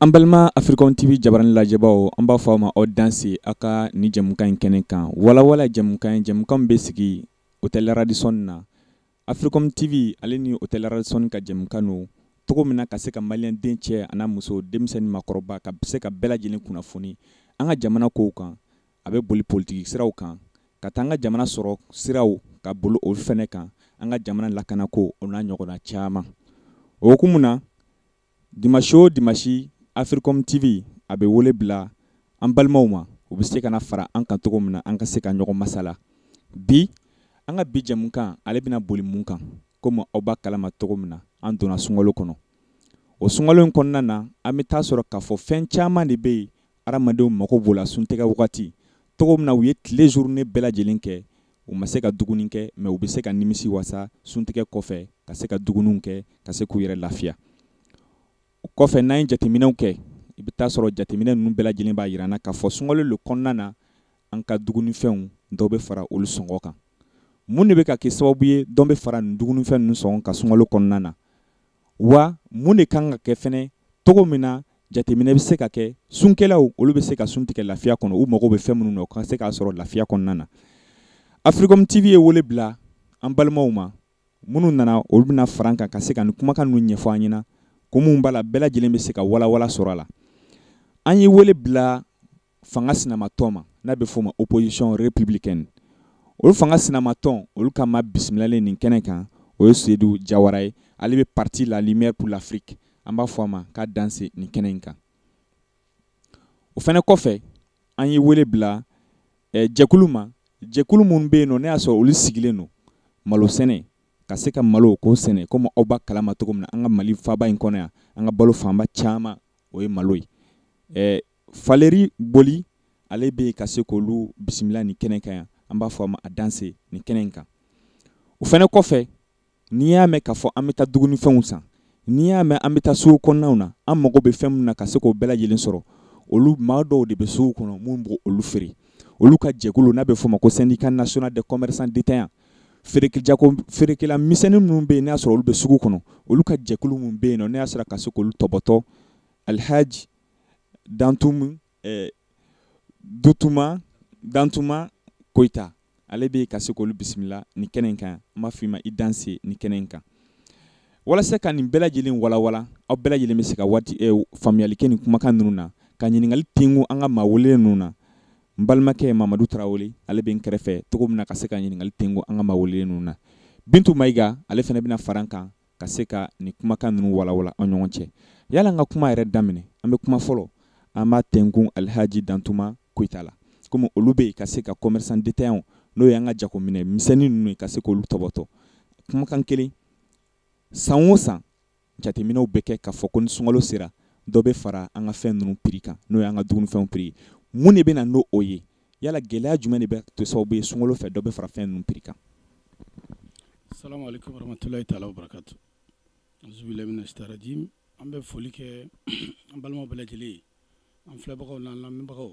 An balima Africom TV jabaranin lajɛbaaw, an b'a fɔ aw ma aw danse aw ka ni jɛmukan in kɛnɛ kan. Walawala jɛmukan ye jɛmukan min bɛ sigi Hotel Radisson na. Africom TV ale ni Hotel Radisson ka jɛmukan don. Cogo min na ka se ka maliyɛn den cɛ an'a muso, denmisɛn ni maakɔrɔba, ka se ka bɛɛ lajɛlen kunnafoni an ka jamana kow kan. A bɛ boli politiki siraw kan, ka taa an ka jamana sɔrɔ siraw ka boli o fɛnɛ kan, an ka jamana lakanako o n'a ɲɔgɔnna caman. O hukumu na, Dimanche o dimanche Africom TV a bɛ wele bila an balimaw ma u bɛ se ka na fara an kan cogo min na an ka se ka ɲɔgɔn masala bi an ka bi jɛmukan ale bɛna boli mun kan komi aw b'a kalama cogo min na an donna sunkalo kɔnɔ o sunkalo in kɔnɔna na an bɛ taa sɔrɔ k'a fɔ fɛn caman de bɛ yen Adamadenw mago b'o la suntɛgɛ wagati cogo min na u ye tile journée bɛɛ lajɛlen kɛ u ma se ka dumuni kɛ mɛ u bɛ se ka nimisi wasa suntɛgɛ kɔfɛ ka se ka dumuniw kɛ ka se k'u yɛrɛ lafiya o kɔfɛ n'an ye jateminɛw kɛ i bɛ taa sɔrɔ jateminɛ ninnu bɛɛ lajɛlen b'a jira an na k'a fɔ sunkalo in kɔnɔna na an ka dumunifɛnw dɔ bɛ fara olu sɔngɔ kan mun de bɛ ka kɛ sababu ye dɔ bɛ fara nin dumunifɛn ninnu sɔngɔ kan sunkalo kɔnɔna na wa mun de kan ka kɛ fɛnɛ cogo min na jateminɛ bɛ se ka kɛ sunkɛlaw olu bɛ se ka sun tigɛ lafiya kɔnɔ u mago bɛ fɛn minnu na u ka se k'a sɔrɔ lafiya kɔnɔna na africom tv ye wele bila an balimaw ma minnu nana olu bɛna fara an kan ka se ka nin kumakan ninnu ɲɛfɔ an ɲɛna ko minnu b'a la bɛɛ lajɛlen bɛ se ka walawala sɔrɔ a la an ye wele bila fanga sinamatɔn ma n'a bɛ f'o ma opposition républicaine olu fanga sinamatɔn olu ka maa bisimilalen nin kɛnɛ kan o ye Sedu Jawara ye ale bɛ parti la lumière pour l'Afrique an b'a fɔ a ma k'a danse nin kɛnɛ in kan o fana kɔfɛ an ye wele bila eh, jɛkulu ma jɛkulu minnu bɛ yen nɔ n'i y'a sɔrɔ olu sigilen don malo sɛnɛ ka se ka malo k'o sɛnɛ komi aw b'a kalama cogo min na an ka mali faaba in kɔnɔ yan an ka balo fanba caman o ye malo ye eh, faliri boli ale bɛ ka se k'olu bisimila ni kɛnɛ kan yan an b'a fɔ a ma a danse ni kɛnɛ in kan o fana kɔfɛ n'i y'a mɛn k'a fɔ an bɛ taa dumunifɛnw san n'i y'a mɛn an bɛ taa suguw kɔnɔnaw na an mago bɛ fɛn min na ka se k'o bɛɛ lajɛlen sɔrɔ olu maa dɔw de bɛ suguw kɔnɔ minnu b'olu feere olu ka jɛkulu n'a bɛ f'o ma ko syndicat national des commerçants détaillants feerekɛko feerekɛla misɛnnin minnu bɛ yen n'a sɔrɔ olu bɛ sugu kɔnɔ olu ka jɛkulu minnu bɛ yen n'a sɔrɔ ka se k'olu tɔpɔtɔ alihaji dantum eh, dutuma dantuma koyita ale bɛ ka se k'olu bisimila ni kɛnɛ in kan n b'a f'i ma i danse ni kɛnɛ in kan walasa ka nin bɛɛ lajɛlen walawala aw bɛɛ lajɛlen bɛ se ka waati eh, faamuyali kɛ nin kumakan ninnu na ka ɲininkali tengu an ka maa welelen ninnu na n balimakɛ mamadu tarawele ale bɛ n kɛrɛfɛ cogo min na ka se ka ɲininkali tengu an ka maa welelen ninnu na bintu mayiga ale fana bɛna fara n kan ka se ka nin kumakan ninnu walawala an ɲɔgɔn cɛ yala n ka kuma yɛrɛ daminɛ an bɛ kuma fɔlɔ an b'a tɛnkun alihaji dantuma koyita la komi olu bɛ yen ka se ka commerçant détaillant n'o y'an ka jagominɛ misɛnnin ninnu ye ka se k'olu tɔbɔtɔ kumakan kelen san o san jateminɛw bɛ kɛ k'a fɔ ko ni sunkalo sera dɔ bɛ fara an ka fɛn ninnu piri kan n'o y'an ka dumunifɛnw piri ye mun de bɛ na n'o ye yala gɛlɛya jumɛn de bɛ to sababu ye sunkalo fɛ dɔ bɛ fara fɛn ninnu piri kan salamu aleykum warahmatulahi taala wabarakatu azubilayi mina sitani rajim an bɛ foli kɛ an balimaw bɛɛ lajɛlen ye an filɛbagaw n'an lamɛnbagaw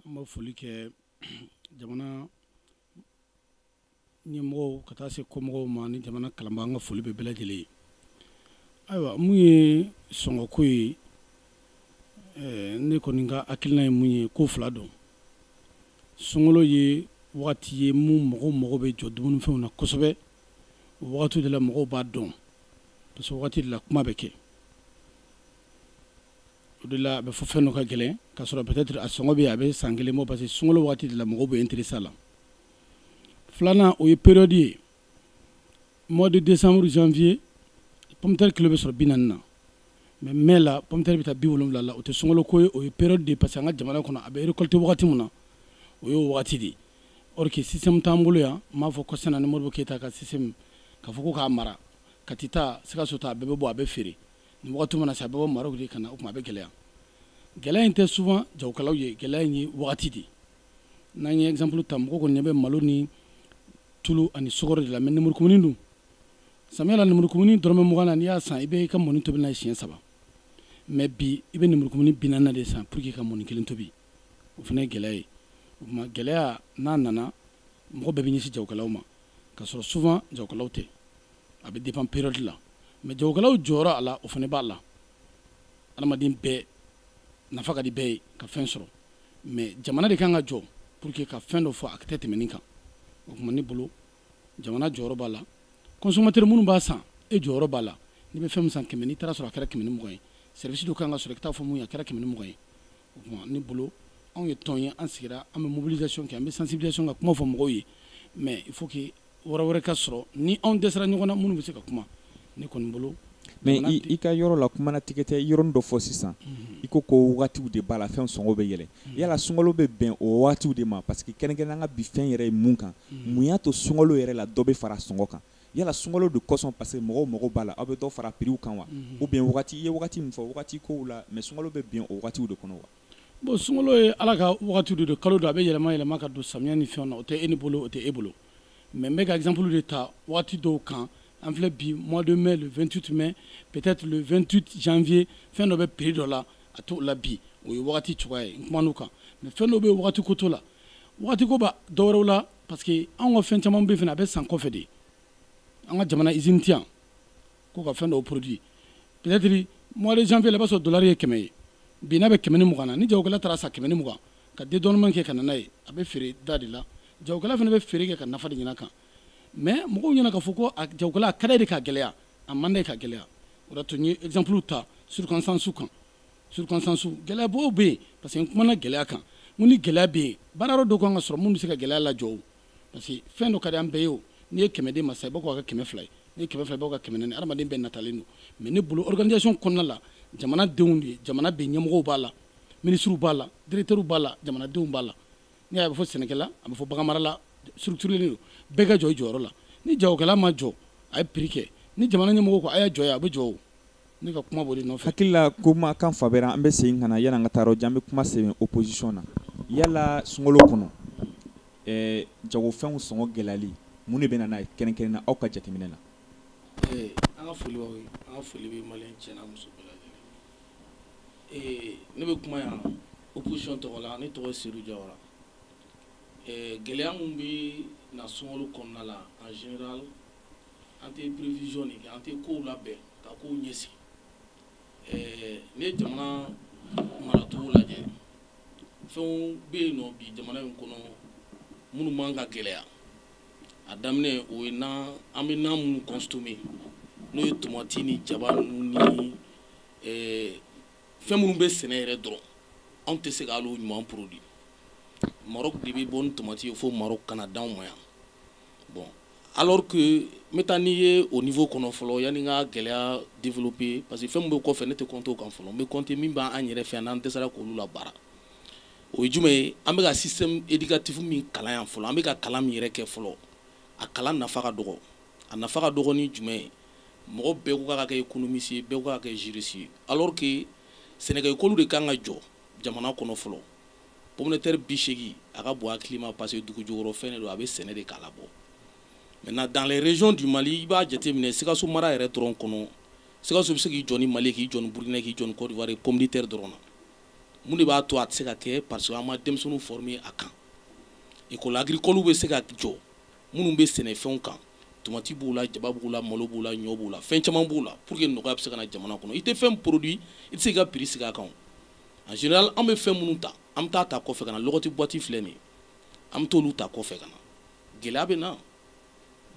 an bɛ foli kɛ jamana ɲɛmɔgɔw ka taa se kɔmɔgɔw ma ni jamana kalanba an ka foli bɛ bɛɛ lajɛlen ye ayiwa min ye sɔngɔko ye eh, ne kɔni ka hakilina ye min ye ko fila don sunkalo ye wagati ye min mɔgɔw mago bɛ jɔ dumunifɛnw na kosɛbɛ o wagati de la mɔgɔw b'a dɔn parce que wagati de la kuma bɛ kɛ o de la a bɛ fɔ fɛn dɔ ka gɛlɛn ka sɔrɔ peut-être a sɔngɔ bɛ a bɛ san kelen bɔ parce que sunkalo wagati de la mɔgɔw bɛ intéresser a la filanan o ye période ye mois de décembre janvier pomme de terre kilo bɛ sɔrɔ bi naani na mais mai la pomme de terre bɛ taa bi wolonwula la o tɛ sunkalo ko ye o ye période de ye parce que an ka jamana kɔnɔ a bɛ récolter wagati min na o y'o wagati de ye or que système t'an bolo yan n b'a fɔ kɔsana ni modibo keyita ka système k'a fɔ ko k'a mara kati ta sikaso ta a bɛɛ bɛ bɔ a bɛ feere nin wagati mana se a bɛ bɔ maroc de ka na o tuma a bɛ gɛlɛya gɛlɛya in tɛ souvent jagokɛlaw ye gɛlɛya in ye wagati de ye n'an ye exemple ta mɔgɔ kɔni ɲɛ bɛ malo ni tulu ani sukɔrɔ de la mais nemurukumuni dun samiya la nemurukumuni dɔrɔmɛ mugan na n'i y'a san i bɛ i ka mɔni tobi n'a ye siɲɛ saba mais bi i bɛ nemurukumuni bi naani de san pour que ka mɔni kelen tobi o fana ye gɛlɛya ye o tuma gɛlɛya n'a nana mɔgɔ bɛɛ bɛ ɲɛsin jagokɛlaw ma ka sɔrɔ souvent jagokɛlaw tɛ a bɛ dépend période la mais jagokɛlaw jɔyɔrɔ a la o fana b'a la adamaden bɛɛ nafa ka di bɛɛ ye ka fɛn sɔrɔ mais jamana de ka kan ka jɔ pour que ka fɛn dɔ fɔ a tɛ tɛmɛ nin kan o tuma ne bolo jamana jɔyɔrɔ b'a la consommateur minnu b'a san e jɔyɔrɔ b'a la n'i bɛ fɛn min san kɛmɛ n'i taara a sɔrɔ a kɛra kɛmɛ ni mugan ye service dɔ ka kan ka sɔrɔ i ka taa fɔ mun ye a kɛra kɛmɛ ni mugan ye o tuma ne bolo anw ye tɔn ye an sigira an bɛ mobilisation kɛ an bɛ sensibilisation ka kuma fɔ mɔgɔw ye mais il faut que yɔrɔ wɛrɛ ka sɔrɔ ni anw dɛsɛra ɲɔgɔn na minnu bɛ se ka kuma ne kɔni bolo mais i ka yɔrɔ la kuma n'a tigɛ tɛ i ye yɔrɔnin dɔ fɔ sisan mhm. i ko ko wagatiw de b'a la fɛn sɔngɔ bɛ yɛlɛ mhm. yala sunkalo bɛ bɛn o wagatiw de ma parce que kɛrɛnkɛrɛn an ka bi fɛn yɛrɛ ye min kan mhm. mun y'a to sunkalo yɛrɛ la dɔ bɛ fara sɔngɔ kan yala sunkalo de kosɔn parce que mɔgɔw mago b'a la aw bɛ dɔ fara a piriw kan wa ou bien wagati i ye wagati min fɔ wagati kow la mais sunkalo bɛ bɛn o wagatiw de kɔnɔ wa bon sunkalo ye ala ka wagati de don kalo don a bɛ yɛlɛma yɛlɛma ka don samiya ni fɛnw na o tɛ e ne bolo o tɛ e bolo mais n bɛ ka exemple de ta wagati dɔw kan an filɛ bi mois de mai le 28 mai peut-être le 28 janvier fɛn dɔ bɛ prix dɔ la a t'o la bi o ye wagati cogoya ye n kumana o kan mais fɛn dɔw bɛ yen wagati ko t'o la wagati ko b'a dɔ wɛrɛw la parce que anw ka fɛn caman bɛ yen fana a bɛ san kɔfɛ de an ka jamana usine tɛ yan k'u ka fɛn dɔw produit peut-être mois de janvier la i b'a sɔrɔ dolari ye kɛmɛ ye bi n'a bɛ kɛmɛ ni mugan na ni jagokɛla taara a san kɛmɛ ni mugan ka dédouanement kɛ ka na n'a ye a bɛ feere da de la jagokɛla fana bɛ feere kɛ ka nafa de ɲini a kan mais mɔgɔw ɲɛna k'a fɔ ko a jagokɛla a ka d'a ye de k'a gɛlɛya a man d'a ye ka gɛlɛya o de y'a to n ye exemple ta circonstance kan circonstance gɛlɛyabaw bɛ yen parce que n kumana gɛlɛya kan n ko ni gɛlɛya bɛ yen baara yɔrɔ dɔw ka kan ka sɔrɔ minnu bɛ se ka gɛlɛya lajɔ parce que fɛn dɔ ka di an bɛɛ ye o n'i ye kɛmɛ d'e ma sa i b'a k'a kɛ kɛmɛ fila ye n'i ye kɛmɛ fila i b'a kɛ kɛmɛ naani adamaden bɛɛ natalen don mais ne bolo organisation kɔnɔna la jamana denw de jamana bɛ ɲɛmɔgɔw b'a la minisiriw b'a la directeurs b'a la jamanadenw b'a la ni a bɛ fɔ sɛnɛkɛla a bɛ fɔ baganmarala structurélen don bɛɛ ka jɔ i jɔyɔrɔ la ni jagokɛla ma jɔ a ye prix kɛ ni jamana ɲɛmɔgɔ ko a y'a jɔ yan a bɛ jɔ o ne ka kuma boli nɔfɛ hakilila ko ma kan fabɛra an bɛ segin ka na yala n ka taa yɔrɔ jan n bɛ kuma sɛbɛn opposition na yala sunkalo kɔnɔ jagofɛnw sɔngɔ gɛlɛyali mun de bɛ na n'a kɛrɛnkɛrɛn na aw ka jateminɛ na an ka foli an ka foli bɛ mali cɛ n'a muso ne bɛ kuma yan opposition tɔgɔ la ne tɔgɔ se jara gɛlɛya minnu bɛ na sunkalo kɔnɔna la en g an tɛ prévision de kɛ an tɛ kow labɛn ka kow ɲɛsigi ɛɛ n'i ye jamana maracogo lajɛ fɛnw bɛ yen nɔ bi jamana in kɔnɔ minnu man ka gɛlɛya a daminɛ o ye nan an bɛ nan minnu consommer n'o ye tomati ni jaba ninnu ni ɛɛ fɛn minnu bɛ sɛnɛ yɛrɛ dɔrɔn anw tɛ se ka hali o ɲuman produit Maroc de bɛ bɔ ni tomati ye fo Maroc ka na d'anw ma yan. bon alors que n bɛ taa n'i ye o niveau kɔnɔ fɔlɔ yanni n ka gɛlɛya développer parce que fɛn min bɛ kɔfɛ ne tɛ compter o kan fɔlɔ n bɛ compter min b'an yɛrɛ fɛ yan n'an dɛsɛra k'olu labaara o ye jumɛn ye an bɛ ka système éducatif min kalan yan fɔlɔ an bɛ ka kalan min yɛrɛ kɛ fɔlɔ a kalan nafa ka dɔgɔ a nafa ka dɔgɔ ni jumɛn ye mɔgɔ bɛɛ ko k'a ka kɛ économiste ye bɛɛ ko k'a ka kɛ juriste ye alors que sɛnɛkɛ école de ka kan ka jɔ jamana kɔnɔ fɔlɔ pomme de terre bɛ segin a ka bon a hakili ma parce que dugu jukɔrɔ fɛn de don a bɛ sɛnɛ de k'a labɔ maintenant dans les régions du mali i b'a jateminɛ sikaso mara yɛrɛ dɔrɔn kɔnɔ sikaso bɛ se k'i jɔ ni mali k'i jɔ ni burukina k'i jɔ ni côte d'ivoire pomme de terre dɔrɔn na mun de b'a to a tɛ se ka kɛ parce que an ma denmisɛnninw former a kan école agricole bɛ se ka jɔ minnu bɛ sɛnɛfɛnw kan tomati b'u la jaba b'u la malo b'u la ɲɔ b'u la fɛn caman b'u la pour que nɔgɔya bɛ se ka na jamana kɔnɔ i tɛ fɛn produit i tɛ se ka prix sigi a kan en général an bɛ fɛn minnu ta an bɛ taa ta kɔfɛ ka na lɔgɔti boîte filɛ nin ye an bɛ t'olu ta kɔfɛ ka na gɛlɛya bɛ na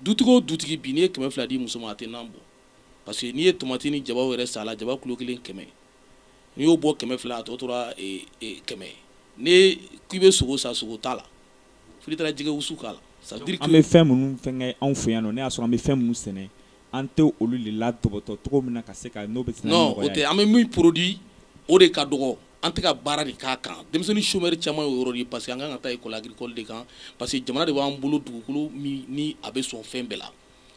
dutigi o dutigi bi n'i ye kɛmɛ fila di muso ma a tɛ nan bɔ parce que n'i ye tomati ni jabaw yɛrɛ san a la jaba kilo kelen kɛmɛ n'i y'o bɔ kɛmɛ fila a tɔ tora eh, eh, kɛmɛ n'i k'i bɛ sogo san sogo t'a la fo n'i taara jɛgɛ wusu k'a la c'est à dire que an bɛ fɛn minnu fɛnkɛ anw fɛ yan nɔ n'i y'a sɔrɔ an bɛ fɛn minnu sɛnɛ an tɛ olu de latɔpɔtɔ cogo min na ka se ka n'o bɛ se n'o o tɛ an bɛ min produit o de ka dɔgɔ an tɛ ka baara de k'a kan denmisɛnnin chômeur caman ye o yɔrɔ de parce que an kan ka taa école agricole de kan parce que jamana de b'an bolo dugukolo ni a bɛ sɔn fɛn bɛɛ la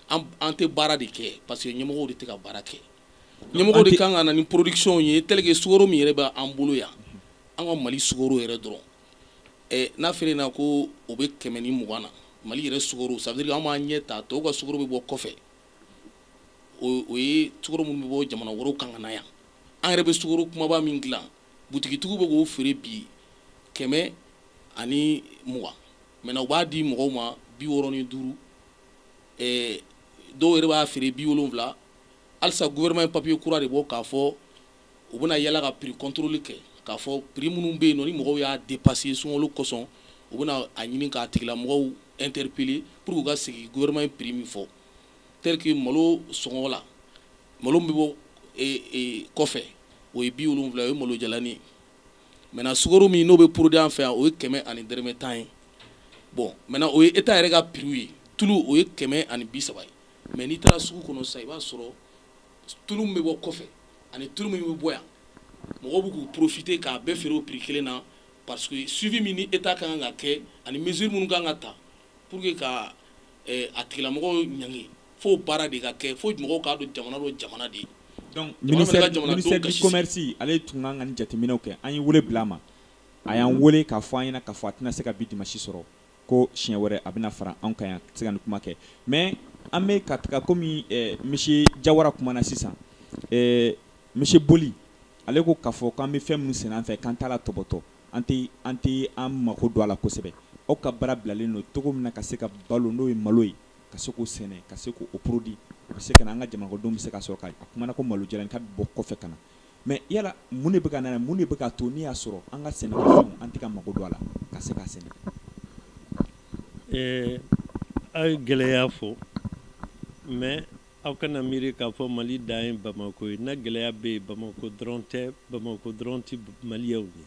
an tɛ baara de kɛ parce que ɲɛmɔgɔ de tɛ ka baara kɛ ɲɛmɔgɔ de kan ka na ni production ye tel que sukoro min yɛrɛ b'an bolo yan an ka mali sukoro yɛrɛ dɔrɔn Eh, n'a feere na ko o bɛ kɛmɛ ni mugan na mali yɛrɛ sukoro ça veut dire an b'a ɲɛ ta tɔw ka sukoro bɛ bɔ kɔfɛ o ye sukoro minnu bɛ bɔ jamana wɛrɛw kan ka na yan an yɛrɛ bɛ sukoro kumaba min dilan butigitigiw bɛ k'o feere bi kɛmɛ ani mugan maintenant u b'a di mɔgɔw ma bi wɔɔrɔ ni duuru eh, dɔw yɛrɛ b'a feere bi wolonwula halisa gouvernement ye papier kura de bɔ k'a fɔ u bɛna yala ka prix contrôle kɛ k'a fɔ prix minnu bɛ yen nɔ ni mɔgɔw y'a dépasser sunkalo kosɔn u bɛna a ɲini k'a tigilamɔgɔw interpeller pour que u ka segin gouvernement ye prix min fɔ tel que malo sɔngɔ la malo min bɛ bɔ e, e, kɔfɛ o ye bi wolonwula o ye malo jalani ye maintenant sukaro min n'o bɛ produit an fɛ yan o ye kɛmɛ ani dɛrɛmɛ tan ye bon maintenant o ye état yɛrɛ ka prix ye tulu o ye kɛmɛ ani bi saba ye mais n'i taara sugu kɔnɔ sisan i b'a sɔrɔ tulu min bɛ bɔ kɔfɛ ani tulu min bɛ bɔ yan mɔgɔw bɛ k'u profiter k'a bɛɛ feere o prix kelen na parce que suivi min ni État ka kan ka kɛ ani mesure minnu ka kan ka ta pour que ka eh, a tigilamɔgɔw ɲangi fo baara de ka kɛ fo mɔgɔw k'a dɔn jamana don jamana de ye donc ministère ministère du commerce ale tun kan ka nin jateminɛw kɛ an ye wele bila a ma a y'an wele k'a fɔ an ɲɛna k'a fɔ a tɛna se ka bi dimanche sɔrɔ ko siɲɛ wɛrɛ a bɛna fara anw kan yan se ka nin kuma kɛ mais an bɛ ka taga comme monsieur jawara kumana sisan monsieur boli ale ko k'a fɔ k'an bɛ fɛn minnu sɛnɛ an fɛ k'an t'a latɔpɔtɔ an tɛ an tɛ an mako don a la kosɛbɛ aw ka baara bilalen don cogo min na ka se ka balo n'o ye malo ye ka se k'o sɛnɛ ka se k'o produit o bɛ se ka an ka jamanako don bɛ se ka sɔrɔ k' a kumana ko malo jalani k'a bɛ bɔ kɔfɛ ka na Mais yala mun de bɛ ka na mun de bɛ ka to n'i y'a sɔrɔ an ka sɛnɛ an tɛ ka mako don a la ka se ka sɛnɛ aw ye gɛlɛya fɔ mais aw kana miiri k'a fɔ mali dan ye bamakɔ ye na gɛlɛya bɛ yen bamakɔ dɔrɔn tɛ bamakɔ dɔrɔn tɛ maliyaw ye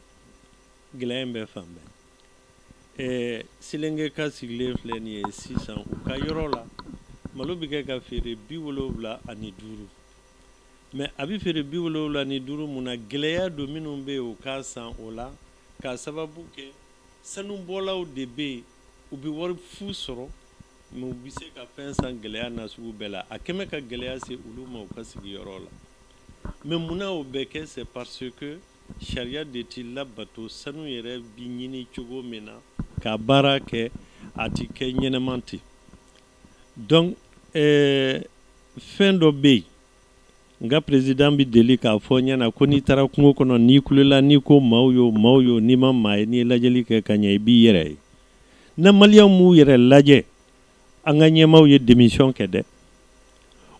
gɛlɛya in bɛ fan bɛɛ selengeka sigilen filɛ nin ye sisan u ka yɔrɔ la malo bɛ kɛ ka feere bi wolonwula ani duuru mɛ a bɛ feere bi wolowula ni duuru mun na gɛlɛya don minnu bɛ yen u k'a san o la k'a sababu kɛ sanubɔlaw de bɛ yen u bɛ wari fu sɔrɔ mɛ u bɛ se ka fɛn san gɛlɛya nasugu bɛɛ la a kɛmɛ ka gɛlɛya se olu ma u ka sigiyɔrɔ la mɛ munna o bɛ kɛ c'est parce que sariya de tɛ labato sanu yɛrɛ bi ɲini cogo min na ka baara kɛ a tɛ kɛ ɲɛnama ten donc eh, fɛn dɔ bɛ yen n ka perezidan bɛ deli k'a fɔ n ɲɛ na ko n'i taara kungo kɔnɔ n'i kulela n'i ko maaw yo maaw yo n'i ma maa ye n'i ye lajɛli kɛ ka ɲɛ i b'i yɛrɛ ye na maliyɛnw m'u yɛrɛ lajɛ an ka ɲɛmaaw ye demisiyɔn kɛ dɛ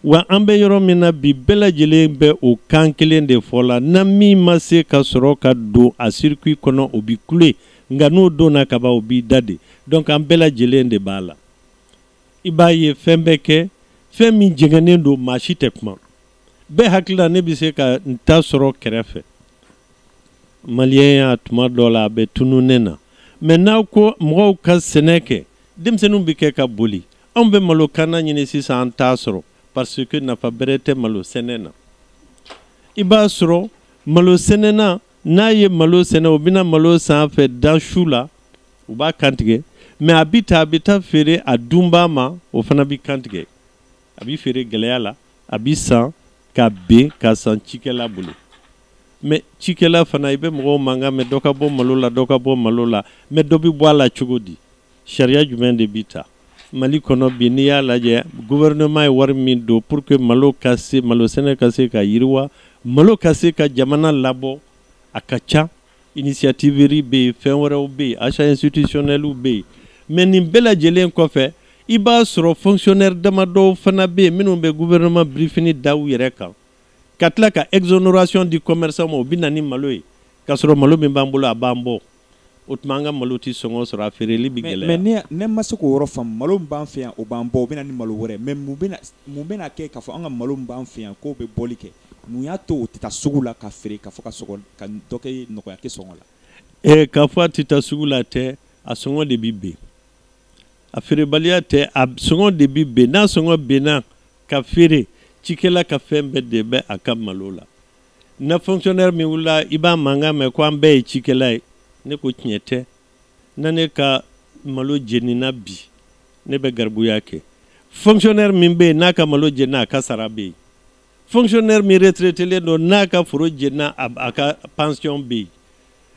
wa an bɛ yɔrɔ min na bi bɛɛ lajɛlen bɛ o kan kelen de fɔ la na min ma se ka sɔrɔ ka don a sirikui kɔnɔ o bi kule nka n'o donna kaban o b'i da de donc an bɛɛ lajɛlen de b'a la i b'a ye fɛn bɛ kɛ fɛn min jɛngɛnnen don maa si tɛ kuma bɛɛ hakili la ne bɛ se ka n ta sɔrɔ kɛrɛfɛ maliyɛnya tuma dɔ la a bɛ tunun ne na mɛ n'aw ko mɔgɔw ka sɛnɛ kɛ denmisɛnninw bɛ kɛ ka boli anw bɛ malokanna ɲini sisan an t'a sɔrɔ parce que nafa bɛrɛ tɛ malo sɛnɛ na i b'a sɔrɔ malo sɛnɛ na n'a ye malo sɛnɛ o bɛna malo san a fɛ da su la u b'a kantigɛ mɛ a bi ta a bɛ taa feere a dunbaa ma o fana bɛ kantigɛ a bɛ feere gɛlɛya la a bɛ san ka ben k'a san cikɛla bolo mɛ cikɛla fana i bɛ mɔgɔw mankan mɛ dɔ ka bɔ malo la dɔ ka bɔ malo la mɛ dɔ bɛ bɔ a la cogo di sariya jumɛn de bi ta mali kɔnɔ bi n'i y'a lajɛ gouvernement ye wari min don pour que malo ka se malo sɛnɛ ka se ka yiriwa malo ka se ka jamana labɔ a ka ca initiative riz bɛ yen fɛn wɛrɛw bɛ yen achats institutionnels bɛ yen mais nin bɛɛ lajɛlen kɔfɛ i b'a sɔrɔ fonctionnaire damadɔw fana bɛ yen minnu bɛ gouvernement birifini da u yɛrɛ kan ka tila ka exonération di commerçant ma o bɛ na ni malo ye k'a sɔrɔ malo min b'an bolo a b'an bɔ o tuma an ka malo tɛ sɔngɔ sɔrɔ a feereli bɛ gɛlɛya mais ne ne ma se k'o yɔrɔ faamu malo min b'an fɛ yan o b'an bɔ o bɛ na ni malo wɛrɛ mais mun bɛna mun bɛna kɛ k'a fɔ an ka malo min b'an fɛ yan k'o bɛ bɔli kɛ mun y'a to o tɛ taa sugu la ka feere ka fɔ ka sɔngɔ ka dɔ kɛ nɔgɔya kɛ sɔngɔ la ee k'a fɔ a tɛ taa sugu la tɛ a sɔngɔ de bɛ ben a feerebaliya tɛ a sɔngɔ de bɛ ben n'a sɔngɔ benna ka feere cikɛla ka fɛn bɛɛ de bɛ a ka malo la na fonctionnaire min wulila i b'a mankan mɛn ko an bɛɛ ye cikɛla ye ne ko tiɲɛ tɛ na ne ka malo jenina bi ne bɛ garibuya kɛ fonctionnaire min bɛ yen n'a ka malo jenina a ka sara bɛ yen fonctionnaire min retraitelen don n'a ka foro jenina a ka pension bɛ yen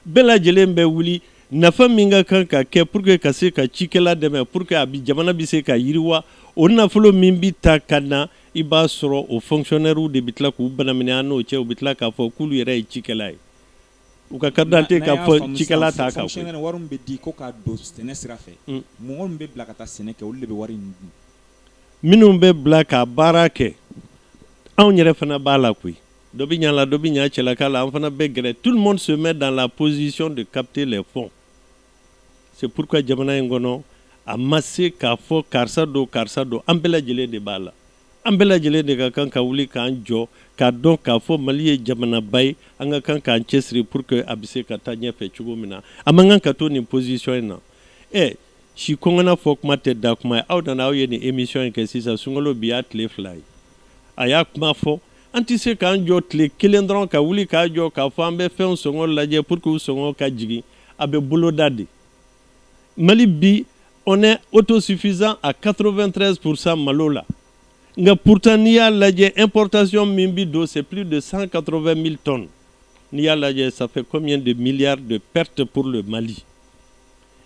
bɛɛ lajɛlen bɛ wuli nafa min ka kan ka kɛ pour que ka se ka cikɛla dɛmɛ pour que a bi jamana bɛ se ka yiriwa o nafolo min bi ta ka na i b'a sɔrɔ o fonctionnaires de bɛ tila k'u banaminɛ an n'o cɛ u bɛ tila k'a fɔ k'olu yɛrɛ ye cikɛla ye u ka carte d'identité k'a fɔ cikɛla t'a kan fonctionnaire wari min bɛ di ko ka don sɛnɛ sira fɛ mm. mɔgɔ min bɛ bila ka taa sɛnɛ kɛ olu de bɛ wari in dun minnu bɛ bila ka baara kɛ anw yɛrɛ fana b'a la koyi dɔ bɛ ɲa la dɔ bɛ ɲa cɛlaka la an fana bɛ gɛrɛ tout le monde se met dans la position de capter les fonds c'est pourquoi jamana in kɔnɔ a ma se k'a fɔ karisa don karisa don an bɛɛ lajɛlen de b'a la an bɛɛ lajɛlen de ka kan ka wuli k'an jɔ k'a dɔn k'a fɔ mali ye jamanaba ye an ka kan k'an cɛsiri pour que a bɛ se ka taa ɲɛfɛ cogo min na a man kan ka to nin position in na ɛ si kɔngɔ na fɔ kuma tɛ da kuma ye aw nana aw ye nin émission in kɛ sisan sunkalo bi y'a tile fila ye a y'a kuma fɔ an tɛ se k'an jɔ tile kelen dɔrɔn ka wuli k'a jɔ k'a fɔ an bɛ fɛnw sɔngɔ lajɛ pour que u sɔngɔ ka jigin a bɛ boloda de mali bi on est autosuffisant à 93 pourcent malo la nka pourtant n'i y'a lajɛ importation min bi don c'est plus de 180 000 tonnes n'i y'a lajɛ ça fait combien de milliards de pertes pour le mali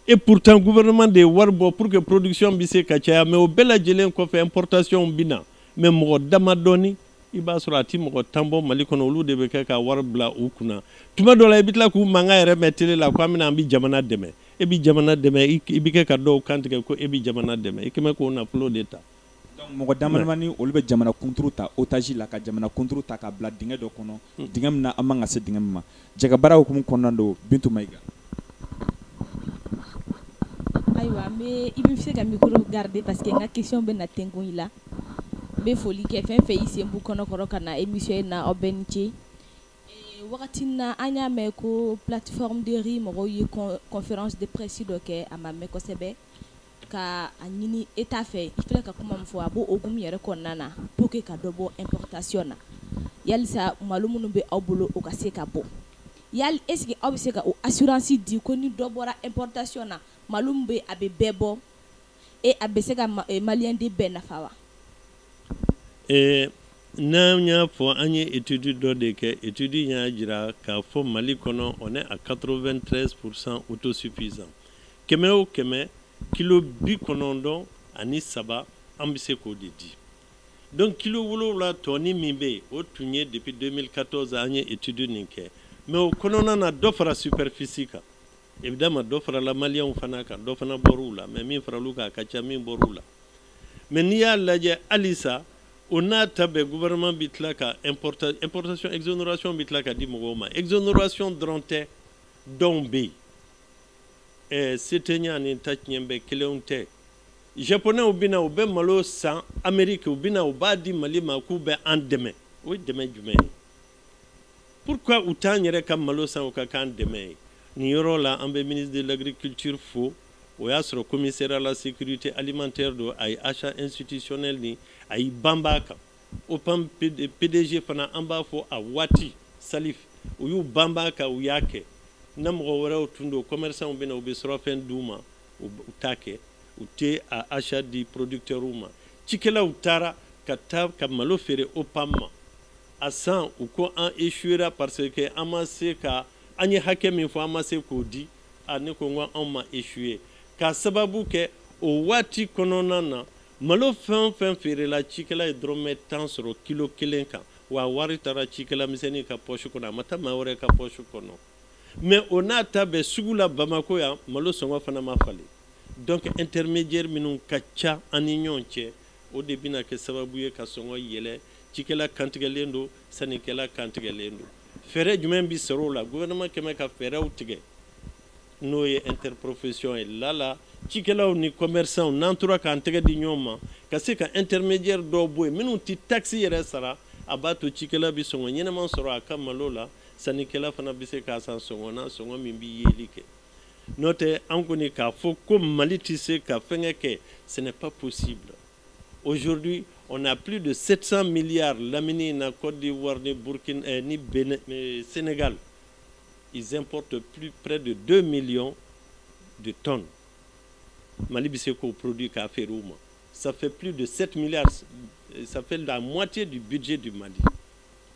et pourtant gouvernement de ye wari bɔ pour que production bɛ se ka caya mais o bɛɛ lajɛlen kɔfɛ importation bɛ na mais mɔgɔ damadɔni i b'a sɔrɔ a ti mɔgɔ tan bɔ mali kɔnɔ olu de bɛ kɛ ka wari bila u kunna tuma dɔ la i bɛ tila k'u mankan yɛrɛ mɛn tele la ko an bɛna an bɛ jamana dɛmɛ e bɛ jamana dɛmɛ i bɛ kɛ ka dɔw kantigɛ ko e bɛ jamana dɛmɛ i kɛlen bɛ k'o nafolo de ta Donc mɔgɔ damadamani olu bɛ jamana kunturu ta otage la ka jamana kunturu ta ka bila dingɛ dɔ kɔnɔ, dingɛ min na an man kan ka se dingɛ min ma jɛkabaara hukumu kɔnɔna na don Bintu Mayiga. Ayiwa n bɛ i bɛ se ka micro garder parce que n ka question bɛ na tengun i la n bɛ foli kɛ fɛn o fɛn y'i sen bɔ ɲɔgɔn kɔrɔ ka na émission in na aw bɛɛ ni ce ɛ wagati min na an y'a mɛn ko plateforme de riz mɔgɔw ye con conférence de presse dɔ kɛ a ma mɛn kosɛbɛ ka a ɲini État fɛ i filɛ ka kuma min fɔ a b'o hukumu yɛrɛ kɔnɔna na pour que ka dɔ bɔ importation na yalisa malo minnu bɛ aw bolo o ka se ka bɔ yali est-ce que aw bɛ se ka o assurance di ko ni dɔ bɔra importation na malo min bɛ a bɛ bɛɛ bɔ et a bɛ se ka maliden bɛɛ nafa wa ee n'an y'a fɔ an ye étude dɔ de kɛ étude y'a jira k'a fɔ mali kɔnɔ on est à 93 pourcent autosuffisant kɛmɛ o kɛmɛ kilo bi kɔnɔntɔn ani saba an bɛ se k'o de di donc kilo wolowula tɔɔni min bɛ yen o tun ye depuis 2014 an ye etudu nin kɛ mɛ o kɔnɔna na dɔ fara superfisi kan évidemment dɔ farala maliyɛnw fana kan dɔ fana bɔr'u la mɛ min faral'u kan a ka ca min bɔr'u la mɛ n'i y'a lajɛ halisa o n'a ta bɛɛ gouvernement bɛ tila ka importation exonération bɛ tila ka di mɔgɔw ma exonération dɔrɔn tɛ dɔnw bɛ yen eh, setenya ani ta tiɲɛ bɛɛ kelenw tɛ japonɛw bɛ na u bɛ malo san ameriki u bɛ na u b'a di mali ma k'u bɛ an dɛmɛ o ye dɛmɛ jumɛn ye pourquoi u t'an yɛrɛ ka malo san u k'a k'an dɛmɛ ye nin yɔrɔ la an bɛ ministre de l'agriculture fo o y'a sɔrɔ commissaire à la sécurité alimentaire don a ye achat institutionnel nin a y'i banba a kan opam pdg fana an b'a fɔ a waati salif u y'u banba a kan u y'a kɛ na mɔgɔ wɛrɛw tun don commerçantw bɛ na u bɛ surɔfɛn d'u ma u t'a kɛ u tɛ a achat di producteurs ma cikɛlaw taara ka taa ka malo feere opam ma a san u ko an échouera parce que an ma se ka an ye hakɛ min fɔ an ma se k'o di a ne ko n ko anw ma échouer k'a sababu kɛ o waati kɔnɔna na Malo fɛn o fɛn feerela cikɛla ye dɔrɔmɛ tan sɔrɔ kilo kelen kan wa wari taara cikɛla misɛnnin ka pɔsi kɔnɔ a ma taa maa wɛrɛ ka pɔsi kɔnɔ mɛ o n'a ta bɛɛ sugu la bamakɔ yan malo sɔngɔ fana ma falen donc intermediaire minnu ka ca an ni ɲɔgɔn cɛ o de bɛna kɛ sababu ye ka sɔngɔ yɛlɛ cikɛla kantigɛlen don sannikɛla kantigɛlen don fɛɛrɛ jumɛn bɛ sɔrɔ o la gouvernement quand même ka fɛɛrɛw tigɛ n'o ye interprofesiyɔn ye lala cikɛlaw ni kɔmɛrisanw n'an tora k'an tɛgɛ di ɲɔgɔn ma ka se ka intermediaire dɔw bɔ yen minnu tɛ taxe yɛrɛ sara a b'a to cikɛla bɛ sɔngɔ ɲɛnɛma sɔrɔ a ka malo la sannikɛla fana bɛ se k'a san sɔngɔ na sɔngɔ min bɛ yeli kɛ n'o tɛ an kɔni k'a fɔ ko mali tɛ se ka fɛngɛ kɛ ce n'est pas possible aujourd'hui on a plus de 700 milliards lamini in na Côte d'Ivoire ni Burkina eh, ni Benin, eh, Sénégal ils importent plus près de 2 millions de tonnes Mali bɛ se k'o produit k'a feere u ma ça fait plus de 7 milliards ça fait la moitié du budget du Mali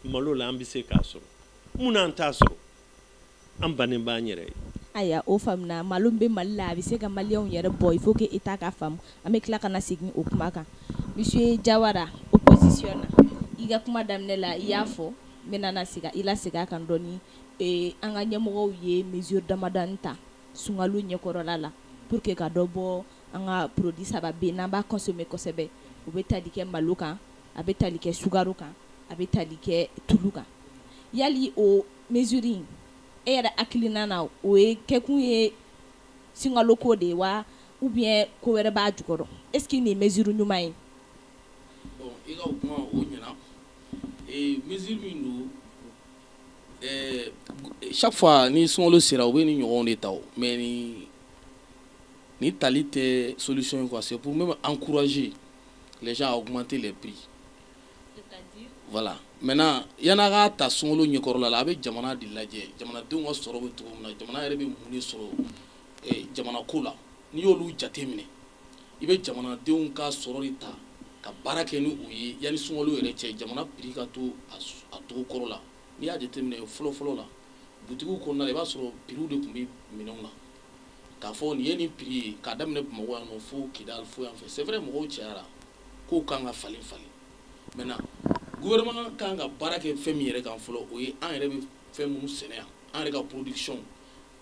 malo la an bɛ se k'a sɔrɔ mun na an t'a sɔrɔ an bannen b'an yɛrɛ ye. Ayiwa o faamuna malo min bɛ Mali la a bɛ se ka maliyɛnw yɛrɛ bɔ il faut que État k'a faamu an bɛ tila ka na segin o kuma kan monsieur Jawara opposition na i ka kuma daminɛ la i y'a fɔ n bɛna sigi i la segin a kan dɔɔni ee an ka ɲɛmɔgɔw ye mesure damadɔni ta sunkalo ɲɛkɔrɔla la pour que ka dɔ bɔ an ka produit saba bɛ yen n'an b'a consommer kosɛbɛ o bɛ tali kɛ malo kan a bɛ tali kɛ sukaro kan a bɛ tali kɛ tulu kan yali o mesure in e yɛrɛ hakilinan na o ye kɛkun ye sunkalo ko de ye wa ou bien ko wɛrɛ b'a jukɔrɔ est ce que nin ye mesure ɲuman ye Safa ni sun sera u bɛ ni ɲɔgɔn de ta mɛ ni ni tali tɛ sosi in se p bɛ an kuraze o kuma tɛ bi wala mɛ yan ka ta sun ɲɛkɔrɔla la a bɛ jamana de lajɛ jamanadenw ka sɔrɔ bɛ cogo min na jamana yɛrɛ bɛ mun sɔrɔ jamana ko la n'i y'olu jate minɛ i bɛ jamanadenw ka sɔrɔ de ta ka baara kɛ ni u ye yanni sunkalo yɛrɛ cɛ jamana prix ka to a cogo kɔrɔ la n'i y'a jateminɛ fɔlɔfɔlɔ la butigiw kɔnɔna i b'a sɔrɔ prix de tun bɛ minɛnw na k'a fɔ nin ye nin prix ye k'a daminɛ Bamakɔ yan nɔ fo Kidal fo yan fɛ c'est vrai mɔgɔw cayara kow kan ka falen falen maintenant gouvernement kan ka baara kɛ fɛn min yɛrɛ kan fɔlɔ o ye an yɛrɛ bɛ fɛn minnu sɛnɛ yan an yɛrɛ ka production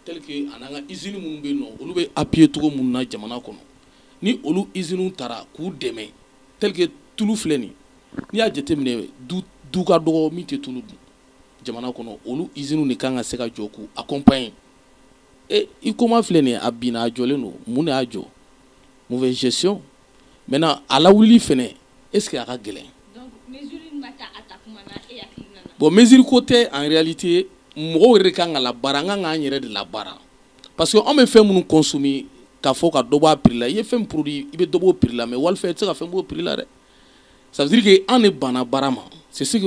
tel que an an ka usine minnu bɛ yen nɔ olu bɛ appuyer cogo minnu na jamana kɔnɔ ni olu usines tara k'u dɛmɛ tel que tulu filɛ nin n'i y'a jateminɛ du du ka dɔgɔ min tɛ tulu dun jamana kɔnɔ olu usines de kan ka se ka jɔ k'u accompagner HUICOMA filɛ nin ye a binna a jɔlen don mun de y'a jɔ mauvaise gestion mɛ ala wuli fana e a ka gɛlɛn bɔn misiri ko tɛ an yɛrɛlite mɔgɔw yɛrɛ ka kan ka la baara an ka k'an yɛrɛ de la baara parce que anw bɛ fɛn minnu kɔsmi ka fɔ ka dɔbɔ pla i ye fɛn pdi i bɛ dɔbɔ pla mɛ wali i tɛ se ka fɛn b'o pla dɛ sabike an de banna baara ma si di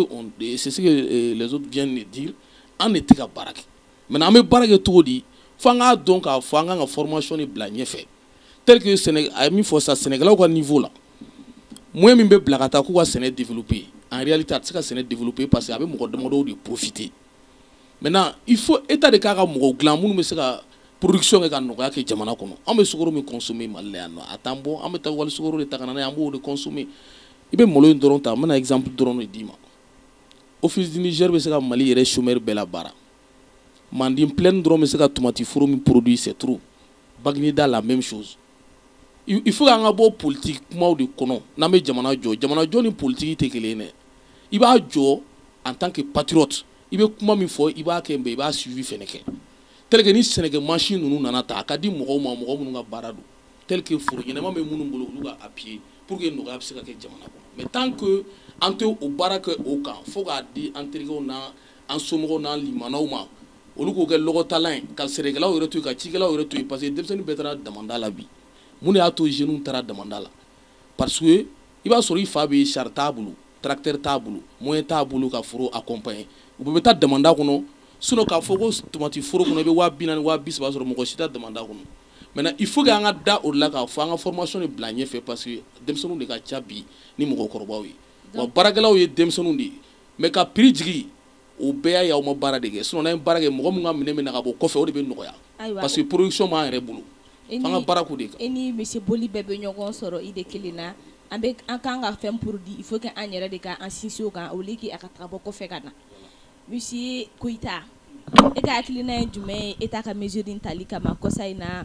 an de tɛ ka baara kɛ mɛ an bɛ baara kɛ cogo di fo an k'a dɔn k'a fɔ an ka kan ka fmasoni bila ɲɛfɛ tel que Sénégal a min fɔ sa Sénégalais ka niveau la moyen min bɛ bila ka taa k'u ka sɛnɛ développer en réalité a tɛ se ka sɛnɛ développer parce que a bɛ mɔgɔ damadɔw de profiter maintenant il faut état de k'a ka mɔgɔw dilan minnu bɛ se ka production kɛ ka nɔgɔya kɛ jamana kɔnɔ an bɛ sukaro min consommer Mali la yan nɔ a t'an bɔ an bɛ taa wali sukaro de ta ka na n'a ye an b'o de consommer i bɛ malo in dɔrɔn ta n bɛna exemple dɔrɔn de d'i ma office du Niger bɛ se ka Mali yɛrɛ chômeur bɛɛ la baara manden plaine dɔrɔn bɛ se ka tomati foro min produit c'est trop bagineda la même chose il faut k'an ka bɔ politiki kumaw de kɔnɔ n'an bɛ jamana jɔ jamana jɔ ni politiki tɛ kelen ye i b'a jɔ en tant que patriote i bɛ kuma min fɔ i b'a kɛ mais i b'a suivi fɛnɛ kɛ tel que ni sɛnɛkɛ mansin ninnu nana taa k'a di mɔgɔw ma mɔgɔ minnu ka baara don tel que foro ɲɛnama bɛ minnu bolo olu ka appuyer pour que nɔgɔya bɛ se ka kɛ jamana kɔnɔ mais tant que an tɛ o baara kɛ o kan fo k'a di an terikɛw na an somɔgɔw n'an limanaw ma olu k'o kɛ lɔgɔtalan ye ka sɛnɛkɛlaw yɛrɛ to yen ka cikɛlaw yɛrɛ to yen parce que denmisɛnnin bɛɛ taara damanda la bi mun de y'a to jeunes taara damanda la parce que i b'a sɔrɔ i fa bɛ sari t'a bolo tracteur t'a bolo moyen t'a bolo ka foro accompagner u bɛɛ bɛ taa damanda kɔnɔ sinon k'a fɔ ko tomati foro kɔnɔ i bɛ waa bi naani waa bi saba sɔrɔ mɔgɔ si tɛ taa damanda kɔnɔ maintenant il faut que an ka da o de la k'a fɔ an ka formation de bila ɲɛfɛ parce que denmisɛnninw de ka ca bi ni mɔgɔkɔrɔbaw ye wa baarakɛlaw ye denmisɛnninw de ye mais ka prix jigi o bɛɛ y'a ye aw ma baara de kɛ sinon n'an ye baara kɛ mɔgɔ min ka minɛn bɛ na ka bɔ kɔfɛ o de bɛ nɔgɔya parce que production b'an yɛrɛ bolo f'an ka baara k'u de kan e ni misi boli bɛɛ bɛ ɲɔgɔn sɔrɔ i de kelen na an bɛ an kan ka fɛn produit il faut que an yɛrɛ de ka an sinsin o kan au lieu que a ka taa bɔ kɔfɛ ka na monsieur koyita e ka hakilina ye jumɛn ye État ka mesure in tali kama kɔsa in na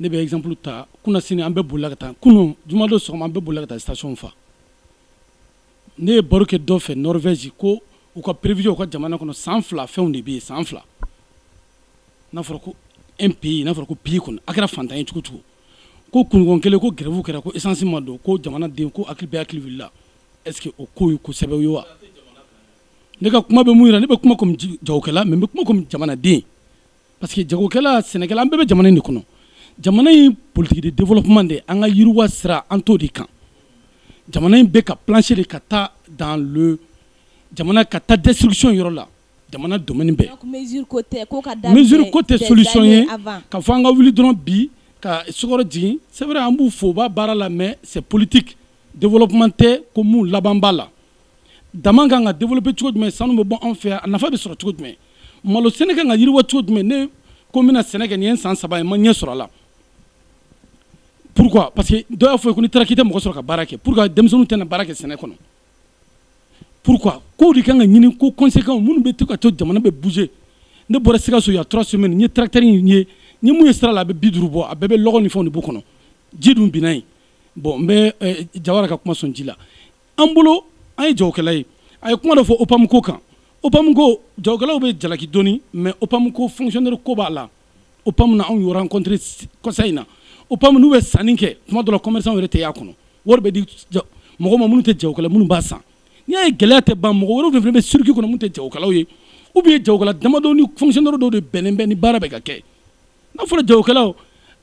ne bɛ exemple ta kunnasini an bɛɛ bolila ka taa kunun juma don sɔgɔma an bɛɛ bolila ka taa station fa ne ye baro kɛ dɔ fɛ Norvège ko u ka prévision u ka jamana kɔnɔ san fila fɛnw de bɛ yen san fila n'a fɔra ko un pays n'a fɔra ko pays kɔnɔ a kɛra fantan ye cogo o cogo ko kunɲɔgɔn kelen ko grève kɛra ko essence ma don ko jamanaden ko hakili bɛɛ hakili wulila est ce que o ko ye ko sɛbɛw ye wa ne ka kuma bɛ mun yira ne bɛ kuma comme jagokɛla mais n bɛ kuma comme jamanaden parce que jagokɛla sɛnɛkɛla an bɛɛ bɛ jamana in de kɔnɔ jamana in politiki de développement de an ka yiriwa sira an t'o de kan jamana in bɛ ka plonger de ka taa dans le jamana ka taa destruction yɔrɔ la jamana domaine bɛɛ mesure ko tɛ ko ka daminɛ mesure ko tɛ solution ye k'a fɔ an ka wuli dɔrɔn bi ka sukɔrɔ jigin c'est vrai an b'u fo u bɛ baara la mais c'est politique développement tɛ ko mun laban b'a la daman kan ka développer cogo jumɛn sanu bɛ bɔ an fɛ yan a nafa bɛ sɔrɔ cogo jumɛn malo sɛnɛ kan ka yiriwa cogo jumɛn ne ko n bɛna sɛnɛ kɛ nin ye san saba ye n ma ɲɛ sɔrɔ a la pourquoi parce que dɔ y'a fɔ ko n'i taara k'i tɛ mɔgɔ sɔrɔ ka baara kɛ pourquoi denmisɛnninw tɛna baara kɛ sɛnɛ kɔnɔ pourquoi kow de kan ka ɲini ko conséquences minnu bɛ to ka to jamana bɛ bouger ne bɔra Sikaso y a trois semaines n ye tracteur in ye n ye min ye sira la a bɛ bi duuru bɔ a bɛɛ bɛ lɔgɔ ni fɛnw de b'u kɔnɔ ji dun binna yen bon n bɛ eh, Jawara ka kuma sɔn ji la an bolo an ye jagokɛla ye a ye kuma dɔ fɔ opamu ko kan opamu ko jagokɛlaw bɛ jalaki dɔɔni mais opamu ko fonctionnaire ko b'a la opamu na anw y'o rencontré kɔsa in na opamu n'u bɛ sanni kɛ tuma dɔ la commerçant yɛrɛ tɛ y'a kɔnɔ wari bɛ di mɔgɔw ma minnu tɛ jagokɛla minnu b'a san n'i y'a ye gɛlɛya tɛ ban mɔgɔ wɛrɛw de fana bɛ circuit kɔnɔ minnu tɛ jagokɛlaw ye ou bien jagokɛla damadɔ ni fonctionnaire dɔw de bɛnnen bɛ ni baara bɛ ka kɛ n'a fɔra jagokɛlaw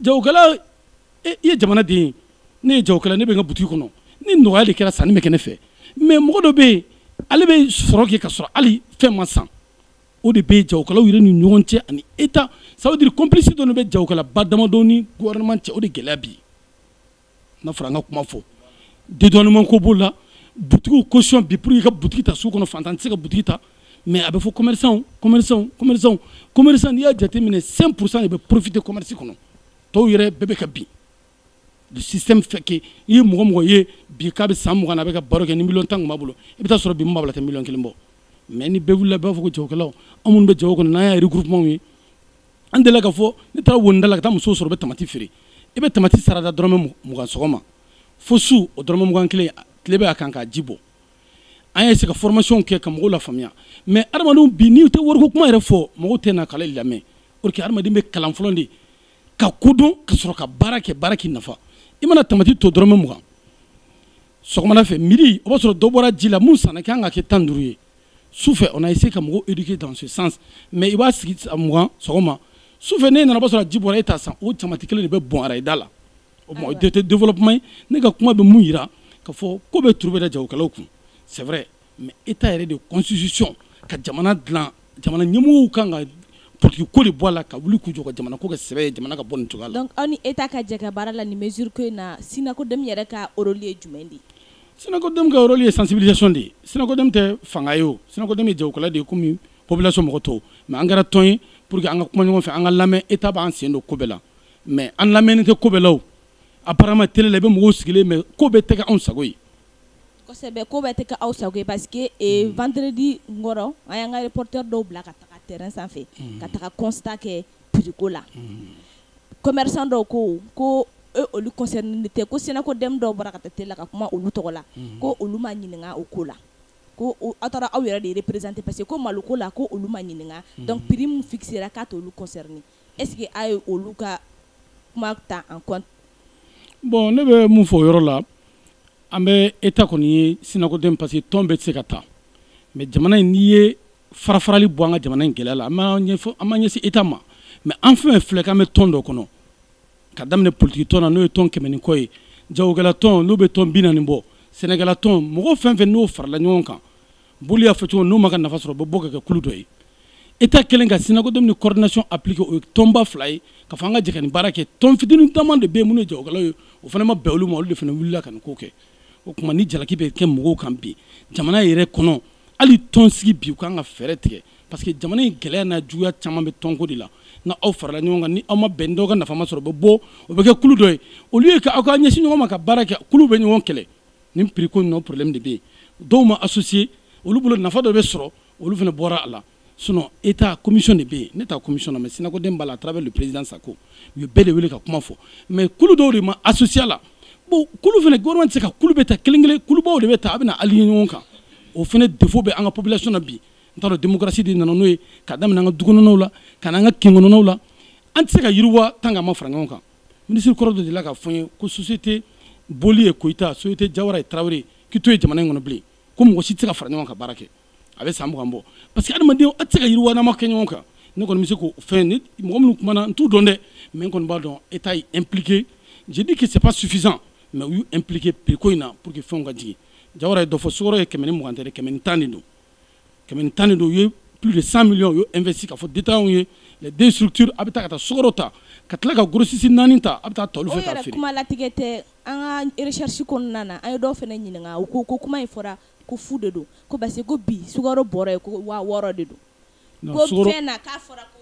jagokɛla i ye jamana den ye ne ye jagokɛla ne bɛ n ka butigi kɔnɔ ni nɔgɔya de kɛra sanni bɛ kɛ ne fɛ mais mɔgɔ dɔ bɛ yen ale bɛ sɔrɔ kɛ ka sɔrɔ hali fɛn ma san o de bɛ jagokɛlaw yɛrɛ ni ɲɔgɔn cɛ ani Etat ça veut dire complicité dɔ bɛ jagokɛla ba damadɔ ni gouvernement cɛ o de gɛlɛya bi n'a fɔra an ka kuma fɔ dédouanement ko b'o la butigiw ko bi pour i ka butigi ta sugu kɔnɔ faantan tɛ se ka butigi ta mais a bɛ fɔ commerçant commerçant commerçant commerçant n'i y'a jateminɛ cinq pour cent de bɛ profiter commerce kɔnɔ tɔw yɛrɛ bɛɛ bɛ ka bin le système fait que i ye mɔgɔ mɔgɔ ye bi k'a bɛ san mugan na a bɛ ka baara kɛ ni miliyɔn tan tun b'a bolo i bɛ taa sɔrɔ bi min b'a bolo a tɛ miliyɔn kelen bɔ mais ni bɛɛ wulila bɛɛ b'a fɔ ko jagokɛlaw an minnu bɛ jago kɔnɔ n'an y'a regroupement ye an delila ka fɔ ne taara Wɔnida la ka taa musow sɔrɔ bɛ tamati feere i bɛ tamati sara da dɔrɔmɛ mugan sɔgɔma fo su o dɔrɔmɛ mugan kelen tile bɛ a kan k'a ji bɔ an ye se ka formation kɛ ka mɔgɔw lafaamuya mais adamadenw bi n'i tɛ wariko kuma yɛrɛ fɔ mɔgɔw tɛna kalan lamɛn or que adamaden bɛ kalan fɔlɔ de ka ko dɔn ka sɔrɔ ka baara kɛ baara k'i nafa i mana tamati to dɔrɔmɛ mugan sɔgɔmada fɛ midi o b'a sɔrɔ dɔ bɔra ji la mun sanna kan ka kɛ tan duuru ye su fɛ on a essayé ka mɔgɔw éduquer dans ce sens mais i b'a sigi mugan sɔgɔma su fɛ n'e nana o b'a sɔrɔ ji bɔra e t'a san o tamati kelen de bɛ bɔn arayida la o tuma o tɛ tɛ développement ye ne ka kuma bɛ mun jira ka fɔ ko bɛɛ turu bɛ da jagokɛlaw kun c'est vrai mais Etat yɛrɛ de constitution ka jamana dilan jamana ɲɛmɔgɔw kan ka politique ko de bɔ a la ka wuli k'u jɔ ka jamana ko kɛ sɛbɛ ye jamana ka bɔ nin cogoya la donc aw ni Etat ka jɛ ka baara la nin mesure ko in na SYNACODEM yɛrɛ ka rôle ye jumɛn de ye. SYNACODEM ka rôle ye sensibilisation de ye SYNACODEM tɛ fanga ye o SYNACODEM ye jagokɛla de ye komi population mɔgɔ tɔw mais an kɛra tɔn ye pour que an ka kuma ɲɔgɔn fɛ an ka lamɛn Etat b'an sen don ko bɛɛ la mais an lamɛnnen tɛ ko bɛɛ la o apparemment tele la i bɛ mɔgɔw sigilen mais ko bɛɛ tɛ kɛ anw sago ye kosɛbɛ ko bɛɛ tɛ kɛ aw sago ye parce que eh, mm. vendredi nkɔrɔ an y'an ka reporter dɔw bila ka taga terrain sanfɛ mm. ka taga constat kɛ prix ko la mm. commerçant dɔw ko ko e olu concernénen tɛ ko SYNACODEM dɔw bɔra ka taa tele la ka kuma olu tɔgɔ la mm. ko olu ma ɲininka o ko la ko aw taara aw yɛrɛ de représenter parce que ko malo ko la ko olu ma ɲininka mm. donc prix min fixera k'a t'olu concerné est ce que a ye olu ka kuma ta en compte bon ne bɛ min fɔ o yɔrɔ la an bɛ État kɔni ye SYNACODEM parce que tɔn bɛɛ tɛ se ka ta mais jamana in n'i ye farafarali bɔ an ka jamana in gɛlɛya la an ma ɲɛfɔ an ma ɲɛsin État ma mais an fɛn fɛn filɛ k'an bɛ tɔn dɔ kɔnɔ ka daminɛ politiki tɔn na n'o ye tɔn kɛmɛ ni kɔ ye jagokɛla tɔn n'o bɛ tɔn bi naani bɔ sɛnɛkɛla tɔn mɔgɔ fɛn fɛn n'o farala ɲɔgɔn kan Boli y'a fɔ cogo n'u m'u ka nafa sɔrɔ bɛ bɔ ka kɛ kulu dɔ ye Etat kɛlen ka SYNACODEM ni coordination impliquer o ye tɔnba fila ye k'a fɔ an ka jɛ ka nin baara kɛ tɔn fitini caman de bɛ yen minnu ye jagokɛlaw ye o fana ma bɛn olu ma olu de fana wulila ka nin ko kɛ o tuma ni jalaki bɛ kɛ mɔgɔw kan bi jamana yɛrɛ kɔnɔ hali tɔn sigi bi u ka kan ka fɛɛrɛ tigɛ parce que jamana in gɛlɛya n'a juguya caman bɛ tɔnko de la n'aw farala ɲɔgɔn kan ni aw ma bɛn dɔ ka nafa ma sɔrɔ o bɛ bɔ o bɛ kɛ kulu dɔ ye au lieu ka aw ka ɲɛsin ɲɔgɔn ma ka baara kɛ kuluw bɛ ɲɔgɔn kɛlɛ nin prix ko nɔ problème de bɛ yen dɔw ma associer olu bolo nafa dɔ bɛ sɔrɔ olu fana bɔra a la sinon état commission de bɛ yen ne t'a commission na mais SYNACODEM b'a la à travers le président Sako u ye bɛɛ de wele ka kuma fɔ mais kulu dɔw de ma associer a la bon kulu fana gouvernement tɛ se ka kulu bɛɛ ta kelen kelen kulubaw de bɛ ta a bɛna aligner ɲɔgɔn kan o fana défaut bɛ an ka population na bi n t'a dɔn démocratie de nana n'o ye ka daminɛ an ka dukɔnɔnaw la ka na an ka kinkɔnɔnaw la an tɛ se ka yiriwa tant que an ma fara ɲɔgɔn kan minisiri kɔrɔ dɔ delila k'a fɔ n ye ko société boli et koyita société jawara et tarawele k'i t'o ye jamana in kɔnɔ bilen ko mɔgɔ si tɛ se ka fara ɲɔgɔn ka baara kɛ a bɛ san mugan bɔ parce que adamaden a tɛ se ka yiriwa n'a ma kɛ ɲɔgɔn kan ne kɔni bɛ se k'o fɛn ni mɔgɔ minnu kumana n t'u dɔn dɛ mais n kɔni b'a dɔn état y'u impliqué je dis que c'est pas suffisant mais u y'u impliqué prix ko in na pour que fɛnw ka jigin jawara ye dɔ fɔ sukaro ye kɛmɛ ni mugan tɛ dɛ kɛmɛ ni tan de don kɛmɛ ni tan de don u ye plus de 100 millions u y'o investi k'a fɔ détaillants ye les deux structures a bɛ taa ka taa sukaro ta ka tila ka grossiste naani ta a bɛ ta olu fɛ k'a feere. kuma latigɛ tɛ an ka recherche kɔnɔna na an ye dɔw fana ɲininka u ko ko kuma in fɔra ko fu de don ko parce que ko bi sukaro bɔrɔ ye ko waa wɔɔrɔ de don ko fɛn na k'a fɔra ko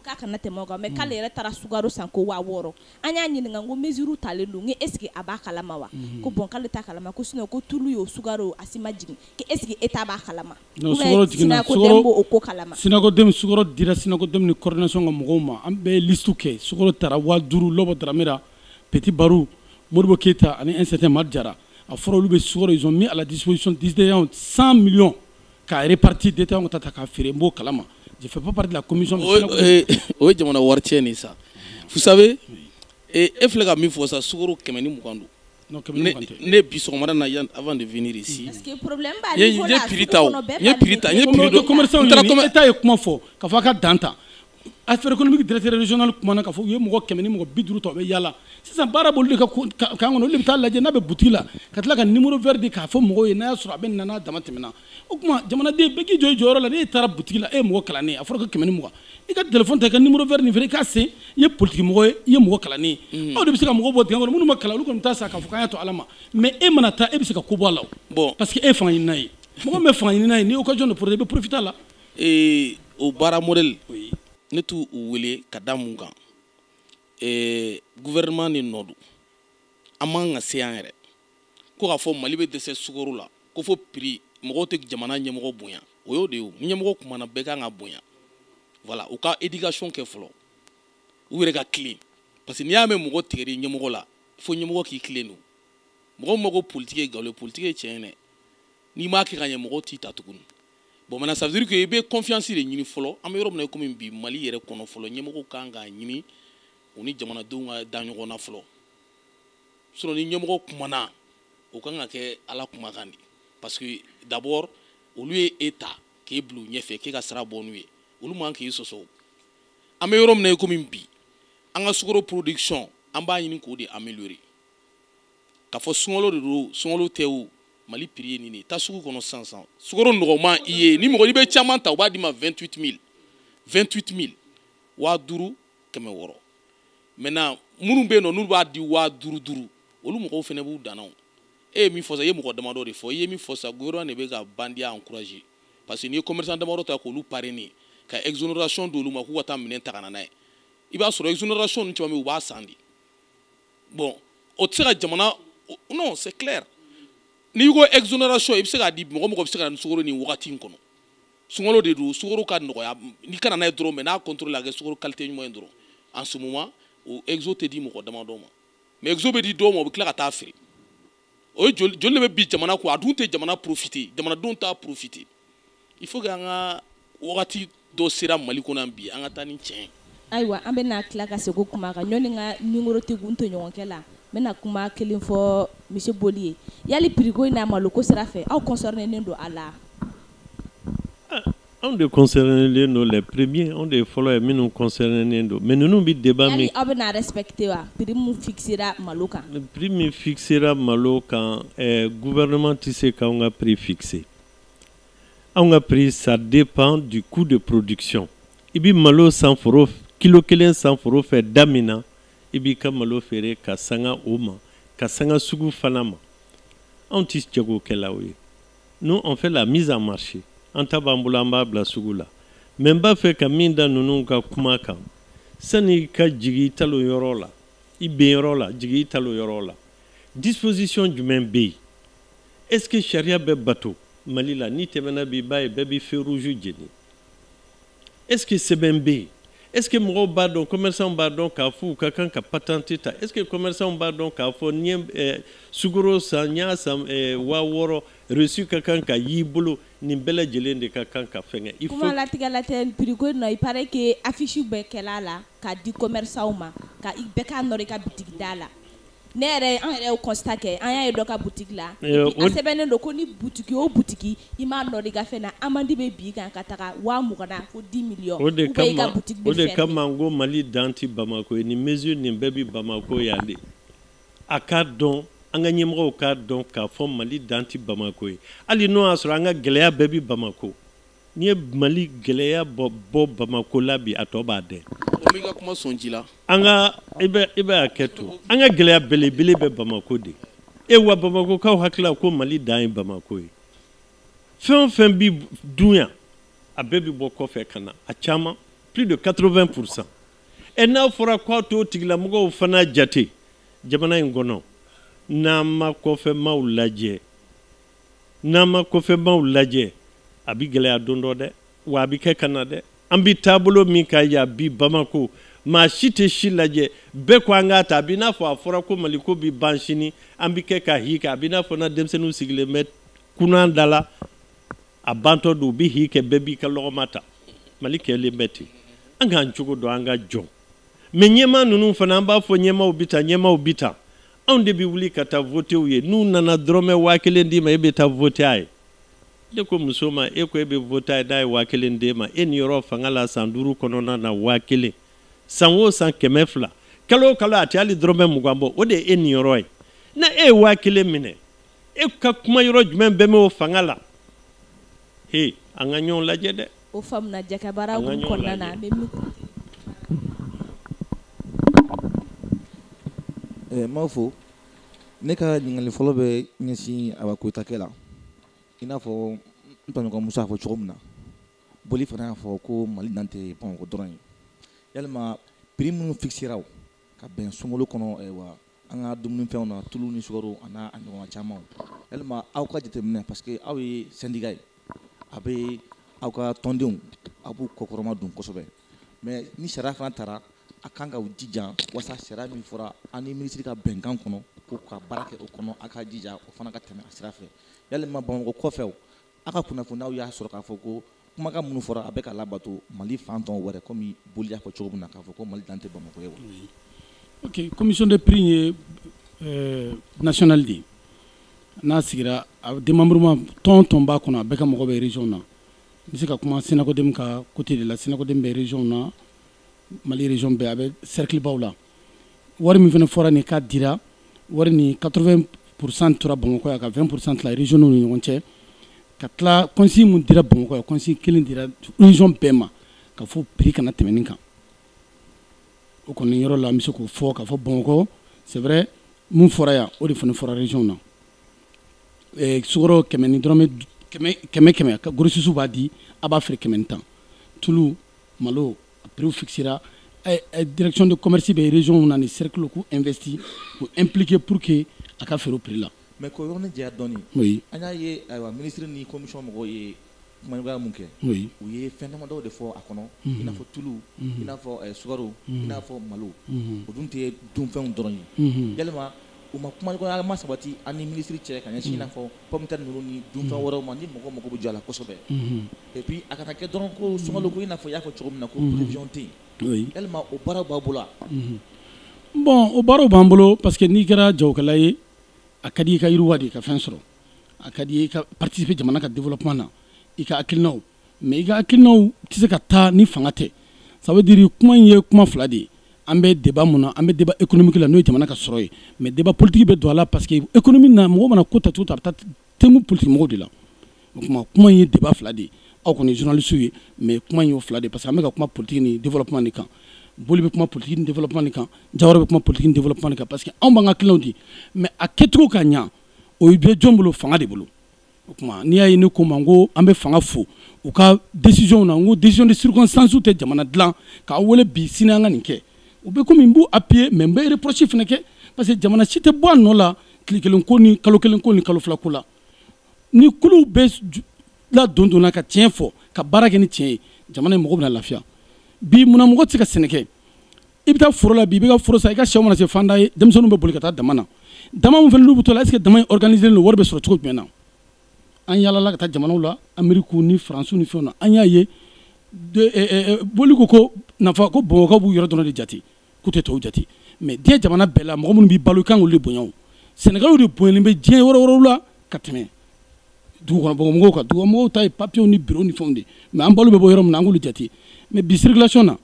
k'a kana tɛmɛ o kan mais k'ale yɛrɛ taara sukaro san ko waa wɔɔrɔ an y'a ɲininka ko mesure talen don ko est ce que a b'a kalama wa mhm. ko bon k'ale t'a kalama ko sinon ko tulu yo sukaro o a si ma jigin ko est ce que État b'a kalama ou bien SYNACODEM b'o ko kalama SYNACODEM sukaro dira SYNACODEM ni coordination ka mɔgɔw ma an bɛɛ ye liste kɛ sukaro tara waa duuru lɔbɔ daramera petit baru modibo keyita ani un certain mari jara a fɔra olu bɛ sukaro ils ont mis à la disposition des détaillants 100 millions Ka répartir détaillants ko taa ta ka feere n b'o kalama je fais pas partie de la commission mais sira ko bɛ yen. o ye jamana wari tiɲɛ de ye sa vous savez e e filɛ ka min fɔ sa sukaro kɛmɛ ni mugan don Non, kɛmɛ ni ne mugan tɛ. ne bi sɔgɔmada na yan avant de venir ici Parce que problème b'a n ye niveau n ye la, prix sugu ta o kɔnɔ bɛɛ n ye prix ta n ye pari de prix don don. Commerçant n taara ɲini, commer- État ye kuma fɔ, k'a fɔ a ka dan ta. affaire économique directeur régional kumana k'a fɔ u ye mɔgɔ kɛmɛ ni mɔgɔ bi duuru ta u bɛ yaala sisan baara b'olu de ka kan kɔnɔ olu de bɛ taa a lajɛ n'a bɛ butigi la ka tila ka numéro vert di k'a fɔ mɔgɔw ye n'a y'a sɔrɔ a bɛ na n'a dama tɛmɛna o tuma jamanaden bɛɛ k'i jɔ i jɔyɔrɔ la n'e taara butigi la e ye mɔgɔ kalannen a fɔra ko kɛmɛ ni mugan i ka telefɔni ta i ka numéro vert nin wele i k'a sen i ye politiki mɔgɔ ye i ye mɔgɔ kalannen ye aw de bɛ se ka mɔgɔ bɔ dingɛ kɔnɔ minnu ma kalan olu kɔni bɛ taa sa k'a fɔ k'an y'a to ala ma mais e mana taa e bɛ se ka ko bɔ a la o parce que e ye fanga ɲinina ye mɔgɔ min bɛ fanga ɲinina ye n'i y'o ka jɔn de porote i bɛ profiter a la ee o baara modèle oui. ne t'u u wele ka da mun kan ee gouvernement ni nɔ don a man ka se yan yɛrɛ ko k'a fɔ mali bɛ dɛsɛ sukoro la ko fo prix mɔgɔw tɛ jamana ɲɛmɔgɔ bonya o y'o de ye o ni ɲɛmɔgɔ kumana bɛɛ kan k'a bonya voilà u ka éducation kɛ fɔlɔ u yɛrɛ ka tilen parce que n'i y'a mɛn mɔgɔ tigɛr'i ɲɛmɔgɔ la fo ɲɛmɔgɔ k'i tilen don mɔgɔ min ma ko politiki ye nkalon ye politiki ye tiɲɛ ye dɛ n'i m'a kɛ ka ɲɛ mɔgɔw t'i ta tuguni bon maintenant ça veut dire que i bɛ confiance de ɲini fɔlɔ an bɛ yɔrɔ min na i komi bi mali yɛrɛ kɔnɔ fɔlɔ ɲɛmɔgɔw kan k'a ɲini u ni jamanadenw ka da ɲɔgɔn na fɔlɔ sinon ni ɲɛmɔgɔ kumana o kan ka kɛ ala kumakan de parce que d'abord olu ye e ta k'e bila u ɲɛfɛ k'e ka sira bɔ n'u ye olu man k'i sɔsɔ an bɛ yɔrɔ min na i komi bi an ka sukoro production an b'a ɲini k'o de améliorer k'a fɔ sunkalo de don sunkalo tɛ o mali prix ye nin ye taa sugu kɔnɔ sisan sisan sukaro nɔgɔman i ye ni mɔgɔ n'i bɛ caman ta u b'a d'i ma 28 000 28 000 waa duuru kɛmɛ wɔɔrɔ maintenant minnu bɛ yen nɔ n'olu b'a di waa duuru duuru olu mɔgɔw fana b'u dan na o e ye min fɔ sa i ye mɔgɔ damadɔ de fɔ i ye min fɔ sa gouvernement de bɛ ka bandiya encourager parce que n'i ye commerçant damadɔ ta k'olu parrainer ka exonération d'olu ma k'u ka taa minɛn ta ka na n'a ye i b'a sɔrɔ exonération ninnu caman bɛ yen u b'a san de bon o tɛ se ka jamana non c'est clair n'i ko exonération i bɛ se k'a di mɔgɔ o mɔgɔ bɛ se ka na ni sukoro nin wagati in kɔnɔ sunkalo de don sukoro ka nɔgɔya n'i ka na n'a ye dɔrɔn mais n'a contrôlela a kɛ sukoro qualité ɲuman ye dɔrɔn en ce moment o exo tɛ di mɔgɔ damadɔ ma mais exo bɛ di dɔ ma o bɛ tila ka taa a feere o ye joli joli de bɛ bin jamana kɔ a dun tɛ jamana profiter jamanadenw t'a profiter il faut que an ka wagati dɔ sera mali kɔnɔ yan bi an ka taa ni tiɲɛ ayiwa an bɛna tila ka segin kuma kan ɲɔni nka nimoro tɛ kun to ɲɔgɔnkɛ la n bɛna kuma kelen fɔ monsieur boli ye yali prix ko in n'a malo ko sira fɛ aw concernen don a la anw de concernen don les premiers anw de ye fɔlɔ ye minnu concernen don mais ninnu bɛ débat min aw bɛn'a respecter wa prix min fixera malo kan prix min fixera malo kan eh, gouvernement tɛ se k'anw ka prix fixer anw ka prix ça dépend du coût de production i bɛ malo san foro kilo kelen san foro fɛ da min na i b'i ka malo feere ka sanga o ma ka sanga sugu fana ma anw tɛ jagokɛlaw ye nous on fait la mise en marché an ta b'an bolo an b'a bila sugu la mais n b'a fɛ ka min da ninnu ka kuma kan sani ka jigi i talo yɔrɔ la i ben yɔrɔ la jigi i talo yɔrɔ la disposition jumɛn bɛ yen est ce que sariya bɛ bato mali la n'i tɛmɛna bi i b'a ye bɛɛ bɛ feu rouge jeni est-ce que sɛbɛn bɛ yen est ce que mɔgɔw b'a dɔn commerçant b'a dɔn k'a fɔ u ka kan ka patente ta est ce que commerçant b'a dɔn k'a fɔ n ye eh, sukoro san n y'a san eh, waa wɔɔrɔ reçu ka kan ka y'i bolo nin bɛɛ lajɛlen de ka kan ka fɛngɛ il faut kuma latigɛ la tɛ prix ko in nɔ il paraît que affiche bɛɛ kɛl'a la ka di commerçantw ma ko bɛɛ k'a nɔrɔ i ka bitigi da la ne yɛrɛ an yɛrɛ constat kɛ an y'a ye dɔ ka butigi la a sɛbɛnnen don ko ni butigi o butigi i m'a nɔrɔ i ka fɛn na amende bɛ bin i kan ka taga waa mugan na fo dix millions o de o de kama n ko mali dan tɛ bamakɔ ye ni mesure nin bɛɛ bɛ bamakɔ yan de a k'a dɔn an ka ɲɛmɔgɔw k'a dɔn k'a fɔ mali dan tɛ bamakɔ ye hali n'o y'a sɔrɔ an ka gɛlɛya bɛɛ bɛ bamakɔ N'i ye Mali gɛlɛya bɔ bɔ Bamako la bi a tɔ b'a dɛn. Bon n b'i ka kuma sɔn ji la. An ka i bɛ i bɛ hakɛ to. An ka gɛlɛya belebele bɛ Bamako de. E wa Bamakokaw hakili la ko Mali dan ye Bamako ye. Fɛn o fɛn bi dun yan a bɛɛ bi bɔ kɔfɛ ka na a caman plus de 80 pour 100. Ɛ n'a fɔra k'an t'o tigilamɔgɔw fana jate jamana in kɔnɔ n'an ma kɔfɛmaaw lajɛ n'an ma kɔfɛmaaw lajɛ a bi gɛlɛya don dɔ dɛ wa a bi kɛ ka na dɛ an bi taabolo min kan yan bi bamako maa si tɛ si lajɛ bɛɛ ko an k'a ta a b'i n'a fɔ a fɔra ko mali ko bi ban sini an bi kɛ ka hi kɛ a b'i n'a fɔ na denmisɛnninw sigilen bɛ kunan da la a bantɔ don u bi hi kɛ bɛɛ b'i ka lɔgɔma ta mali kɛlen bɛ ten an k'an cogo dɔn an ka jɔn mɛn ɲɛmaa ninnu fana an b'a fɔ ɲɛmaaw bi tan ɲɛmaaw bi tan anw de bɛ wuli ka taa vote u ye n'u nana dɔrɔmɛ waa kelen d'i ma e bɛ taa vote a ye ne ko muso ma e ko e bɛ vote a ye n'a ye waa kelen d'e ma e niyɔrɔ fanga la san duuru kɔnɔna na waa kelen san o san kɛmɛ fila kalo o kalo a tɛ hali dɔrɔmɛ mugan bɔ o de ye e niyɔrɔ ye na e ye waa kelen minɛ e ka kuma yɔrɔ jumɛn bɛɛ bɛ o fanga la he an ka ɲɔgɔn lajɛ dɛ O faamuya jakabara kɔnɔna na n b'a fɔ ne ka ɲininkali fɔlɔ bɛ ɲɛsin awa koyitakɛ la i n'a fɔ n tɔɲɔgɔn musa y'a fɔ cogo min na boli fana y'a fɔ ko mali dan tɛ bamakɔ dɔrɔn ye yalima prix minnu fixéra aw ka bɛn suguw kɔnɔ wa an ka dumunifɛnw na tulu ni sukaro a n'a ɲɔgɔnna caman yalima aw ka jateminɛ parce que aw ye syndicat ye a bɛ aw ka tɔndenw a b'u kɔkɔrɔmadon kosɛbɛ mais ni sariya fana tara a kan k'aw jija walasa sariya min fɔra an ni minisiri ka bɛnkan kɔnɔ ko ka baara kɛ o kɔnɔ a ka jija o fana ka tɛmɛ a sira fɛ yalima bamakɔ kɔfɛ a ka kunnafoni aw y'a sɔrɔ k'a fɔ ko kumakan minnu fɔra a bɛ ka labato mali fan tɔw wɛrɛ kɔmi boli y'a fɔ cogo min na k'a fɔ ko mali dan tɛ bamakɔ ye wa ok commission de prix ye national de ye n'a sigira denmauruuma tɔn tɔnba kɔnɔ a bɛ ka mɔgɔ bɛ rez na n bɛ se ka kuma sinakoden ka kute de la sinakoden bɛ rez na mali rez bɛɛ a bɛ seritibaw la wari min fana fɔra nin ka dira wari ni kato psan tora bamakɔ yan ka fɛn psan tila rezw ni ɲɔgɔn cɛ ka tila kɔnsi min dira bamakɔ kɔnsi kelen dira rez bɛɛ ma ka fɔ p kana tɛmɛn kan o kɔni yɔrɔ la bɛ se k'o fɔ k'a fɔ bamakɔ sɛɛrɛ min fɔra yan o de fana fɔrarez na sumaworo kɛmɛ ni dɔrɔnmɛ kɛmɛ kɛmɛ ka gosisusu b'a di a b'a fɛ kɛmɛ tan tulu malo pere fisira dɛrɛcon de comsi bɛ rez na ni serikuluku nfɛti ko n ppkike pur que a ka feere perela mɛ ko yɔrɔ dɔn an'a ye ayiwa minisiri ni kɔmi mɔgɔw ye kumaɲɔgɔnya min kɛ u ye fɛn damadɔw de fɔ a kɔnɔ i n'a fɔ tulu i n'a fɔ sukaro i n'a fɔ malo o dun tɛ dunfɛnw dɔrɔn ye yalima u ma kuma ma sabati an ni minisiri cɛ ka ɲɛsin i n'a fɔ pomme de terre ninnu ni dunfɛn wɛrɛw ma ni mɔgɔ mako bɛ jɔ a la kosɛbɛ epi a kana kɛ dɔrɔn ko sunkalo ko i n'a fɔ i y'a fɔ cogo min na ko prévision tɛ yen yalima o baara b'aw bolo bon o baara b'an bolo parce que n'i kɛra jagokɛla ye a ka di i ka yiriwa de i ka fɛn sɔrɔ a ka di i ka participer jamana ka développement na i ka hakilinaw mais i ka hakilinaw tɛ se ka taa ni fanga tɛ ça veut dire kuma in ye kuma fila de ye an bɛ débat min na an bɛ débat économique la n'o ye jamana ka sɔrɔ ye mais débat politique bɛ don a la parce que économie na mɔgɔ mana ko ta cogo ta a bɛ taa tɛmɛ politique mɔgɔw de la o tuma kuma in ye débat fila de ye aw kɔni journaliste ye mais kuma in y'o fila de ye parce que an bɛ ka kuma politique ni développement de kan boli bɛ kuma politique ni développement de kan jawara bɛ kuma politique ni développement de kan parce que anw b'an ka hakilinaw di mais a kɛcogo ka ɲa o bɛ jɔn bolo fanga de bolo o tuma n'i y'a ye ne kuma n ko an bɛ fanga fo u ka décisionw na n ko décision de circonstancew tɛ jamana dilan k'an wele bi sini an ka nin kɛ o bɛ kɔmi n b'u appuyer mais n bɛ reproche fana kɛ parce que jamana si tɛ bɔ nɔgɔ la tile kelen ko ni kalo kelen ko ni kalo fila ko la ni kulu bɛ la don donna ka tiɲɛ fɔ ka baara kɛ ni tiɲɛ ye jamana in mɔgɔ bɛ na lafiya bi munna mɔgɔ tɛ se ka sɛnɛ i bɛ taa foro la bi i bɛ ka foro sa i ka suman mana se fanda ye denmisɛnninw bɛ boli ka taa daman na daman min fana n'u bɛ t'o la est-ce que daman in organisé don wari bɛ sɔrɔ cogo jumɛn na an yaalala ka taa jamanaw la ameriku ni faransiw ni fɛnw na an y'a ye eh, eh, eh, boli ko ko n'a fɔ ko bamakɔkaw b'u yɔrɔ dɔrɔn de jate k'u tɛ tɔw jate mais diɲɛ jamana bɛɛ la mɔgɔ minnu b'i balo i kan k'olu de bonya o sɛnɛkɛlaw de bonyalen bɛ diɲɛ yɔrɔ wɛrɛw la ka tɛmɛ dugukɔnɔmɔgɔw kan dugukɔnɔmɔgɔw ta ye papiyew ni biro ni fɛnw de mais an balo bɛ bɔ yɔrɔ min na an k'olu jate mais bi circulation na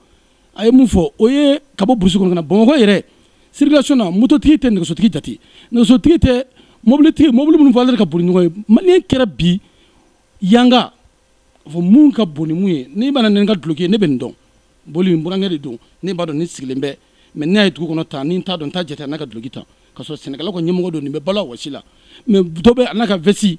a ye mun fɔ o ye ka bɔ burusi kɔnɔ ka na bamakɔ yɛrɛ circulation na mototigi tɛ nɛgɛsotigi jate nɛgɛsotigi tɛ mobilitigi mobili minnu fana ka bon ni ɲɔgɔn ye maliyɛn kɛra bi yanga fɔ mun ka bon ni mun ye n'i mana ne ka duloki ye ne bɛ nin dɔn boli n burankɛ de don ne b'a dɔn ne sigilen bɛ mais ne ye dugu kɔnɔ tan ni n t'a dɔn n t'a jate n'a ka duloki tan ka sɔrɔ sɛnɛkɛla ka ɲɛmɔgɔ don nin bɛ balo wɔsi la mais dɔ bɛ a n'a ka vɛsi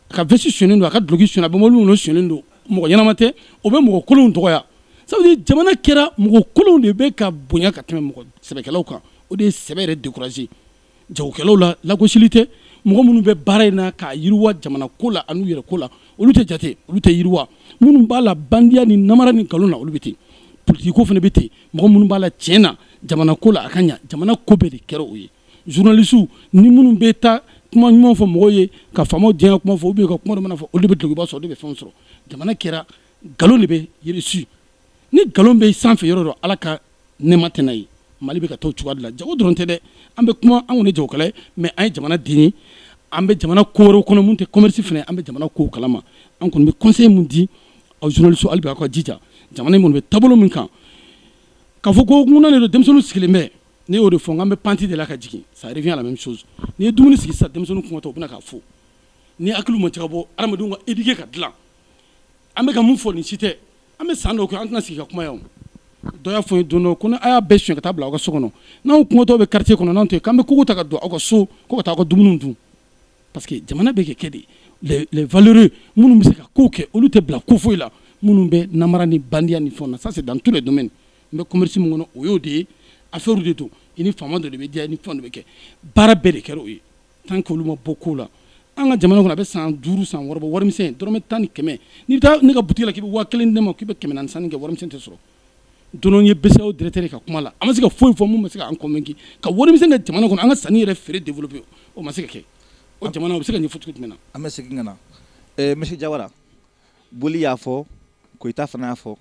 a ka vɛsi suɲɛlen don a ka duloki suɲɛlen a bɛ mɔbili min n'o suɲɛlen don mɔgɔ ɲɛnama tɛ o bɛ mɔgɔ kolonw dɔgɔya ça veut dire jamana kɛra mɔgɔ kolonw de bɛ ka bonya ka tɛmɛ mɔgɔ sɛbɛkɛlaw kan o de ye sɛbɛ yɛrɛ décourager jagokɛlaw la lagosili tɛ mɔgɔ minnu bɛ baara in na k'a yiriwa jamana ko la an'u yɛrɛ ko la olu tɛ jate olu tɛ yiriwa minnu b'a la bandiya ni namara ni nkalon na olu bɛ ten politiki ko fana bɛ ten mɔgɔ minnu b'a la tiɲɛ na jamana ko la a ka ɲa jamana ko bɛɛ de kɛra o ye journaliste ni minnu bɛ taa kuma ɲuman fɔ mɔgɔw ye ka faamaw diyanye kuma fɔ ou bien ka kuma duman fɔ olu de bɛ dulokiba sɔrɔ olu de bɛ fɛnw sɔrɔ jamana kɛra nkalon de bɛ réussir ni nkalon bɛ sanfɛ yɔrɔ dɔ ala ka nɛɛma tɛ na yen mali bɛ ka taa cogoya de la jago dɔrɔn tɛ dɛ an bɛ kuma an kɔni jagokɛla ye mais an ye jamana den ye an bɛ jamana ko wɛrɛw kɔnɔ min tɛ commerce fana an bɛ jamana kow kalama an kɔni bɛ conseil min di aw journaliste hali bi aw ka jija jamana in kɔni bɛ taabolo min kan k'a fɔ ko ŋuna de don denmisɛnninw sigilen bɛ ne y'o de fɔ an bɛ pente de la ka jigin ça revient à la même chose n'i ye dumuni sigi sisan denmisɛnninw kɔngɔtɔ u bɛna k'a fo ni hakiliw ma cɛ bɔ adamadenw ka éduquer ka dilan an bɛ ka mun fɔ nin si tɛ an bɛ san dɔw kɛ an tɛna sigi ka kuma yan dɔ y'a fɔ n ye don dɔ ko a y'a bɛɛ suɲɛ ka taa bila aw ka so kɔnɔ n'anw kɔngɔtɔ bɛ quartier kɔnɔ n'anw tɛ k'an bɛ kogo ta ka don aw ka so ko ka taa aw ka dumuniw dun parce que jamana bɛ ka kɛ de les les valeureux minnu bɛ se ka kow kɛ olu tɛ bila ko foyi la minnu bɛ namara ni bandiya ni fɛnw na ça c'est dans tous les domaines n bɛ commerce min kɔnɔ o y'o de ye affaire de don i ni faama dɔ de bɛ diya i ni fɛn dɔ bɛ kɛ baara bɛɛ de kɛra o ye tant que olu ma bɔ ko la an ka jamana kɔnɔ a bɛ san duuru san wɔɔrɔ bɔ warimisɛn dɔrɔmɛ tan ni kɛmɛ n'i bɛ taa ne ka butigi la k'i bɛ waa kelen di ne ma k'i bɛ kɛmɛ naani sanni kɛ warimisɛn tɛ sɔrɔ don ye BCEAO directeur ka kuma la a ma se ka foyi fɔ min ma se ka an convaincu ka warimisɛn kɛ jamana kɔnɔ an ka sanni ni feere développer o ma se ka kɛ o jamana o bɛ se ka ɲɛfɔ cogo jumɛn na an bɛ segin ka na eh, monsieur Jawara Boli y'a fɔ Koyita fana y'a fɔ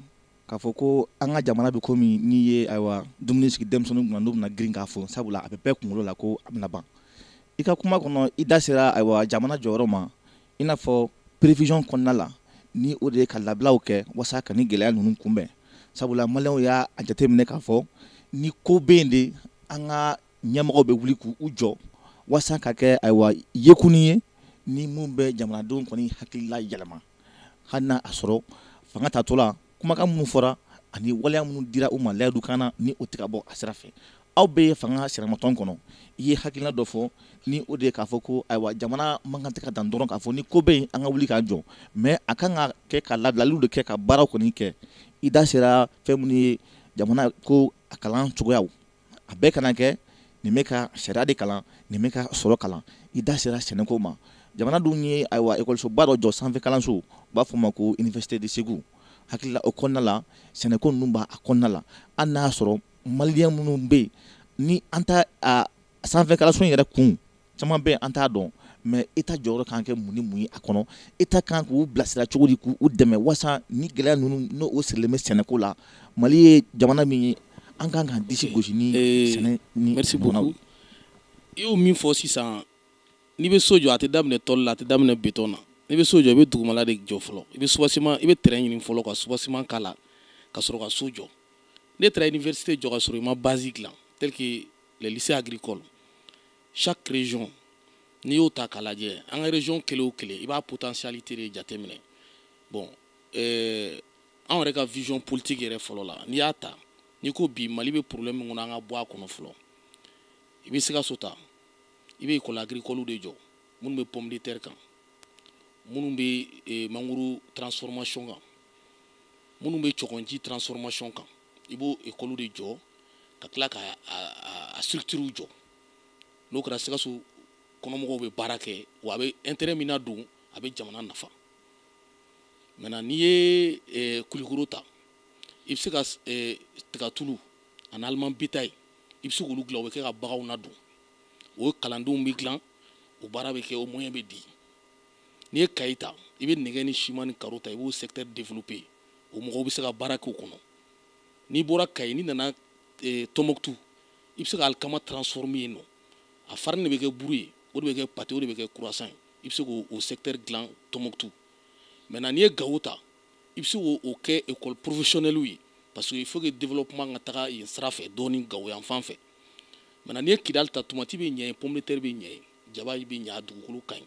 k'a fɔ ko an ka jamana bɛ komi n'i ye ayiwa dumuni sigi denmisɛnninw kunna n'u bɛna girin k'a fɔ sabula a bɛ bɛɛ kunkolo la ko a bɛna ban i ka kuma kɔnɔ i da sera ayiwa jamana jɔyɔrɔ ma i n'a fɔ prévision kɔnɔna la ni o de ye ka labilaw kɛ walasa ka nin gɛlɛya ninnu kunbɛn sabula maliyɛnw y'a jateminɛ k'a fɔ ni ko bɛ yen de an ka ɲɛmɔgɔw bɛ wuli k'u jɔ waasa ka kɛ ayiwa yekun ye ni minnu bɛ jamanadenw kɔni hakilila yɛlɛma hali n'a sɔrɔ fanga tatɔ la kumakan minnu fɔra ani waleya minnu dira u ma layidukan na ni o tɛ ka bɔ a sira fɛ aw bɛ yen fanga sinamatɔn kɔnɔ i ye hakilina dɔ fɔ ni o de ye k'a fɔ ko ayiwa jamana man kan tɛ ka dan dɔrɔn k'a fɔ ni ko bɛ yen an ka wuli k'an jɔ mais a kan ka kɛ ka labilaliw de kɛ ka baara kɔni kɛ i da sera fɛn minnu ye jamana ko a kalan cogoya a bɛɛ kana kɛ nin bɛ ka sariya de kalan nin bɛ ka sɔrɔ kalan i da sera sɛnɛko ma jamana dun ye ayiwa ekɔlisoba dɔ jɔ sanfɛ kalanso u b'a fɔ ma ko université de Ségou hakili la o kɔnɔna la sɛnɛko ninnu b'a kɔnɔna la hali n'a y'a sɔrɔ maliyɛn minnu bɛ yen ni an t'a sanfɛ kalanso in yɛrɛ kun caman bɛ yen an t'a dɔn mais État jɔyɔrɔ kan kɛ mun ni mun ye a kɔnɔ État kan k'u bilasira cogo di k'u dɛmɛ walasa nin gɛlɛya ninnu n'o sirilen bɛ sɛnɛko la mali ye jamana min ye an ka kan ka disi gosi ni sɛnɛ nirisi bɔnna i y'o min fɔ sisan n'i bɛ so jɔ a tɛ daminɛ tɔli la a tɛ daminɛ betɔn na i bɛ so jɔ i bɛ dugumala de jɔ fɔlɔ i bɛ soubassement i bɛ terrain ɲini fɔlɔ ka soubassement k'a la ka sɔrɔ ka so jɔ n'i taara université jɔ ka sɔrɔ i ma base dilan tel que les lycées agricoles chaque région n'i y'o ta k'a lajɛ an ka région kelen o kelen i b'a potentialité de jateminɛ bon euh, anw yɛrɛ ka vision politique yɛrɛ fɔlɔ la n'i y'a ta n'i ko bi mali bɛ problème min kɔnɔ an ka bɔ a kɔnɔ fɔlɔ i bɛ sikaso ta i bɛ école agricole de jɔ minnu bɛ pomme de terre kan minnu bɛ eh, mangoro transformation kan minnu bɛ cɔgɔnji transformation kan i b'o ekɔli de jɔ ka tila ka a structures jɔ n'o kɛra sikaso kɔnɔmɔgɔw bɛ baara kɛ wa a bɛ intérêt min nadon a bɛ jamana nafa maintenant n'i ye eh, kulikoro ta i bɛ se ka eh, tigatulu ani aliment bétail i bɛ se k'olu dilan o bɛ kɛ ka baganw nadon o kalandenw bɛ dilan o baara bɛ kɛ o moyen bɛ di n'i ye kayi ta i bɛ nɛgɛ ni siman ni karo ta i b'o secteur développer o mɔgɔw bɛ se ka baara k'o kɔnɔ n'i bɔra kayi n'i nana eh, tɔmɔkutu i bɛ se ka alikama transformer yen n'o a farini de bɛ kɛ buru ye o de bɛ kɛ pâte o de bɛ kɛ croissant ye i bɛ se k'o secteur dilan tɔmɔkutu maintenant n'i ye gawo ta i bɛ se k'o kɛ école professionnelle ye parce que il faut que développement ka taga yen sira fɛ dɔɔni gawo yan fan fɛ maintenant n'i ye kidali ta tomati bɛ ɲɛ yen pomme de terre bɛ ɲɛ yen jaba bɛ ɲɛ a dugukolo ka ɲi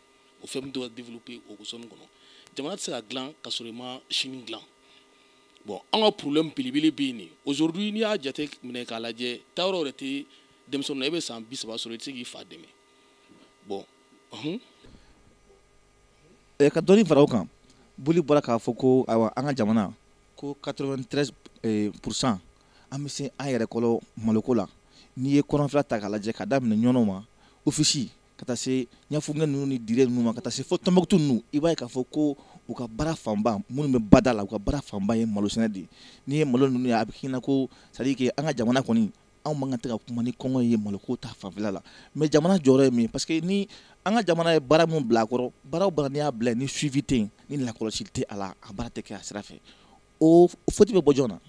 o fɛn min dɔw développer o zone kɔnɔ jamana tɛ se ka dilan ka sɔrɔ i ma sini dilan bon an ka problème belebele bɛ yen de aujourd'hui n'i y'a jate minɛ k'a lajɛ taa yɔrɔ yɛrɛ tɛ denmisɛnnin na e bɛ san bi saba sɔrɔ i tɛ se k'i fa dɛmɛ bon ɔhun. Eh, ka dɔɔni fara o kan boli bɔra k'a fɔ ko ayiwa an ka jamana ko 93 eh, pourcent an bɛ se an yɛrɛ kɔrɔ maloko la n'i ye kɔrɔnfɛla ta k'a lajɛ ka daminɛ ɲɔnɔ ma ofisi ka taa se ɲafunkɛ ninnu ni dire ninnu ma ka taa se fo tɔnbɔkutu ninnu i b'a ye k'a fɔ ko u ka baara fanba minnu bɛ bada la u ka baara fanba ye malo sɛnɛ de ye n'i ye malo ninnu ye a bɛ k'i ɲɛ na ko c'est à dire que an ka jamana kɔni anw man kan tɛ ka kuma ni kɔngɔ ye maloko ta fanfɛla la mais jamana jɔyɔrɔ ye min ye parce que ni an ka jamana ye baara min bila a kɔrɔ baara o baara n'i y'a bila ni suivi tɛ yen ni lakɔlɔsi tɛ a la a baara tɛ kɛ a sira fɛ o foti bɛ bɔ jɔn na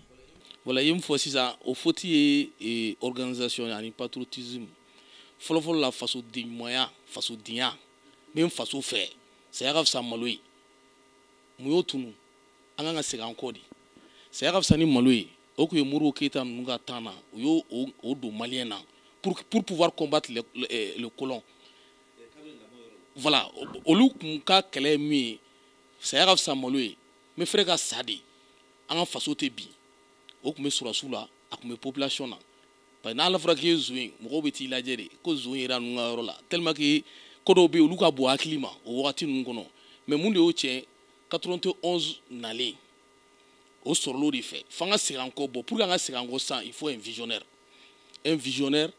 wala i ye min fɔ sisan o foti ye eh, organisation ani patriotisme fɔlɔfɔlɔ la fasodenɲumanya fasodenya n bɛ n faso fɛ saya ka fisa malo ye mun y'o tunu an kan ka segin an kɔ de saya ka fisa ni malo ye o tun ye modibo keyita ninnu ka temps na u y'o don maliyɛn na pour pour pouvoir combattre le, le, eh, le colon voilà olu tun ka kɛlɛ ye min ye saya ka fisa malo ye n bɛ prêt ka sa de an ka faso tɛ bin o tun bɛ sɔrɔdasiw la a tun bɛ population na parce que n'a fɔra k'i ye zon ye mɔgɔw bɛ t'i lajɛ de ko zon yera ninnu ka yɔrɔ la tellement que ko dɔw bɛ yen olu ka bon hakili ma o wagati ninnu kɔnɔ mais mun de y'o tiɲɛ 91 nalen o sɔrɔl'o de fɛ f'an ka segin an kɔ bon pour que an ka segin an kɔ sisan il faut un visionnaire un visionnaire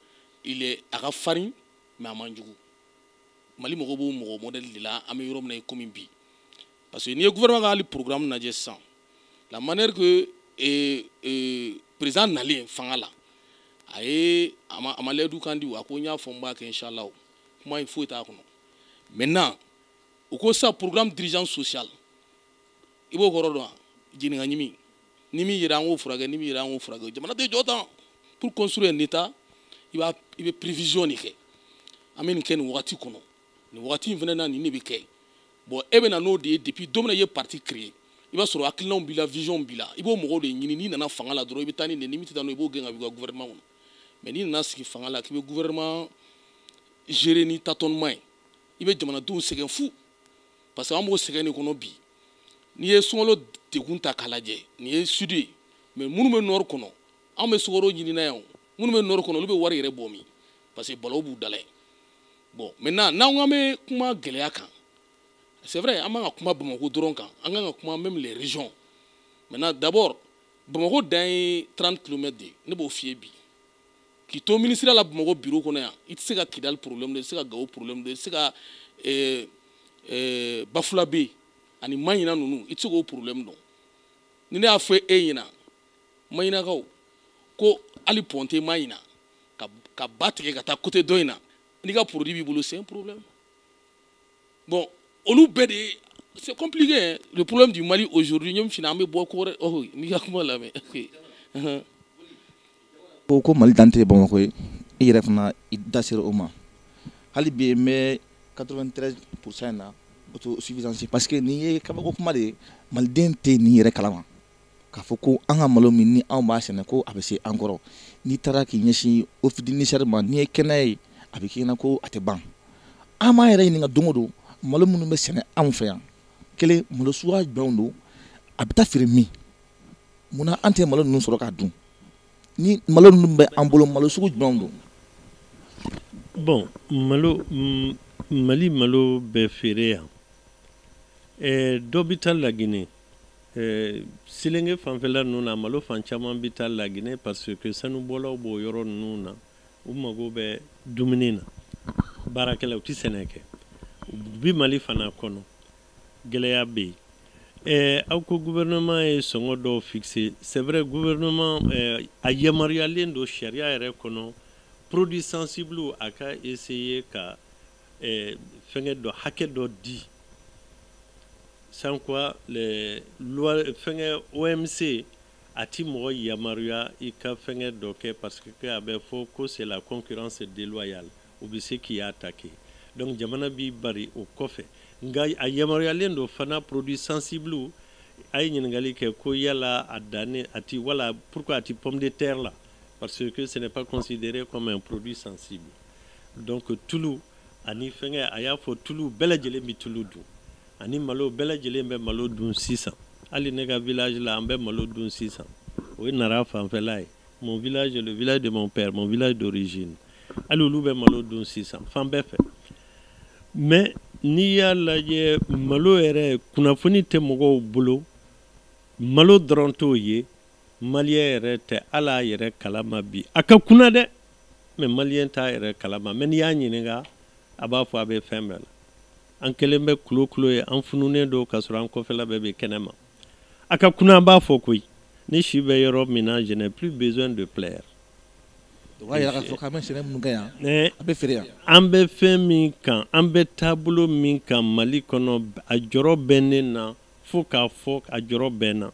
il est a ka farin mais a man jugu mali mago b'o mɔgɔ modèle de la an bɛ yɔrɔ min na i komi bi parce que n'i ye gouvernement ka hali programme lajɛ sisan la manière que eh, eh, président nalen fanga la a ye a ma a ma layidu kan di a ko n y'a fɔ n b'a kɛ inshallah kuma in foyi t'a kɔnɔ maintenant u ko sisan programme d'urgence sociale i b'o kɔrɔ dɔn wa jeni ka ɲimi ni min yera an k'o furakɛ ni min yera an k'o furakɛ jamana tɛ jɔ tan pour construire un état i b'a i bɛ prévision de kɛ an bɛ nin kɛ nin wagati kɔnɔ nin wagati in fana na nin de bɛ kɛ bon e bɛ na n'o de ye depuis don min na i ye parti créer i b'a sɔrɔ hakilinaw b'i la vision b'i la i b'o mɔgɔw de ɲini n'i nana fanga la dɔrɔn i bɛ taa ni nin ni min tɛ taa n'o i b'o gɛn ka b'i ka gouvernement kɔnɔ mais n'i nana sigi fanga la k'i bɛ gouvernement gérer ni tâtonnement ye i bɛ jamanadenw sɛgɛn fu parce que an b'o sɛgɛn de kɔnɔ bi n'i ye sunkalo degun ta k'a lajɛ nin ye sud ye mais minnu bɛ nord kɔnɔ anw bɛ sukaro ɲini na yan o minnu bɛ nɔri kɔnɔ olu bɛ wari yɛrɛ bɔ min parce que balaw b'u da la bon maintenant n'an ko an bɛ kuma gɛlɛya kan c'est vrai an man kan ka kuma bamakɔ dɔrɔn kan an kan ka kuma même les régions maintenant d'abord bamakɔ dan ye 30 kilomètres de ye ne b'o f'i ye bi k'i to minisiriya la bamakɔ biro kɔnɔ yan i tɛ se ka kidali problème dɔn i tɛ se ka gawo problème dɔn i tɛ se ka eh, eh, bafulabe ani maɲina ninnu i tɛ se k'o problème dɔn ni ne y'a fɔ e ɲɛna maɲinakaw ko hali pɔn tɛ maɲina ka, ka ba tigɛ ka taa côté dɔ in na n'i ka produit b'i bolo c'est un problème bon olu bɛɛ de c'est compliqué hein? le problème du mali aujourd'hui ɲe fina an bɛ bɔ ko wɛrɛ oh n'i ka kuma lamɛn ko ko mali dan tɛ bamakɔ ye i yɛrɛ fana i da sera o ma hali bi n bɛ 93 pourcent in na autosuffisance parce que nin ye kabako kuma de ye maliden tɛ nin yɛrɛ kalama k'a fɔ ko an ka malo min ni anw b'a sɛnɛ ko a bɛ se an kɔrɔ n'i taara k'i ɲɛsin office du niger ma n'i ye kɛnɛ ye a bɛ k'i na ko a tɛ ban an b'an yɛrɛ ɲininka don o don malo minnu bɛ sɛnɛ anw fɛ yan kelen malo suguya jumɛnw don a bɛ taa feere min munna an tɛ malo ninnu sɔrɔ k'a dun ni malo ninnu bɛ an bolo malo sugu jumɛnw don bon malo mali malo bɛ feere yan eh, dɔ bɛ taa laginɛ Eh, selenge fanfɛla ninnu na malo fan caman bɛ taa laginɛ parce que sanubɔlaw b'o yɔrɔ ninnu na u mago bɛ dumuni na baarakɛla u tɛ sɛnɛ kɛ bi mali fana kɔnɔ gɛlɛya bɛ yen eh, aw ko gouvernement ye sɔngɔ dɔw fixé c'est vrai gouvernement eh, a yamaruyalen don sariya yɛrɛ kɔnɔ produit sensible a ka essayer ka eh, fɛngɛ dɔ hakɛ dɔ di sans quoi les lois fɛngɛ OMC a ti mɔgɔ yamaruya i ka fɛngɛ dɔ kɛ parce que a bɛ fɔ ko c'est la concurrence déloyale u bɛ se k'i attaquer donc jamana b'i bari o kɔfɛ nka a yamaruyalen don fana produit sensible a ye ɲininkali kɛ ko yala a dannen a ti wala pourquoi a ti pomme de terre la parce que ce n'est pas considéré comme un produit sensible donc tulu ani fɛngɛ a y'a fɔ tulu bɛɛ lajɛlen bɛ tulu dun ani malo bɛɛ lajɛlen bɛ malo dun sisan hali ne ka village la an bɛ malo dun sisan o ye nara fanfɛla ye mon village le village de mon père mon village d'origine hali olu bɛ malo dun sisan fan bɛɛ fɛ mais n'i y'a lajɛ malo yɛrɛ kunnafoni tɛ mɔgɔw bolo malo dɔrɔn t'o ye Maliyɛn yɛrɛ tɛ ala yɛrɛ kalama bi a ka kunan dɛ mais maliyɛn t'a yɛrɛ kalama mais n'i y'a ɲininka a b'a fɔ a bɛ fɛn bɛɛ la an kɛlen bɛ kulokulo ye an fununen don ka sɔrɔ an kɔfɛla bɛɛ bɛ kɛnɛ ma a ka kunan an b'a fɔ koyi ne si bɛ yɔrɔ min na je n'ai plus besoin de plaire o b'a yira k'a fɔ k'an bɛ sɛnɛ minnu kɛ yan eh, a bɛ feere yan an bɛ fɛn min kan an bɛ taabolo min kan mali kɔnɔ a jɔrɔ bɛ ne na fo k'a fɔ a jɔrɔ bɛ n na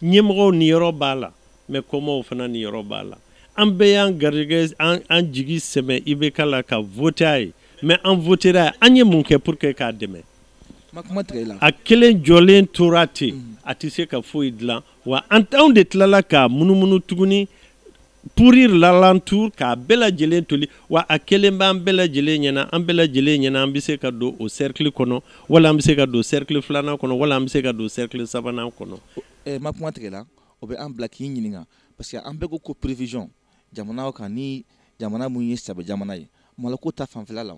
ɲɛmɔgɔw niyɔrɔ b'a la mais kɔmaaw fana niyɔrɔ b'a la an bɛɛ y'an garijɛgɛ n'an jigi sɛmɛ IBK la ka vote a ye mais an votera a ye an ye mun kɛ pour que k'a dɛmɛ a kelen jɔlen tora ten mm. a tɛ se ka foyi dilan wa an anw de tilala ka munumunu tuguni pourrir l'alentour k'a bɛɛ lajɛlen toli wa a kelen b'an bɛɛ lajɛlen ɲɛna an bɛɛ lajɛlen ɲɛna an bɛ se ka don o cercle kɔnɔ wala an bɛ se ka don cercle filanan kɔnɔ wala an bɛ se ka don cercle sabanan kɔnɔ. Ɛ n ma kuma tigɛ i la o bɛ an bila k'i ɲininka parce que an bɛ ko ko prévision jamana kan ni jamana mun ye sɛbɛ jamana ye maloko ta fanfɛla la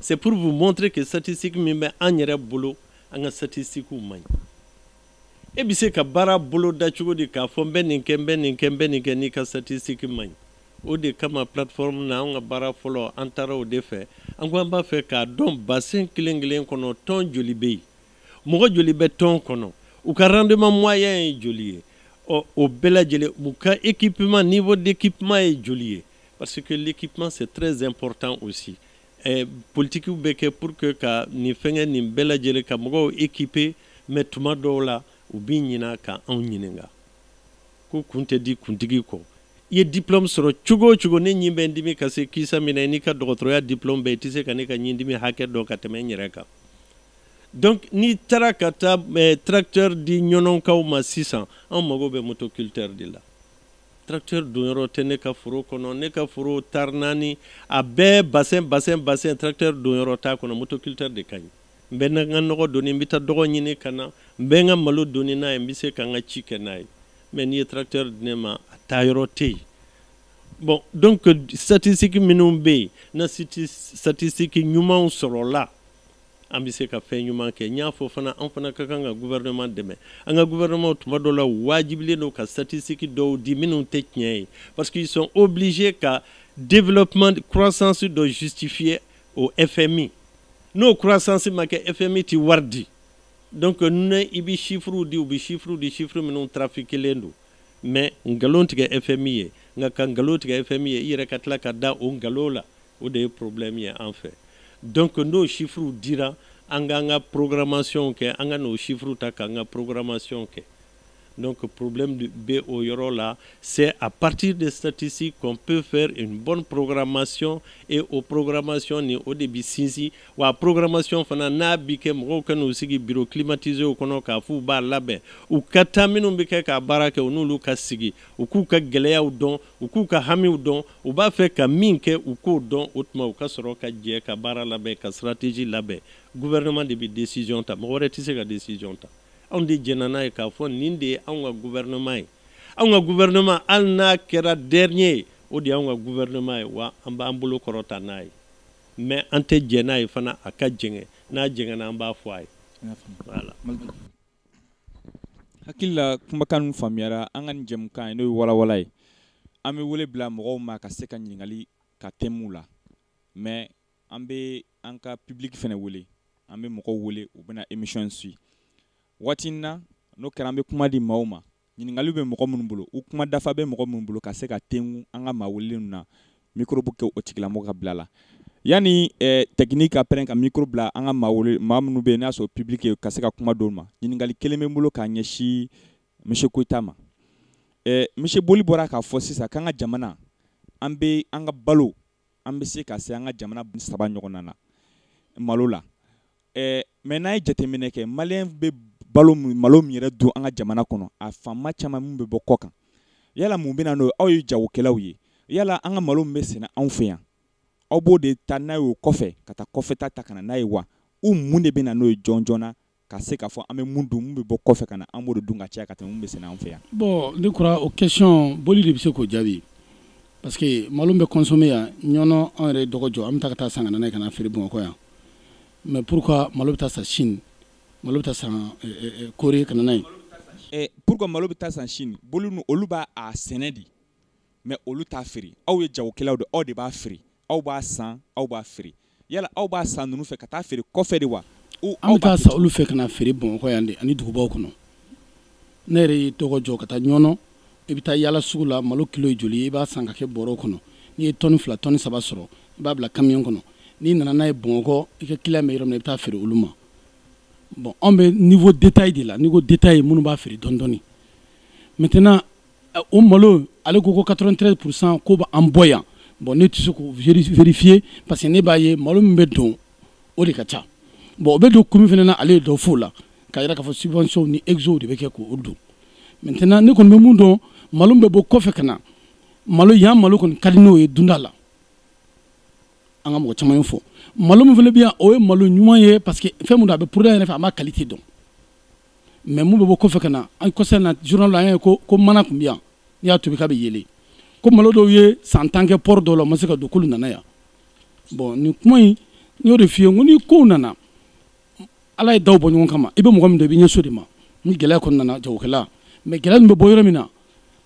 C'est pour vous montrer que statistique min bɛ an yɛrɛ bolo an ka statistique man ɲi e bɛ se ka baara bolo da cogo di k'a fɔ n bɛ nin kɛ n bɛ nin kɛ n bɛ nin kɛ n'i ka statistique man ɲi o de kama plateforme na an ka baara fɔlɔ an taara o de fɛ an ko an b'a fɛ k'a dɔn bassin kelen kelen kɔnɔ tɔn joli bɛ yen mɔgɔ joli bɛ tɔn kɔnɔ u ka rendement moyen ye joli ye ɔ o bɛɛ lajɛlen u ka équipement niveau d'équipement ye joli ye Parce que l'équipement c'est très important aussi. Et politiquew bɛ kɛ pour que ka nin fɛngɛ nin bɛɛ lajɛlen ka mɔgɔw équiper mais tuma dɔw la u bi ɲina ka anw ɲininka ko kun tɛ di kuntigi kɔ i ye diplôme sɔrɔ cogo o cogo ne ɲin bɛ n dimi ka se kisa min na i n'i ka dɔgɔtɔrɔya diplôme bɛɛ tɛ se ka ne ka ɲin dimi hakɛ dɔn ka tɛmɛ n yɛrɛ kan donc n'i taara ka taa eh, tracteur di ɲɔnɔnkaw ma sisan anw mago bɛ motoculteur de la tracteur donyɔrɔ tɛ ne ka foro kɔnɔ ne ka foro taari naani a bɛɛ bassin bassin bassin tracteur donyɔrɔ t'a kɔnɔ motoculteur de ka ɲi n bɛ n ka nɔgɔ doni n bɛ taa dɔgɔ ɲini ka na n bɛ n ka malo doni n'a ye n bɛ se ka n ka ci kɛ n'a ye mais n'i ye tracteur di ne ma a taa yɔrɔ tɛ yen bon donc statistique minnu bɛ yen n'a statistique ɲumanw sɔrɔla an bɛ se ka fɛn ɲuman kɛ n y'a fɔ fana an fana ka kan ka gouvernement dɛmɛ an ka gouvernement tuma dɔ la wajibilen don ka statistique dɔw di minnu tɛ tiɲɛ ye parce qu'ils sont obligés ka développement croissance dɔ justifier au FMI n'o croissance ma kɛ FMI tɛ wari di donc ne i bɛ chiffres di u bɛ chiffres di chiffres minnu trafiquelen don mais nkalon tigɛ FMI ye nka ka nkalon tigɛ FMI ye i yɛrɛ ka tila ka da o nkalon la o de ye problème ye an fɛ donc n'o chiffres dira an k'an ka programmation kɛ an kan'o chiffres ta k'an ka programmation kɛ donc problème bɛ o yɔrɔ la c'est à partir des statistiques qu'on peut faire une bonne programmation et o programmation nin o de bɛ sinsin wa programmation fana n'a bɛ kɛ mɔgɔw kan'u sigi bureau climatiséw kɔnɔ k'a f'u b'a labɛn u ka taa minnu bɛ kɛ k'a baara kɛ u n'olu ka sigi u k'u ka gɛlɛyaw dɔn u k'u ka hamiw dɔn u b'a fɛ ka min kɛ u k'o dɔn o tuma u ka sɔrɔ ka jɛ ka baara labɛn ka stratégie labɛn gouvernement de bɛ décision ta mɔgɔ wɛrɛ tɛ se ka décision ta anw de jɛnna n'a ye k'a fɔ nin de ye anw ka gouvernement ye anw ka gouvernement hali n'a kɛra dernier ye o de y'anw ka gouvernement ye wa an b'an bolo kɔrɔta n'a ye mais an tɛ jɛn n'a ye fana a ka jɛngɛ n'a jɛngɛna an b'a fɔ a ye voilà hakili la kumakan ninnu faamuyara an ka nin jɛmukan ye n'o ye walawala ye an bɛ wele bila mɔgɔw ma ka se ka ɲininkali ka tɛm'u la mɛ an bɛ an ka pibiliki fana wele an bɛ mɔgɔw wele u bɛna emisiyɔn suivi waati in na n'o kɛra an bɛ kuma di maaw ma ɲininkaliw bɛ mɔgɔ minnu bolo u kuma dafa bɛ mɔgɔ minnu bolo ka se ka tengu an ka maa welelen ninnu na mikoro bɛ kɛ o tigilamɔgɔ ka bila la yanni eh, tɛkiniki ka pɛrɛ ka mikoro bila an ka maawuli maa minnu bɛ yen n'a sɔrɔ pibiliki ka se ka kuma dɔw ma ɲininkali kelen bɛ n bolo k'a ɲɛsin misiye koyita ma eh, misiye boli bɔra k'a fɔ sisan k'an ka jamana an bɛ an ka balo an bɛ se ka se an ka jamana saba ɲɔgɔnna na malo la Ɛɛ mɛ n'an ye jateminɛ kɛ maliyɛnw bɛ balo malo min yɛrɛ dun an ka jamana kɔnɔ a fan caman min bɛ bɔ kɔkan yala mun bɛna don aw ye jagokɛlaw ye yala an ka malo min bɛ sɛnɛ anw fɛ yan aw b'o de taa n'a ye kɔfɛ ka taa kɔfɛ ta ta ka na n'a ye wa u mun de bɛ na n'o ye jɔnjɔn na ka se k'a fɔ an bɛ min dun bɛ bɔ kɔfɛ ka na an bolo dun ka cɛ ka taa bɛ sɛnɛ an fɛ yan bɔn ne kɔrɔ o kɛcɔn boli de bɛ se k'o jaabi parce que malo min bɛ kɔnsɔme yan ɲɔnɔ an yɛrɛ dɔgɔ jɔ an bɛ taa ka taa san ka na ka na feere bamakɔ yan mɛ pourquoi malo bɛ taa san sini malo bɛ taa san eh, eh, eh, kore ka na n'a ye pourquoi malo bɛ taa san sini bolo olu b'a sɛnɛ de mɛ olu t'a feere aw ye jagokɛlaw de aw de b'a feere aw b'a san aw b'a feere yala aw b'a san ninnu fɛ ka taa feere kɔfɛ de wa an bɛ taa san olu fɛ ka na feere bamakɔ yan de ani dugubaw kɔnɔ ne yɛrɛ ye dɔgɔ jɔ ka taa ɲɔnɔ i bɛ taa yala sugu la malo kilo ye joli i b'a san ka kɛ bɔrɔ kɔnɔ n'i ye tɔni fila tɔni saba sɔrɔ i b'a bila kamiyon kɔnɔ n'i nana n'a ye bamakɔ i ka kiliyan bɛ yɔrɔ min i bɛ taa feere olu ma bɔn anw bɛ niveau détail de la niveau détail minnu b'a feere dɔɔni dɔɔni maintenant o malo ale ko ko quatre-vingt-trois pour cent k'o bɛ an bɔ yan bɔn ne tɛ se k'o vérifié parce que ne b'a ye malo min bɛ don o de ka ca bɔn o bɛ don kun min fana na ale ye dɔ f'o la k'a yira k'a fɔ subvention ni exo de bɛ kɛ k'o don maintenant ne kɔni bɛ min dɔn malo min bɛ bɔ kɔfɛ ka na mali yan malo kɔni ka di n'o ye dunda la an ka mɔgɔ caman ye fɔ malo min fana bɛ yan o ye malo ɲuman ye parce que fɛn min don a bɛ poroda yɛrɛ fɛ a ma kalite dɔn mais min bɛ bɔ kɔfɛ ka na an kɔsa na journal an ye ko ko mana tun bɛ yan n'i y'a tobi k'a bɛ yeelen ko malo dɔw ye san tan kɛ pɔri dɔw la o ma se ka don k'olu nana yan bɔn nin kuma in n y'o de f'i ye n ko ni kow nana ala ye dɔw bɔ ɲɔgɔn kama i bɛ mɔgɔ min dɔn i b'i ɲɛsin o de ma ni gɛlɛya ko nana jagokɛla mais gɛlɛya ninnu bɛ bɔ yɔrɔ min na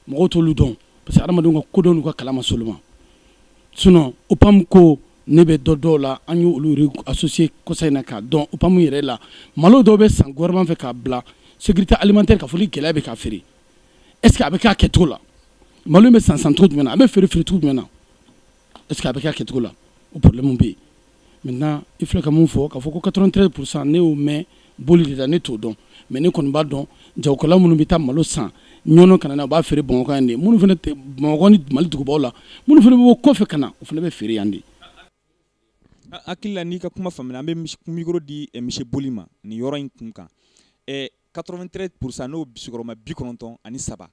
mɔgɔw t'olu dɔn parce que adamadenw ka kodɔn n'u ka kalan ma se olu ma sinon opam ko ne bɛ dɔ dɔn o la an y'olu associé kɔsa in na k'a dɔn opam yɛrɛ la malo dɔw bɛ san gouvernement fɛ k'a bila sécurité alimentaire k'a fɔ ni gɛlɛya bɛ k'a feere est ce que a bɛ k'a kɛcogo la malo in bɛ san san cogo jumɛn na a bɛ feere feere cogo jumɛn na est ce que a bɛ k'a kɛcogo la o problème bɛ yen maintenant i filɛ ka min fɔ k'a fɔ ko 93 pourcent ne y'o mɛn boli de la ne t'o dɔn mais ne kɔni b'a dɔn jagokɛla minnu bɛ taa malo san ɲɔnɔ kana na u b'a feere bamakɔ yan de minnu fana tɛ bamakɔ ni mali dugubaw la minnu fana bɛ bɔ kɔfɛ ka na o fana bɛ feere yan de hakili la n'i ka kuma faamuya an bɛ mikoro di eh, monsieur boli ma nin yɔrɔ in kun kan 93 eh, pourcent n'o sigiyɔrɔma bi kɔnɔntɔn ani saba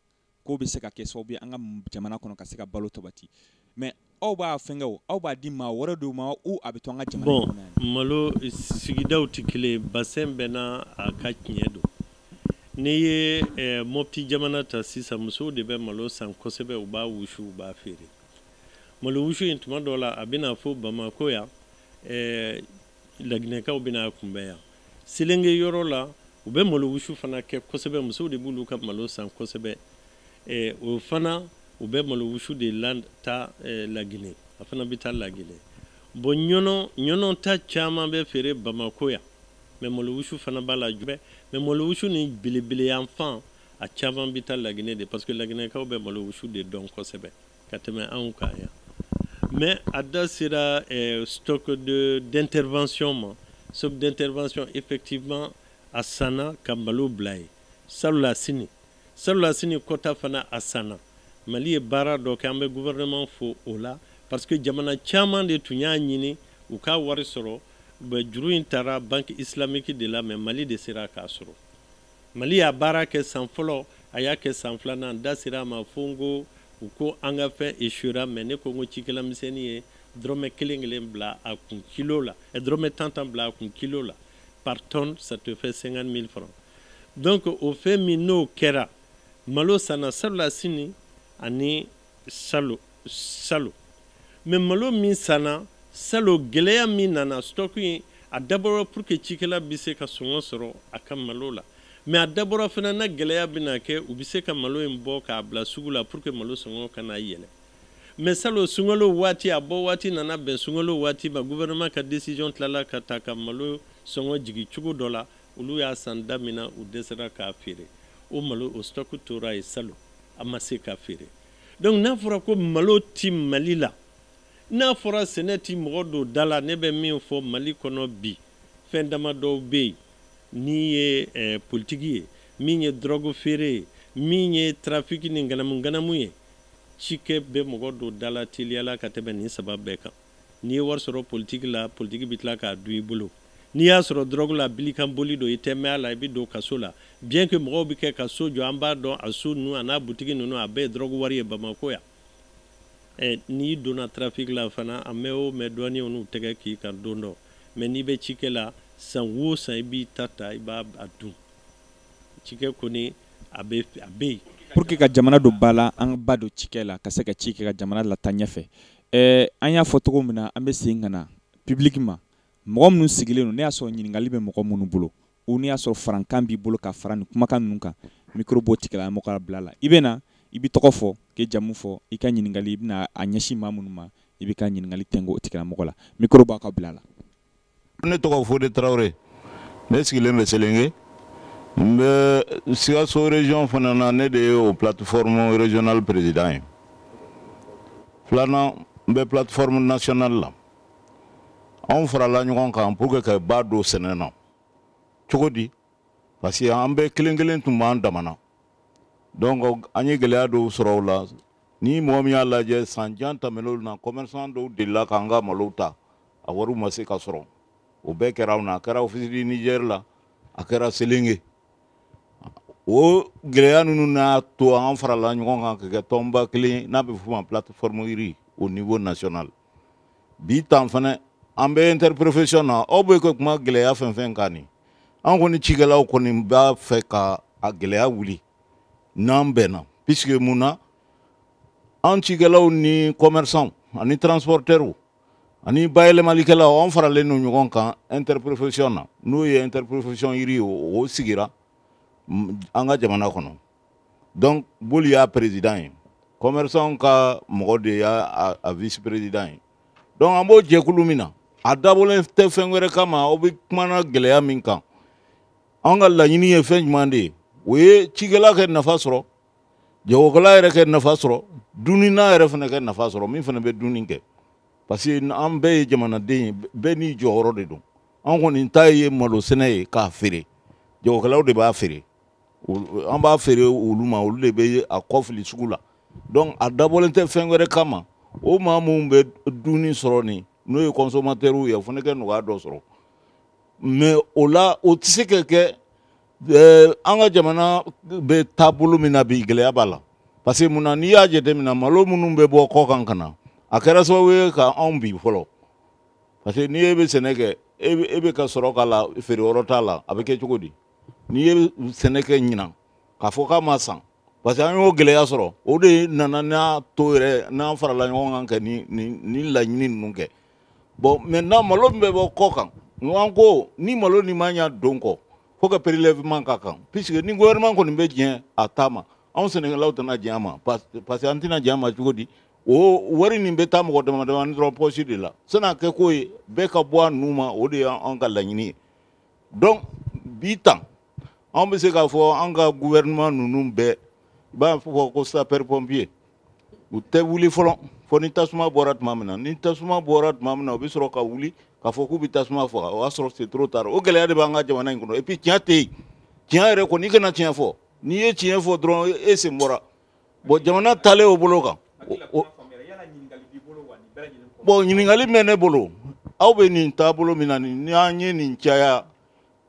k'o bɛ se ka kɛ sababu ye an ka jamana kɔnɔ ka se ka balo sabati mais aw b'a fɛnkɛ o aw b'a di maa wɛrɛ dɔw ma ou a bɛ to an ka jamana bon, kɔnɔ malo sigidaw tɛ kelen bassin bɛɛ n'a ka tiɲɛ don n'i ye eh, mɔpti jamana ta sisan musow de bɛ malo san kosɛbɛ u b'a wusu u b'a feere malo wusu in tuma dɔw la a bɛ na fo bamako yan eh, laginɛkaw bɛ n'a kunbɛn yan selenge yɔrɔ la u bɛ malo wusu fana kɛ kosɛbɛ musow de b'olu ka malo san kosɛbɛ eh, o fana u bɛ malo wusu de la taa eh, lagine a fana bɛ taa lagine bɔn ɲɔnɔ ɲɔnɔ ta caman bɛ feere bamako yan mais malo wusu fana b'a la dɛ mais malo wusu ni belebele yan fan a caman bɛ taa lagine de parce que laginɛkaw bɛ malo wusu de dɔn kosɛbɛ ka tɛmɛ anw kan yan mais a da sera eh, stock de d'intervention ma stock d'intervention effectivement a sanna ka malo bila yen salonnasini salonnasini kɔ ta fana a sanna mali ye baara dɔ kɛ an bɛ gouvernement fo o la parce que jamana caman de tun y'a ɲini u ka wari sɔrɔ juru in taara banque islamique de la mais mali de sera k'a sɔrɔ Mali y'a baara kɛ san fɔlɔ a y'a kɛ san filanan n da sera a ma fo n ko u ko an ka fɛn échouera mais ne ko n ko cikɛlamisɛnnin ye dɔrɔmɛ kelen kelen bila a kun kilo la ɛ dɔrɔmɛ tan tan bila a kun kilo la par tonne ça te fait 50 000 francs donc o fɛn min n'o kɛra malo sanna salonnasini ani salo salo mɛ malo min sanna salo gɛlɛya min nana stɔku in a dabɔra pour que cikɛla bɛ se ka sɔngɔ sɔrɔ a ka malo la mɛ a dabɔra fana na gɛlɛya bɛna kɛ u bɛ se ka malo in bɔ k'a bila sugu la pour que malo sɔngɔ kana yɛlɛ mɛ salo sunkalo waati a bɔ waati nana bɛn sunkalo waati ma gouvernement ka décision tilala ka ta ka malo sɔngɔ jigin cogo dɔ la olu y'a san da min na u dɛsɛra k'a feere o malo o stock tora yen salo a ma se ka feere donc n'a fɔra ko malo ti mali la n'a fɔra sɛnɛ ti mɔgɔ don da la ne bɛ min fɔ mali kɔnɔ bi fɛn dama dɔw bɛ yen n'i ye eh, politiki ye min ye dɔrɔgu feere ye min ye trafiki ni nganamu nganamu ye cikɛ bɛ mɔgɔ don da la teliyala ka tɛmɛ nin saba bɛɛ kan n'i ye wari sɔrɔ politiki la politiki bɛ tila k'a dun i bolo n'i y'a sɔrɔ dɔrɔgu la bilikan boli don i tɛ mɛɛn a la i bɛ don kaso la bien que mɔgɔw bɛ kɛ ka so jɔ an b'a dɔn a so ninnu a n'a butigi ninnu a bɛɛ ye dɔrɔgu wari ye bamakɔ yan ɛ n'i donna trafic la fana a mɛɛn o mɛɛn douanier ninnu tɛgɛ k'i kan don dɔ mɛ n'i bɛ cikɛ la san wo san i b'i ta ta i b'a dun cikɛ kɔni a bɛ a bɛ yen pour que ka jamana don ba la an ka ba don cikɛ la ka se ka ci kɛ ka jamana lataa ɲɛfɛ Ɛɛ an y'a fɔ cogo min na an bɛ se ka na pibiliki ma mɔgɔ minnu sigilen don n'i y'a sɔrɔ ɲininkali bɛ mɔgɔ minnu bolo ou n'i y'a sɔrɔ farankan b'i bolo ka fara ni kumakan ninnu kan micro b'o tigilamɔgɔ ka bila la i bɛ na i b'i tɔgɔ fɔ k'i jamu fɔ i ka ɲininkali i bɛna a ɲɛsin maa minnu ma i b'i ka ɲininkali kɛ o tigilamɔgɔ la micro b'aw ka bila la ne tɔgɔ fode tarawele ne sigilen bɛ selenge n bɛ sikaso région fana na ne de ye o plateforme régional président ye filanan n bɛ plateforme national la anw farala ɲɔgɔn kan pour que ka ba don sɛnɛ na cogo di parce que an bɛɛ kelen kelen tun b'an damana donc an ye gɛlɛya dɔw sɔrɔ o la ni mɔgɔ min y'a lajɛ san jan tɛmɛnenw na commerçant dɔw delila k'an ka malow ta a wariw ma se ka sɔrɔ o bɛɛ kɛra anw na a kɛra office du niger la a kɛra selenge o gɛlɛya ninnu n'a to an farala ɲɔgɔn kan ka kɛ tɔnba kelen n'a bɛ f'o ma plateforme riz au niveau national bi tan fana an bɛ interprofession na aw bɛ ka kuma gɛlɛya fɛn fɛn kan nin an kɔni cikɛlaw kɔni b'a fɛ ka a gɛlɛya wuli n'an bɛnna puisque mun na an cikɛlaw ni commerçants ani transporteurs ani bayɛlɛmalikɛlaw anw faralen don ɲɔgɔn kan interprofession na n'o ye interprofession riz ye o sigira an ka jamana kɔnɔ donc boli y'a président ye commerçant ka mɔgɔ de y'a vice président ye donc an b'o jɛkulu min na a dabɔlen tɛ fɛn wɛrɛ kama aw bɛ kuma na gɛlɛya min kan an ka laɲini ye fɛn jumɛn de ye o ye cikɛla ka nafa sɔrɔ jagokɛla yɛrɛ ka nafa sɔrɔ dunnina yɛrɛ fana ka nafa sɔrɔ min fana bɛ dunni kɛ parce que an bɛɛ ye jamanaden ye bɛɛ n'i jɔyɔrɔ de don an kɔni ta ye malo sɛnɛ ye k'a feere jagokɛlaw de b'a feere an b'a feere olu ma olu de bɛ a kɔ fili sugu la donc a dabɔlen tɛ fɛn wɛrɛ kama o maa minnu bɛ dunni sɔrɔ nin n'o ye consommateurs ye o fana ka nɔgɔya dɔ sɔrɔ mais o la o tɛ se ka kɛ eh, an ka jamana bɛ taabolo min na bi gɛlɛya b'a la parce que mun na n'i y'a jateminɛ malo minnu bɛ bɔ kɔkan ka na a kɛra sababu ye ka anw bin fɔlɔ parce que n'i e bɛ sɛnɛ kɛ e bɛ ka sɔrɔ k'a la feereyɔrɔ t'a la a bɛ kɛ cogo di n'i ye sɛnɛ kɛ ɲinan k'a fɔ k'a ma san parce que an y'o gɛlɛya sɔrɔ o de nana n'a to yɛrɛ n'an farala ɲɔgɔn kan ka nin nin nin laɲini ninnu kɛ bon maintenant malo min bɛ bɔ kɔkan an ko ni malo nin mana don ko fo ka prélèvement k'a kan puisque ni gouvernement kɔni bɛ diɲɛ a ta ma anw sɛnɛkɛlaw tɛna diɲɛ a ma parce que an tɛna diɲɛ a ma cogo di o wari nin bɛ taa mɔgɔ dama damani dɔrɔn pɔsi de la san'a kɛ k'o ye bɛɛ ka bɔ a nu ma o de y'an ka laɲini ye donc bi tan anw bɛ se k'a fɔ an ka gouvernement ninnu bɛɛ i b'a fɔ ko sapeur pompier u tɛ wuli fɔlɔ fo ni tasuma bɔra tuma min na ni tasuma bɔra tuma min na u bɛ sɔrɔ ka wuli k'a fɔ k'u bɛ tasuma faga o y'a sɔrɔ c'est trop tard o gɛlɛya de b'an ka jamana in kɔnɔ et puis tiɲɛ tɛ yen tiɲɛ yɛrɛ kɔni i kana tiɲɛ fɔ n'i ye tiɲɛ fɔ dɔrɔn e sen bɔra bon jamana taalen o bolo kan bon ɲininkali bɛ ne bolo aw bɛ nin taabolo min na nin ni an ye nin caya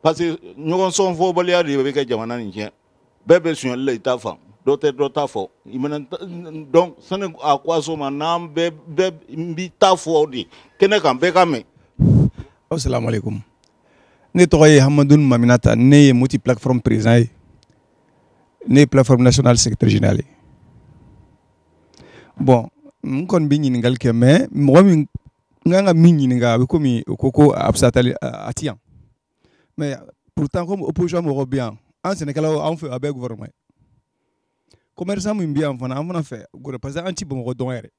parce que ɲɔgɔn sɔn fɔbaliya de bɛ ka jamana nin tiɲɛ bɛɛ bɛ sonyali la i ta fan dɔ tɛ dɔ ta fɔ i ye donc sani a ko a soma n'an bɛɛ bɛɛ n b'i ta fɔ de kɛnɛ kan bɛɛ k'a mɛn. asalaamualeykum ne tɔgɔ ye hamadun maminata ne ye moti plateforme président ye ne ye plateforme nationale secrétaire général ye bon n kɔni bɛ ɲininkali kɛ mais mɔgɔ min n kan ka min ɲininka a bɛ komi o ko ko a bɛ se ka taali a ti yan mais pourtant comme opposition mɔgɔw bɛ yan an sɛnɛkɛlaw anw fɛ a bɛɛ gouvernement ye commerçant min bɛ yan fana an fana fɛ parce que an ti bamakɔ dɔn yɛrɛ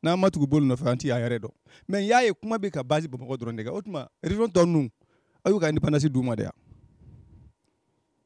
n'an ma tugu boli nɔfɛ an ti a yɛrɛ dɔn mais n y'a ye kuma bɛ ka base bamakɔ dɔrɔn de kan o tuma région tɔ ninnu aw y'u ka indépendance d'u ma de yan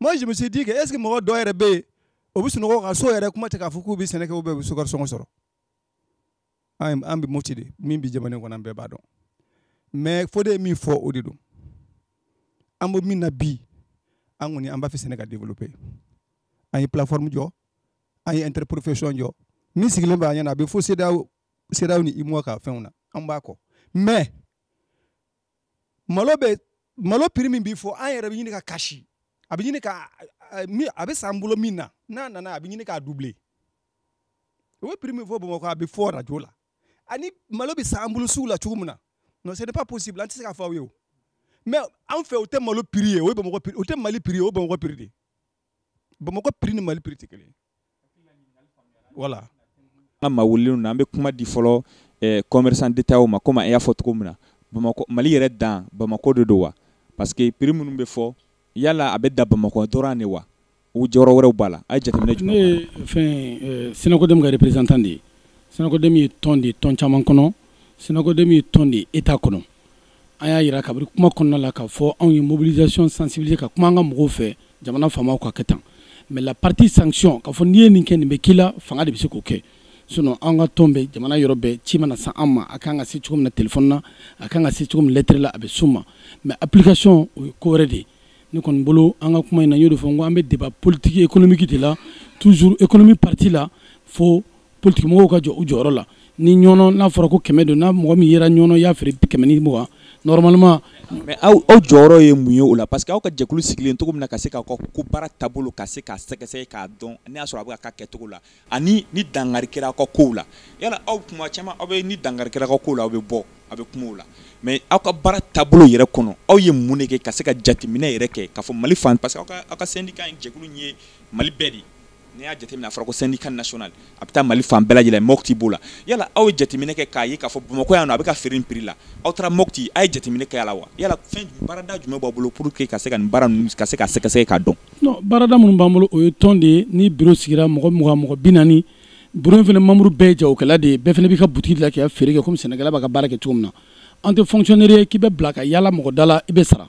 moi je me suis dit que est ce que mɔgɔ dɔ yɛrɛ bɛ yen o bɛ sunɔgɔ ka so yɛrɛ kuma tɛ k'a fɔ k'u bɛ sɛnɛ kɛ u bɛɛ bɛ so ka sɔngɔ sɔrɔ an an bɛ moti de min bɛ jamana in kɔnɔ an bɛɛ b'a dɔn mɛ fo de ye min fɔ o de don an bɛ min na bi an kɔni an b'a fɛ sɛnɛ ka développer an ye plateforme jɔ an ye interprofession jɔ min sigilen bɛ an ɲɛna a bɛ fo CEDEAO CEDEAO ni UEMOA ka fɛnw na an b'a kɔ mais malo bɛ malo piri min bɛ fɔ an yɛrɛ bɛ ɲini ka kasi a bɛ ɲini ka a bɛ san bolo min na n'a nana a bɛ ɲini k'a dubile o bɛ piri min fɔ bamakɔ a bɛ fɔ arajo la ani malo bɛ san bolo sugu la cogo min na non c'est pas possible an tɛ se k'a fɔ aw ye o mɛ anw fɛ o tɛ malo piri ye o ye bamakɔ piri o tɛ mali piri ye o ye bamakɔ piri de ye bamakɔ piri ni mali piri tɛ kelen wala an ma wulilen na an bɛ kuma di fɔlɔ eh, commerçant détaillant ma komi an y'a fɔ cogo min na bamakɔ mali yɛrɛ dan bamakɔ de don wa parce que prix minnu bɛ fɔ yala a bɛ dan bamakɔ dɔrɔn de wa ou yɔrɔ wɛrɛw b'a la a ye jateminɛ jumɛn ne ye fɛn eh, sinakodɛmu ka représentant de ye sinakodɛmu ye tɔn de ye tɔn caman kɔnɔ sinakodɛmu ye tɔn de ye etat kɔnɔ an y'a jira kabiri kuma kɔnɔna la k'a fɔ anw ye mobilisation sensibiliser ka kuma an ka mɔgɔw fɛ jamana faamaw ka kɛ tan mais la partie sanction k'a fɔ n'i ye nin kɛ nin bɛ k'i la fanga de bɛ se k'o kɛ sinon an ka tɔn bɛ jamana yɔrɔ bɛɛ ci mana se an ma a kan ka se cogo min na telefɔni na a kan ka se cogo min na lɛtɛrɛ la a bɛ s'u ma mais application o ye ko wɛrɛ de ye ne kɔni bolo an ka kuma in na n y'o de fɔ n ko an bɛ débat politique économique de la toujours économie partie la fo Politikimɔgɔw ka jɔ u jɔyɔrɔ la ni ɲɔn n'a fɔra ko kɛmɛ don ni mɔgɔ min yɛrɛ ɲɔn y'a feere kɛmɛ ni mugan normalement mais aw aw jɔyɔrɔ ye mun ye o la parce que aw ka jɛkulu sigilen cogo min na ka se k'aw ka ko baara taabolo ka se k'a sɛgɛsɛgɛ k'a dɔn n'i y'a sɔrɔ a bɛ ka k'a kɛcogo la ani ni dankari kɛra aw ka ko la yala aw tuma caman aw bɛ ni dankari kɛra aw ko la aw bɛ bɔ aw bɛ kuma o la mais aw ka baara taabolo yɛrɛ kɔnɔ aw ye mun de kɛ ka se ka jateminɛ yɛrɛ kɛ k'a fɔ mali fan parce que aw ka syndicat jɛkulu ye mali bɛɛ de N'i y'a jateminɛ a fɔra ko syndicat national a bɛ taa Mali fan bɛɛ lajɛlen Mopti b'o la, yala aw ye jateminɛ kɛ k'a ye k'a fɔ Bamakɔ yan nɔ a bɛ ka feere nin prix la, aw taara Mopti aw ye jateminɛ kɛ a la wa? Yala fɛn jumɛn baarada jumɛn b'aw bolo pour que ka se ka nin baara ninnu ka se k'a sɛgɛsɛgɛ k'a dɔn? Non baarada minnu b'an bolo o ye tɔn de ye ni bureau sigira mɔgɔ mugan mɔgɔ bi naani bureau in fana membre bɛɛ ye jagokɛla de ye bɛɛ fana b'i ka boutique de la k'i ka feere kɛ komi sɛnɛkɛla b'a ka baara kɛ cogo min na an tɛ fonctionnaire ye k'i bɛ bila ka yaala mɔgɔ da la i bɛ sara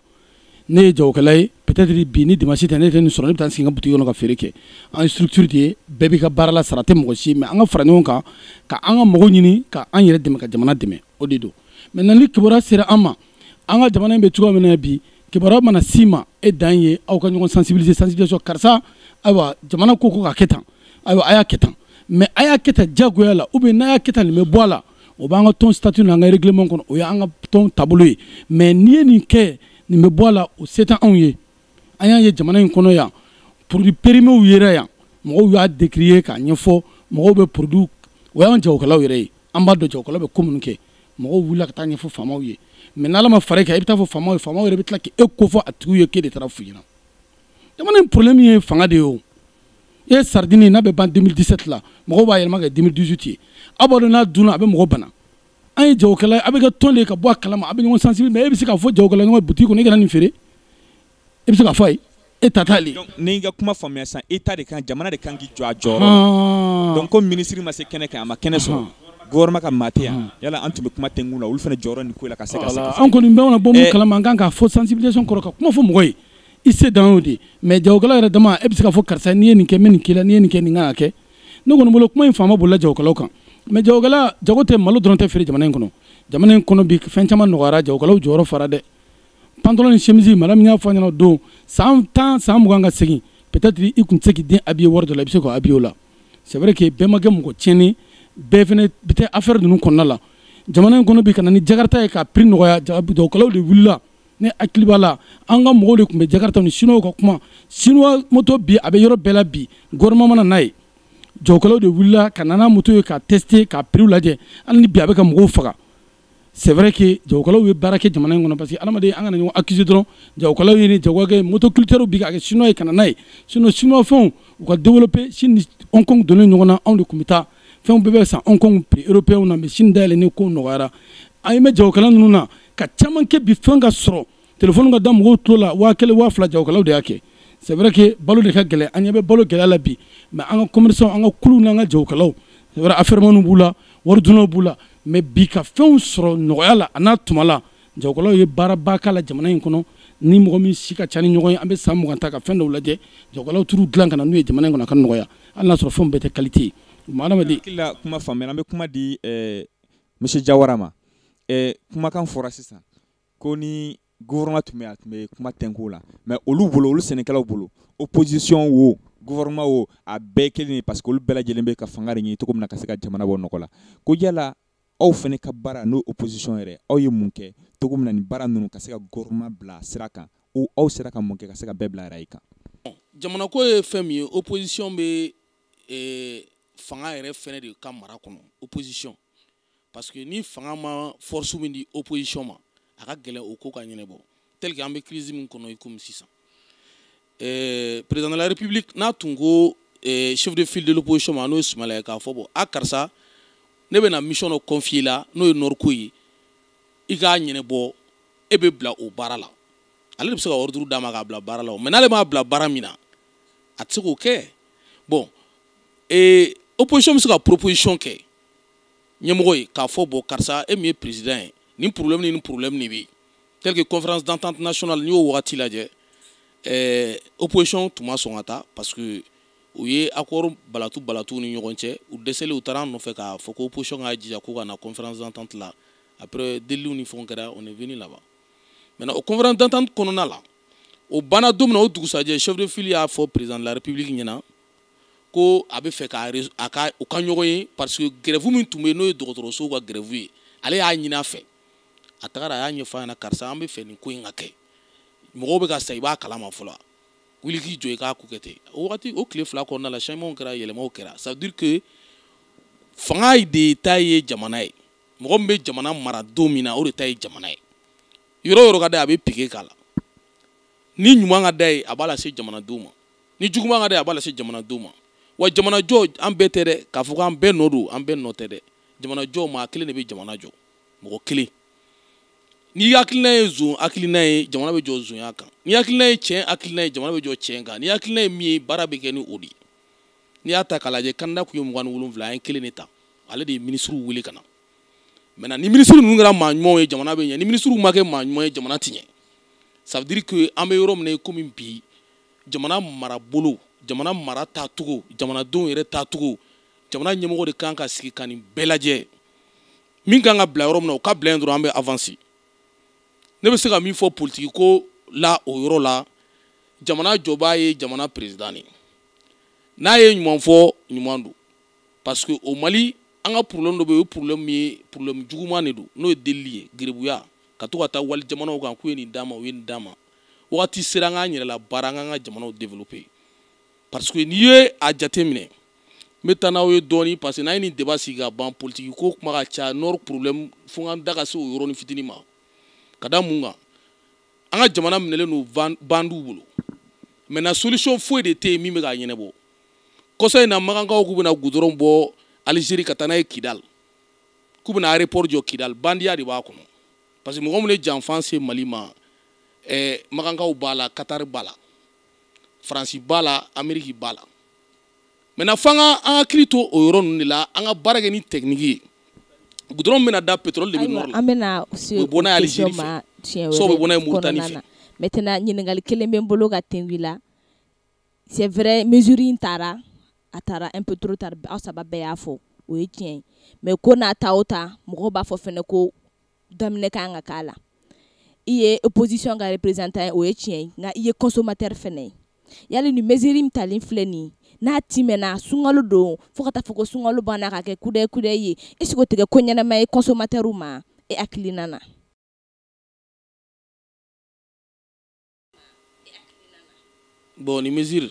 ne ye jagokɛla ye peut-être bi ni dimanche tɛ ne tɛ nin sɔrɔ ne bɛ taa n sigi n ka boutique kɔnɔ ka feere kɛ an ye structure de ye bɛɛ b'i ka baara la sara tɛ mɔgɔ si ye mais an ka fara ɲɔgɔn kan ka an ka mɔgɔw ɲini ka an yɛrɛ dɛmɛ ka jamana dɛmɛ o de don maintenant ni kibaruya sera an ma an ka jamana in bɛ cogoya min na bi kibaruya mana s'i ma e dan ye aw ka ɲɔgɔn sensibiliser sensibilisation karisa ayiwa jamana ko ko ka kɛ tan ayiwa a y'a kɛ tan mais a y'a kɛ tan diyagoya la ou bien n'a y'a kɛ tan nin bɛ bɔ a la o b'an ka tɔn statut n'an ka règlement kɔnɔ o y'an ka tɔn taabolo ye mais n'i ye nin kɛ nin bɛ bɔ a la o se tɛ anw ye an y'a ye jamana in kɔnɔ yan produit périmew yera yan mɔgɔw y'a décrier k'a ɲɛfɔ mɔgɔw bɛ produit o y'an jagokɛlaw yɛrɛ ye an b'a dɔn jagokɛlaw bɛ ko minnu kɛ mɔgɔw wulila ka taa ɲɛfɔ faamaw ye mais n'ala ma fara i kan i bɛ taa fɔ faamaw ye faamaw yɛrɛ bɛ tila k'e kofɔ a tigiw ye k'e de taara f'u ɲɛna jamana in problème ye fanga de ye o e saridini n'a bɛ ban 2017 la mɔgɔw b'a yɛlɛma k'a kɛ 2018 ye aw b'a dɔn n'a dunna a bɛ mɔgɔ bana an ye jagokɛla ye a bɛ kɛ tɔn de ye ka bɔ a kalama a bɛ ɲɔgɔn sensibiliser mais e bɛ se k'a fɔ jagokɛla ɲɔgɔn ye butigi kɔnɔ e kana nin feere e bɛ se k'a fɔ a ye e ta t'ale ye. n'i ka kuma faamuya sisan État de kan jamana de kan k'i jɔ a jɔyɔrɔ la donc comme minisiri ma se kɛnɛ kan a ma kɛnɛ sɔrɔ gouvernement ka maa tɛ yan yala an tun bɛ kuma tɛnkun na olu fana jɔyɔrɔ nin ko in la ka se ka se ka se. an kɔni bɛɛ mana bɔ mun kalama an kan k'a fɔ sensibilisation kɔrɔ ka kuma fɔ mɔgɔ ye. i se dan y'o de ye mais jagokɛla yɛrɛ dama e bɛ se k'a fɔ karisa n'i ye nin kɛ n bɛ nin k'i la n'i ye nin kɛ nin kan ka kɛ ne kɔni bolo kuma in fanba bolila jagokɛlaw kan mais jagokɛla jago tɛ malo dɔrɔn tɛ feere jamana in kɔnɔ jamana in kɔnɔ bi fɛn caman nɔgɔyara jagokɛlaw jɔyɔrɔ fara dɛ pantalon ni chemise madame y'a fɔ ɲinan don san tan san mugan ka segin peut-être i kun tɛ se k'i den habiller wari dɔ la i bɛ se k'o habiller o la c'est vrai que bɛɛ ma kɛ mɔgɔ tiɲɛni bɛɛ fana bɛ tɛ affaire ninnu kɔnɔna la jamana in kɔnɔ bi ka na ni jakarta ye ka prix nɔgɔya jagokɛlaw de wulila ne hakili b'a la an ka mɔgɔw de tun bɛ jakarta ni siniwaw ka kuma siniwa moto bi a bɛ yɔrɔ bɛɛ la bi gouvernement ma na n'a ye jagokɛlaw de wulila ka na ni moto ye ka tester ka prix lajɛ hali ni bi a bɛ ka mɔgɔw faga c'est vrai que jagokɛlaw ye baara kɛ jamana in kɔnɔ parce que adamaden an kana ɲɔgɔn accuser dɔrɔn jagokɛlaw ye ni jagokɛ motoculteurs bi ka kɛ chinois ye ka na n'a ye sinon chinois fɛnw u ka développer Chine ni Hong Kong donnen ɲɔgɔn na anw de tun bɛ taa fɛnw bɛɛ bɛ san Hong Kong prix européens na mais Chine dayɛlɛnnen ko nɔgɔyara an ye mais jagokɛla ninnu na ka caman kɛ bi fɛn ka sɔrɔ telefɔni ka da mɔgɔw tulo la waa kelen waa fila jagokɛlaw de y'a kɛ c'est vrai que balo de ka gɛlɛn an ɲɛ bɛ balo gɛlɛya la bi mais an ka commerçants an ka kuluw n'an ka jagokɛlaw c'est vrai affairemaniw b'u la waridunaw b'u la mais bi ka fɛnw sɔrɔ nɔgɔya la a n'a tuma la jagokɛlaw ye baaraba k'a la jamana in kɔnɔ ni mɔgɔ min si ka ca ni ɲɔgɔn ye an bɛ san mugan ta ka fɛn dɔw lajɛ jagokɛlaw taara u dilan ka na n'u ye jamana in kɔnɔ a ka nɔgɔya hali n'a sɔrɔ fɛnw bɛɛ tɛ qualité ye. Kuma faamuyara an bɛ kuma di eh, monsieur Jawara ma. ɛ kumakan fɔra sisan ko ni gouvernement tun bɛ a tun bɛ kuma tɛnku la mais olu bolo olu sɛnɛkɛlaw bolo opposition wo gouvernement wo a bɛɛ kelen ye parce que olu bɛɛ lajɛlen bɛ ka fanga de ɲini cogo min na ka se ka jamana bɔ nɔgɔ la ko yala aw fɛnɛ ka baara n'o opposition yɛrɛ aw ye mun kɛ cogo min na nin baara ninnu ka se ka gouvernement bila sira kan ou aw sera ka mun kɛ ka se ka bɛɛ bila rail kan jamanako ye fɛn min ye opposition bɛ eh, fanga yɛrɛ fɛnɛ de ka mara kɔnɔ opposition parce que ni fanga ma force min di opposition ma a ka gɛlɛn o ko ka ɲɛnɛbɔ tel que an bɛ crise min kɔnɔ i komi sisan eh, président de la république n'a tun ko eh, chef de file de l'opposition ma n'o ye Soumaïla ye k'a fɔ bon a karisa ne bɛna mission dɔ confier i la n'o ye nord ko ye i k'a ɲɛnɛbɔ e bɛ bila o baara la ale de bɛ se ka ordre d'a ma k'a bila baara la o mais n'ale m'a bila baara min na a tɛ se k'o kɛ bon eh, opposition bɛ se ka proposition kɛ ɲɛmɔgɔ ye k'a fɔ bon karisa e min ye président ye nin problème ni nin problème de bɛ tel que conférence d'entente nationale n'i y'o wagati lajɛ ɛɛ opposition tun ma sɔn ka taa parce que u ye accord balatu balatu ni ɲɔgɔn cɛ u dɛsɛlen u taara an nɔfɛ k'a fɔ ko opposition k'a jija k'u ka na conférence d'entente la après deliliw ni fɛnw kɛra on est venu là-bas maintenant o conférence d'entente kɔnɔna la o banna don min na o dugusajɛ chef de file y'a fɔ président de la république ɲɛna ko a b'a fɛ ka a ka u ka ɲɔgɔn ye parce que grève min tun bɛ n'o ye dɔgɔtɔrɔsow ka grève ye ale y'a ɲini a fɛ a tagara a y'a ɲɛfɔ a ɲɛna karisa an bɛ fɛ nin ko in ka kɛ mɔgɔw bɛ ka sa i b'a kalama fɔlɔ wuli k'i jɔ i k'a ko kɛ ten o wagati o tile fila kɔnɔna la changementw kɛra yɛlɛmaw kɛra ça veut dire que fanga de ta ye jamana ye mɔgɔ min bɛ jamana mara don min na o de ta ye jamana ye yɔrɔ o yɔrɔ ka d'a ye a bɛ pike k'a la ni ɲuman ka d'a ye a b'a lase jamanadenw ma ni juguman ka d'a ye a b'a lase jamanadenw ma wa jamanajɔ an bɛɛ tɛ dɛ k'a fɔ k'an bɛɛ nɔ don an bɛɛ nɔ tɛ dɛ jamanajɔ maa kelen de bɛ jamana jɔ mɔgɔ kelen n'i hakilina ye zon hakilina ye jamana bɛ jɔ zonya kan n'i hakilina ye tiɲɛ hakilina ye jamana bɛ jɔ tiɲɛ kan n'i hakilina ye min ye baara bɛ kɛ ni o de ye n'i y'a ta k'a lajɛ candidat tun ye mugan ni wolonwula an ye kelen de ta ale de ye minisiriw wele ka na maintenant ni minisiri ninnu kɛra maa ɲumanw ye jamana bɛ ɲɛ ni minisiriw ma kɛ maa ɲuman ye jamana tɛ ɲɛ ça veut dire que an bɛ yɔrɔ min na komi bi jamana marabolo jamana mara taacogo jamanadenw yɛrɛ taacogo jamana ɲɛmɔgɔ de kan ka sigi ka nin bɛɛ lajɛ min kan ka bila yɔrɔ min na o ka bila yen dɔrɔn an bɛ avansi ne bɛ se ka min fɔ politiki ko la o yɔrɔ la jamana jɔbaa ye jamana perezidan de ye n'a ye ɲuman fɔ ɲuman don parce que au mali an ka problème dɔ bɛ yen o ye problème min ye problème juguman de don n'o ye delili ye garibuya ka to ka taa wali jamanaw kan k'u ye nin d'an ma u ye nin d'an ma wagati sera an k'an yɛrɛ labaara an k'an ka jamanaw développer parce que n'i ye a jate minɛ n bɛ taa n'aw ye dɔɔni parce que n'an ye nin débat sigi ka ban politiki ko kuma ka ca nord problème fo n da ka se o yɔrɔnin fitinin ma ka da mun kan an ka jamana minɛlen don bandiw bolo maintenant solution foyi de tɛ yen min bɛ k'a ɲɛnabɔ kɔsa in na makankaw k'u bɛna gudɔrɔn bɔ alizeri ka taa n'a ye kidal k'u bɛna aéroport jɔ kidal bandiya de b'a kɔnɔ parce que mɔgɔ minnu ye janfa se mali ma eh, makankaw b'a la katari b'a la faransi b'a la ameriki b'a la maintenant f'an ka an hakili to o yɔrɔ ninnu de la an ka baara kɛ ni tɛkiniki ye gudɔrɔn bɛna da pétrole de bɛ nɔrɔ la an bɛna se o bɛ bɔ n'a ye alizeri question ma fɛ tiɲɛ so bɛ wɛrɛ bɔ n'a ye muritani kɔnɔna fɛ na maintenant ɲininkali kelen bɛ n bolo ka tɛngu i la c'est vrai mesure in tara a tara un peu trop tard aw saba bɛɛ y'a fɔ o ye tiɲɛ ye mais ko n'a ta o ta mɔgɔw b'a fɔ fɛnɛ ko daminɛ ka kan ka k'a la i ye opposition ka représentant ye o ye tiɲɛ ye nka i ye consommateur fɛnɛ ye yali nin mesure min talen filɛ nin ye n'a timɛna sunkalo don fo ka taa fɔ ko sunkalo banna ka kɛ kudɛ kudɛ ye est ce que o tɛ kɛ ko ɲɛnama ye consommateur ma e hakilina na bɔn ni mesure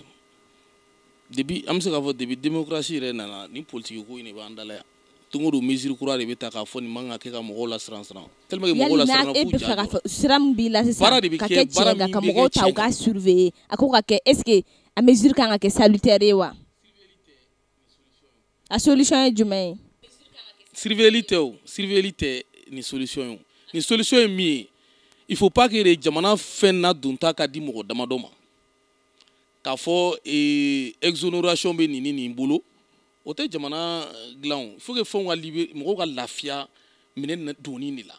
depuis an bɛ se k'a fɔ depuis démocratie yɛrɛ nana ni politiki ko in de b'an da la yan don o don mesure kura de bɛ ta k'a fɔ nin man ka kɛ ka mɔgɔw lasiran siran tellement que mɔgɔw lasiranna k'u ja jɔ sira min b'i la sisan baara de bɛ ka kɛ tiɲɛ kan ka mɔgɔw ta u ka surveiller a ko ka kɛ est ce que a mesure kan ka kɛ salutaire ye wa a solution ye jumɛn ye surveiller tɛ o surveiller tɛ nin solution ye o nin solution ye min ye il faut pas que de jamana fɛn nadonta ka di mɔgɔ damadɔ ma k'a fɔ ee, exonération bɛ nin ni nin bolo o tɛ jamana eh, dilan o il faut que fɛnw ka libere mɔgɔw ka lafiya minɛn na- donni de la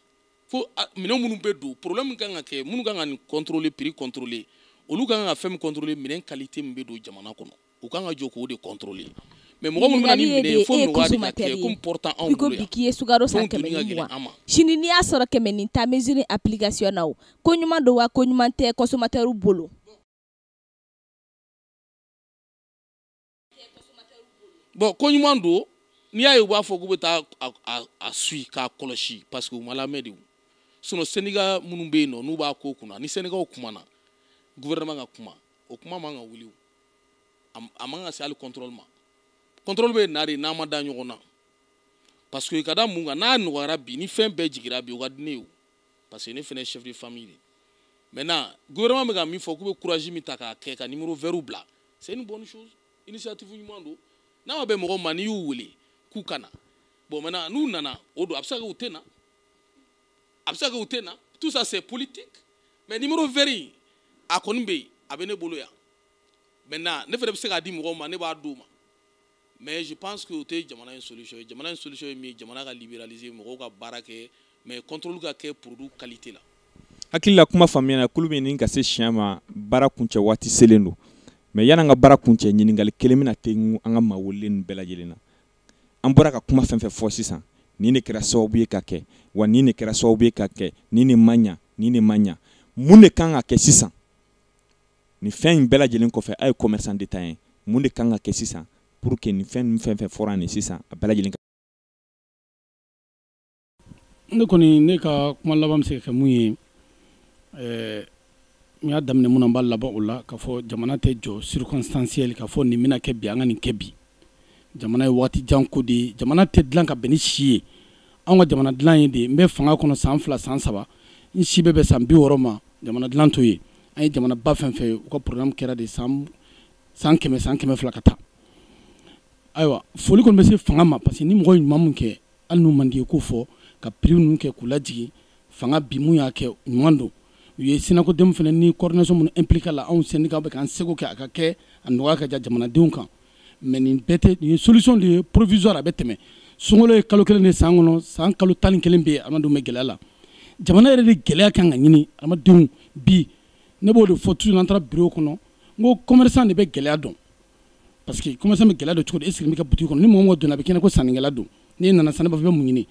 fo a- minɛn minnu bɛ don problème kan ka kɛ minnu kan ka nin contrôler prix contrôler olu kan ka fɛn min contrôler minɛn qualité min bɛ don jamana kɔnɔ u kan ka jɔ k'o de contrôler mais mɔgɔ minnu bɛ na ni minɛn ye fo mɔgɔ de ka kɛ comme portant anw bolo yan k'i ye sukaro san kɛmɛ ni mugan sini n'i y'a sɔrɔ kɛmɛ ni tan mesure application na o ko ɲuman don wa ko ɲuman tɛ consommateur bolo bon ko ɲuman don n'i y'a ye u b'a fɔ k'u bɛ taa a suivre k'a kɔlɔsi parce que u ma lamɛn de sinon syndicat minnu bɛ yen nɔ n'u b'a ko kunna ni syndicatw kumana gouvernement ka kuma o kuma man ka wuli a man ka se hali contrôle ma contrôle bɛ na de n'an ma da ɲɔgɔn na parce que ka da mun kan n'a nɔgɔyara bi ni fɛn bɛɛ jigira bi o ka di ne ye o parce que ne fana ye chef de famille de ye maintenant gouvernement bɛ ka min fɔ k'u bɛ courage min ta k'a kɛ ka numéro vert bila c'est une bonne chose initiative ɲuman don n'a ma bɛn mɔgɔ ma n'i y'u wele k'u ka na bon maintenant n'u nana o don a bɛ se ka kɛ u tɛ na a bɛ se ka kɛ u tɛ na tout ça c'est politique mais numéro vert in a kɔni bɛ yen a bɛ ne bolo yan maintenant ne fana bɛ se k'a di mɔgɔw ma ne b'a d'u ma mais je pense que o tɛ jamana in solution ye jamana in solution ye min ye jamana ka libéraliser mɔgɔw ka baara kɛ mais contrôle ka kɛ produit qualité la. hakilila kuma faamuyana kulun bɛ ɲini ka se siɲɛ ma baara kuncɛ waati selen don mais yan'an ka baara kuncɛ ɲininkali kelen bɛna tengu an ka maa welelen ninnu bɛɛ lajɛlen na an bɔra ka kuma fɛn fɛn fɔ sisan nin ne kɛra sababu ye ka kɛ wa nin ne kɛra sababu ye ka kɛ nin ne ma ɲa nin ne ma ɲa mun de kan ka kɛ sisan nin fɛn in bɛɛ lajɛlen kɔfɛ a ye commerçant détaillant mun de kan ka kɛ sisan pour que nin fɛn ninnu fɛn fɛn fɔra nin sisan a bɛɛ lajɛlen ka ne kɔni ne ka kuma laban bɛ se ka kɛ mun ye ɛɛ n y'a daminɛ mun na n b'a laban o la k'a fɔ jamana tɛ jɔ circonstanciel k'a fɔ nin bɛna kɛ bi an ka nin kɛ bi jamana ye waati jan ko de ye jamana tɛ dilan ka bɛn ni si ye anw ka jamana dilan ye de n bɛ fanga kɔnɔ san fila san saba n si bɛ bɛn san bi wɔɔrɔ ma jamana dilan t'o ye an ye jamana ba fɛn fɛn ye u ka programme kɛra de san san kɛmɛ san kɛmɛ fila ka taa ayiwa foli kɔni bɛ se fanga ma parce que ni mɔgɔ ye ɲuman mun kɛ hali n'u man d'i ye k'o fɔ ka prix ninnu kɛ k'u lajigin fanga bi mun y'a kɛ ɲuman don u ye synacodem fana ni coordination minnu impliquer a la anw syndicatw bɛ k'an seko kɛ a ka kɛ a nɔgɔya ka ja jamanadenw kan mais nin bɛɛ tɛ nin ye solution de ye provisoire a bɛ tɛmɛ sunkalo ye kalo kelen de san kɔnɔ san kalo tan ni kelen bɛ yen adamadenw bɛ gɛlɛya la jamana yɛrɛ de gɛlɛya kan ka ɲini adamadenw bi ne b'o de fɔ toujours n'an taara bureau kɔnɔ n ko commerçant de bɛ gɛlɛya dɔn parce que commerçant bɛ gɛlɛya dɔn cogo di e sigilen b'i ka boutique kɔnɔ ni mɔgɔ mɔgɔ donna a bɛ k'i ɲɛ ko sannikɛla don n'i nana sanni b'a fɔ i bɛ mun ɲini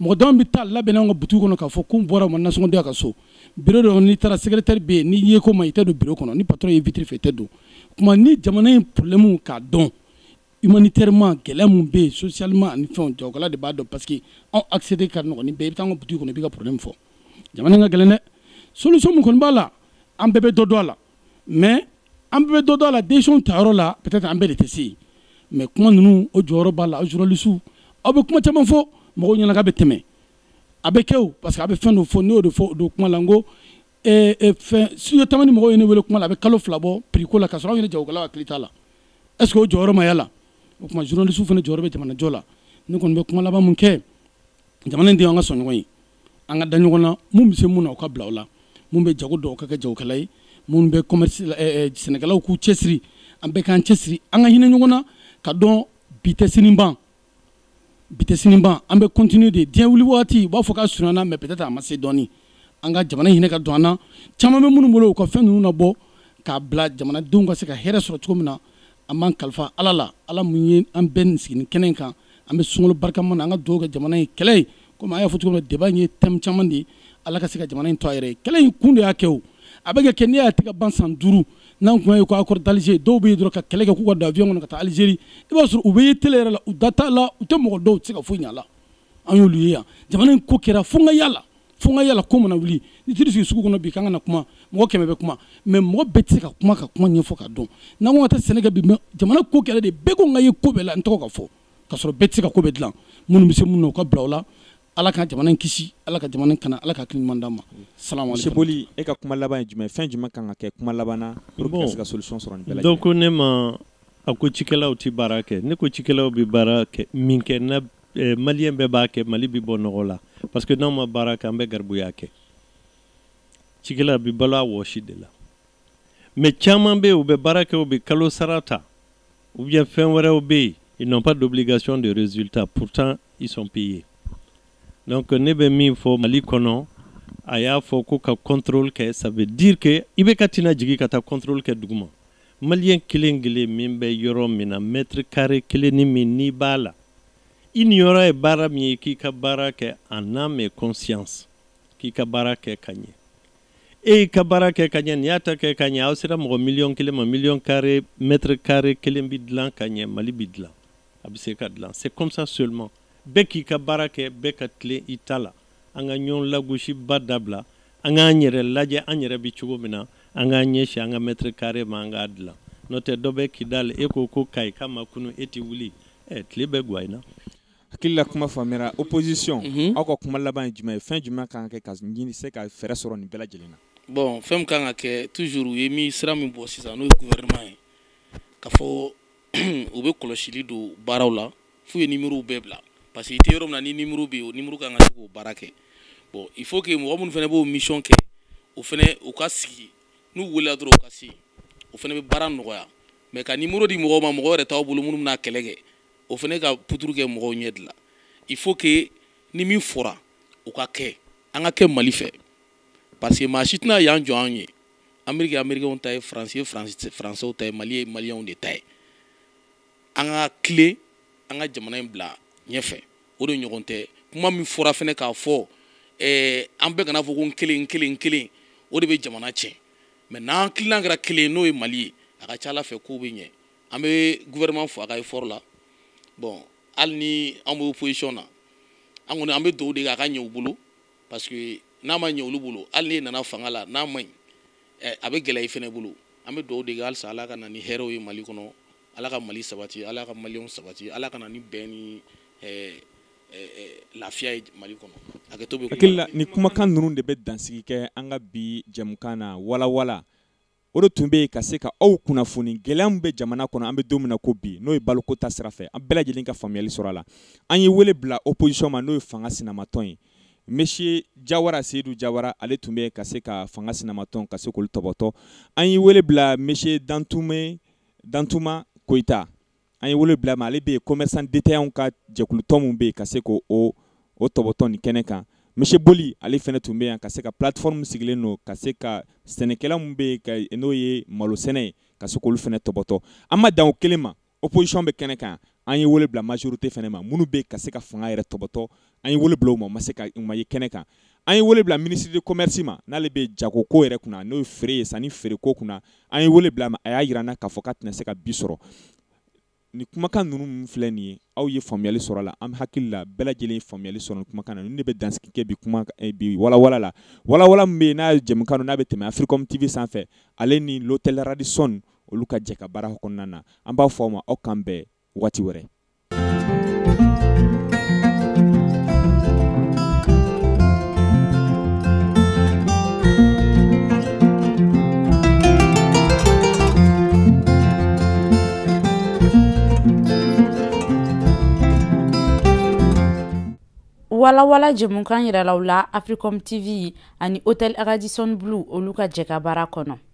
mɔgɔ dɔw bɛ taa laban anw ka boutique kɔnɔ k'a fɔ ko n bɔra n ma nasɔngɔ di n ka so bureau dɔ n'i taara secrétaire bɛ yen n'i ye ko ma i tɛ don bureau kɔnɔ ni patron y'i ye vitre fɛ i tɛ don tuma ni jamana in problème k'a dɔn humanitairement gɛlɛya min bɛ yen socialement ani fɛnw jagokɛla de b'a dɔn parce que anw accéder ka nɔgɔn ni bɛɛ i bɛ taa an ka boutique kɔnɔ i b'i ka problème fɔ jamana in ka gɛlɛn dɛ solution min kɔni b'a la an bɛɛ bɛ dɔ dɔn a la mais an bɛɛ bɛ dɔ dɔn a la décision tayɔrɔ la peut-être an bɛɛ de tɛ se yen mais kuma ninnu o jɔyɔrɔ b'a la journalistes aw bɛ kuma caman fɔ mɔgɔw ɲɛna k'a bɛ tɛmɛ a bɛ kɛ o parce que a bɛ fɛn dɔ fɔ ne y'o de fɔ o don kuma la n ko eh, eh, fɛn studio tamani mɔgɔw ye ne wele kuma la a bɛ kalo fila bɔ prix ko la k'a sɔrɔ anw yɛrɛ jagokɛlaw hakili t'a la est ce que o jɔyɔrɔ ma y'a la o tuma journalistes fana jɔyɔrɔ bɛ jamanajɔ la ne kɔni bɛ kuma laban mun kɛ jamana in den an ka sɔn ɲɔgɔn ye an ka da ɲɔgɔn na mun bɛ se mun na o ka bila o la mun bɛ jago dɔn o ka kɛ jagokɛla ye mun bɛ commerce sɛnɛkɛlaw k'u cɛsiri an bɛɛ k'an cɛsiri an ka hinɛ ɲɔgɔn na ka dɔn bi tɛ sini ban bi tɛ sini ban an bɛ continuer de diɲɛ wuli waati u b'a fɔ k'a surunyana mais peut-être a ma se dɔɔni an ka jamana hinɛ ka don an na caman bɛ minnu bolo u ka fɛn ninnu labɔ k'a bila jamanadenw ka se ka hɛrɛ sɔrɔ cogo min na an b'an kalifa ala la ala mun ye an bɛɛ nin sigi kɛnɛ in kan an bɛ sunkalo barikama na an ka dugawu kɛ jamana in kɛlɛ ye komi an y'a fɔ cogo min débat in ye thème caman de ye ala ka se ka jamana in to a yɛrɛ ye kɛlɛ in kun de y'a kɛ o a bɛ kɛ kɛ n'i y'a ye a tɛ ka ban san duuru n'an kun y'a ye ko accord d'alger dɔw bɛ yen dɔrɔn ka kɛlɛ kɛ k'u ka don avion kɔnɔ ka taa algérie i b'a sɔrɔ u bɛ ye télé yɛrɛ la u da t'a la u tɛ mɔgɔ dɔw tɛ se ka foyi ɲ'a la an y'olu ye yan jamana in ko kɛra fo n ka y'a la fo n ka y'a la ko mana wuli n'i taar'i sigi sugu kɔnɔ bi k'an ka na kuma mɔgɔ kɛmɛ bɛ kuma mais mɔgɔ bɛɛ tɛ se ka kuma ka kuma ɲɛfɔ ka dɔn n'an ko ka taa sɛnɛ kɛ bi mais jamana ko kɛra de bɛɛ ko n ka ye ko bɛɛ la n tɔgɔ ka fɔ ka sɔrɔ bɛɛ tɛ se ka ko bɛɛ dilan minnu bɛ se minnu na u ka bila o la ala ka jamana in kisi ala ka jamana kana ala ka hakili ɲuman d'an ma salamaleboli e ka kuma laban ye jumɛn fɛn jumɛn kan ka kɛ kuma laban na pour que ka se ka solution sɔrɔ nin bɛɛ lajɛlen donc ne ma a ko cikɛlaw tɛ baara kɛ ne ko cikɛlaw bɛ baara kɛ min kɛ na eh, maliyɛn bɛɛ b'a kɛ mali bɛ bɔ nɔgɔ la parce que n'anw ma baara kɛ an bɛ garibuya kɛ cikɛla bɛ balo a wɔsi de la maa caman bɛ yen u bɛ baara kɛ u bɛ kalo sara ta ou bien fɛn wɛrɛw bɛ yen ils n'ont pas d'obligation de résultat pourtant ils sont payés donc ne bɛ min fɔ mali kɔnɔ a y'a fɔ ko ka contrôle kɛ ça veut dire que i bɛ ka tina jigin ka taa contrôle kɛ duguma maliyɛn kelen kelen min bɛ yɔrɔ min na mɛtiri kare kelen ni min n'i b'a la i niyɔrɔ ye baara min ye k'i ka baara kɛ en âme et conscience k'i ka baara kɛ ka ɲɛ e y'i ka baara kɛ ka ɲɛ nin y'a ta kɛ ka ɲɛ aw sera mɔgɔ miliyɔn kelen ma miliyɔn kare mɛtiri kare kelen bi dilan ka ɲɛ mali bi dilan a bɛ se ka dilan c'est comme ça seulement bɛɛ k'i ka baara kɛ bɛɛ ka tilen i ta la an ka ɲɔgɔn lagosiba dabila an k'an yɛrɛ lajɛ an yɛrɛ bɛ cogo min na an k'an ɲɛsin an ka mɛtiri kare ma an k'a dilan n'o tɛ dɔ bɛ kidali e ko ko kayika ma kunun e tɛ wuli ɛ tile bɛ gwan i na hakili la kuma faamuyara opposition mhm. aw ka kuma laban ye jumɛn ye fɛn jumɛn kan ka kɛ ka ɲini se ka fɛɛrɛ sɔrɔ nin bɛɛ lajɛlen na bon fɛn min kan ka kɛ toujours u ye min sira min bɔ sisan n'o ye gouvernement ye k'a fɔ u bɛ kɔlɔsili don baaraw la f'u ye nimerow bɛɛ bila parce que i tɛ yɔrɔ min na ni nimero bɛ yen o nimero kan ka se k'o baara kɛ bon il faut que mɔgɔ minnu fana b'o mission kɛ o fana u ka sigi n'u welela dɔrɔn u ka se o fana bɛ baara nɔgɔya mais ka nimero di mɔgɔw ma mɔgɔ yɛrɛ t'aw bolo minnu bɛna kɛlɛ kɛ o fana ka puturu kɛ mɔgɔw ɲɛ de la il faut que ni min fɔra o ka kɛ an ka kɛ mali fɛ parce que maa si tɛna yan jɔ anw ye ameriki amerikɛnw ta ye faransi ye faransi faransɛw ta ye mali ye maliyɛnw de ta ye an ka tilen an ka jamana in bila ɲɛfɛ o de ɲɔgɔn tɛ kuma min fɔra fɛnɛ k'a fɔ eh, an bɛɛ kana a fɔ ko n kelen n kelen n kelen o de bɛ jamana tiɲɛ mais n'an tilan kɛra kelen n'o ye mali ye a ka ca ala fɛ kow bɛ ɲɛ an bɛ gouvernement fo a ka effort la bon hali ni an bɛ opposition na an kɔni an bɛ dugawu de kɛ a ka ɲɛ u bolo parce que n'a ma ɲɛ olu bolo hali n'e nana fanga la n'a man ɲi ɛ a bɛ gɛlɛya i fɛnɛ bolo an bɛ dugawu de kɛ halisa ala ka na ni hɛrɛw ye mali kɔnɔ ala ka mali sabati ala ka maliyɛnw sabati ala ka na ni bɛn ni ɛ lafiya ye mali kɔnɔ a kɛ to bɛ hakili la nin kumakan ninnu de bɛ dansigi kɛ an ka bi jɛmukan na walawala o de tun bɛ yen ka se ka aw kunnafoni gɛlɛya min bɛ jamana kɔnɔ an bɛ don min na ko bi n'o ye baloko ta sira fɛ an bɛɛ lajɛlen ka faamuyali sɔrɔ a la an ye wele bila opposition ma n'o ye fanga sinamatɔn ye monsieur jawara seyidu jawara ale tun bɛ yan ka se ka fanga sinamatɔn ka se k'olu tɔbɔtɔ an ye wele bila monsieur dantume dantuma koyita an ye wele bila ma ale bɛ yen kɔmɛrisan detayanw ka jɛkulutɔn min bɛ yen ka se k'o o tɔbɔtɔ nin kɛnɛ kan monsieur boli ale fana tun bɛ yan ka se ka platfɔrɔmu sigilen don ka se ka sɛnɛkɛla min bɛ yen ka n'o ye malo sɛnɛ ye ka se k'olu fana tɔbɔtɔ an ma dan o kelen ma opposition bɛ kɛnɛ kan an ye wele bila majorité fɛnɛ ma minnu bɛ ka se ka fanga yɛrɛ tɔpɔtɔ an ye wele bila u ma u ma se ka u ma ye kɛnɛ kan an ye wele bila ministre de commerce ma n'ale bɛ jago ko yɛrɛ kunna n'o ye feere ye sanni feere ko kunna an ye wele bila a ma a y'a jira an na k'a fɔ k'a tɛna se ka bi sɔrɔ ni kumakan ninnu min filɛ nin ye aw ye faamuyali sɔrɔ a la an hakili la bɛɛ lajɛlen ye faamuyali sɔrɔ nin kumakan na ninnu de bɛ dansigi kɛ bi kuma eh, bi walawala la walawala min bɛ yen n'a ye jɛmukan n'a bɛ tɛmɛ Africom TV sanfɛ ale ni l'hôtel Radisson olu ka jɛkabaara kɔnɔna na an b'a fɔ aw ma aw k'an bɛn wagati wɛrɛ walawala jɛmukan yirala aw la africom tv ani hotel radisson blue olu ka jɛkabaara kɔnɔ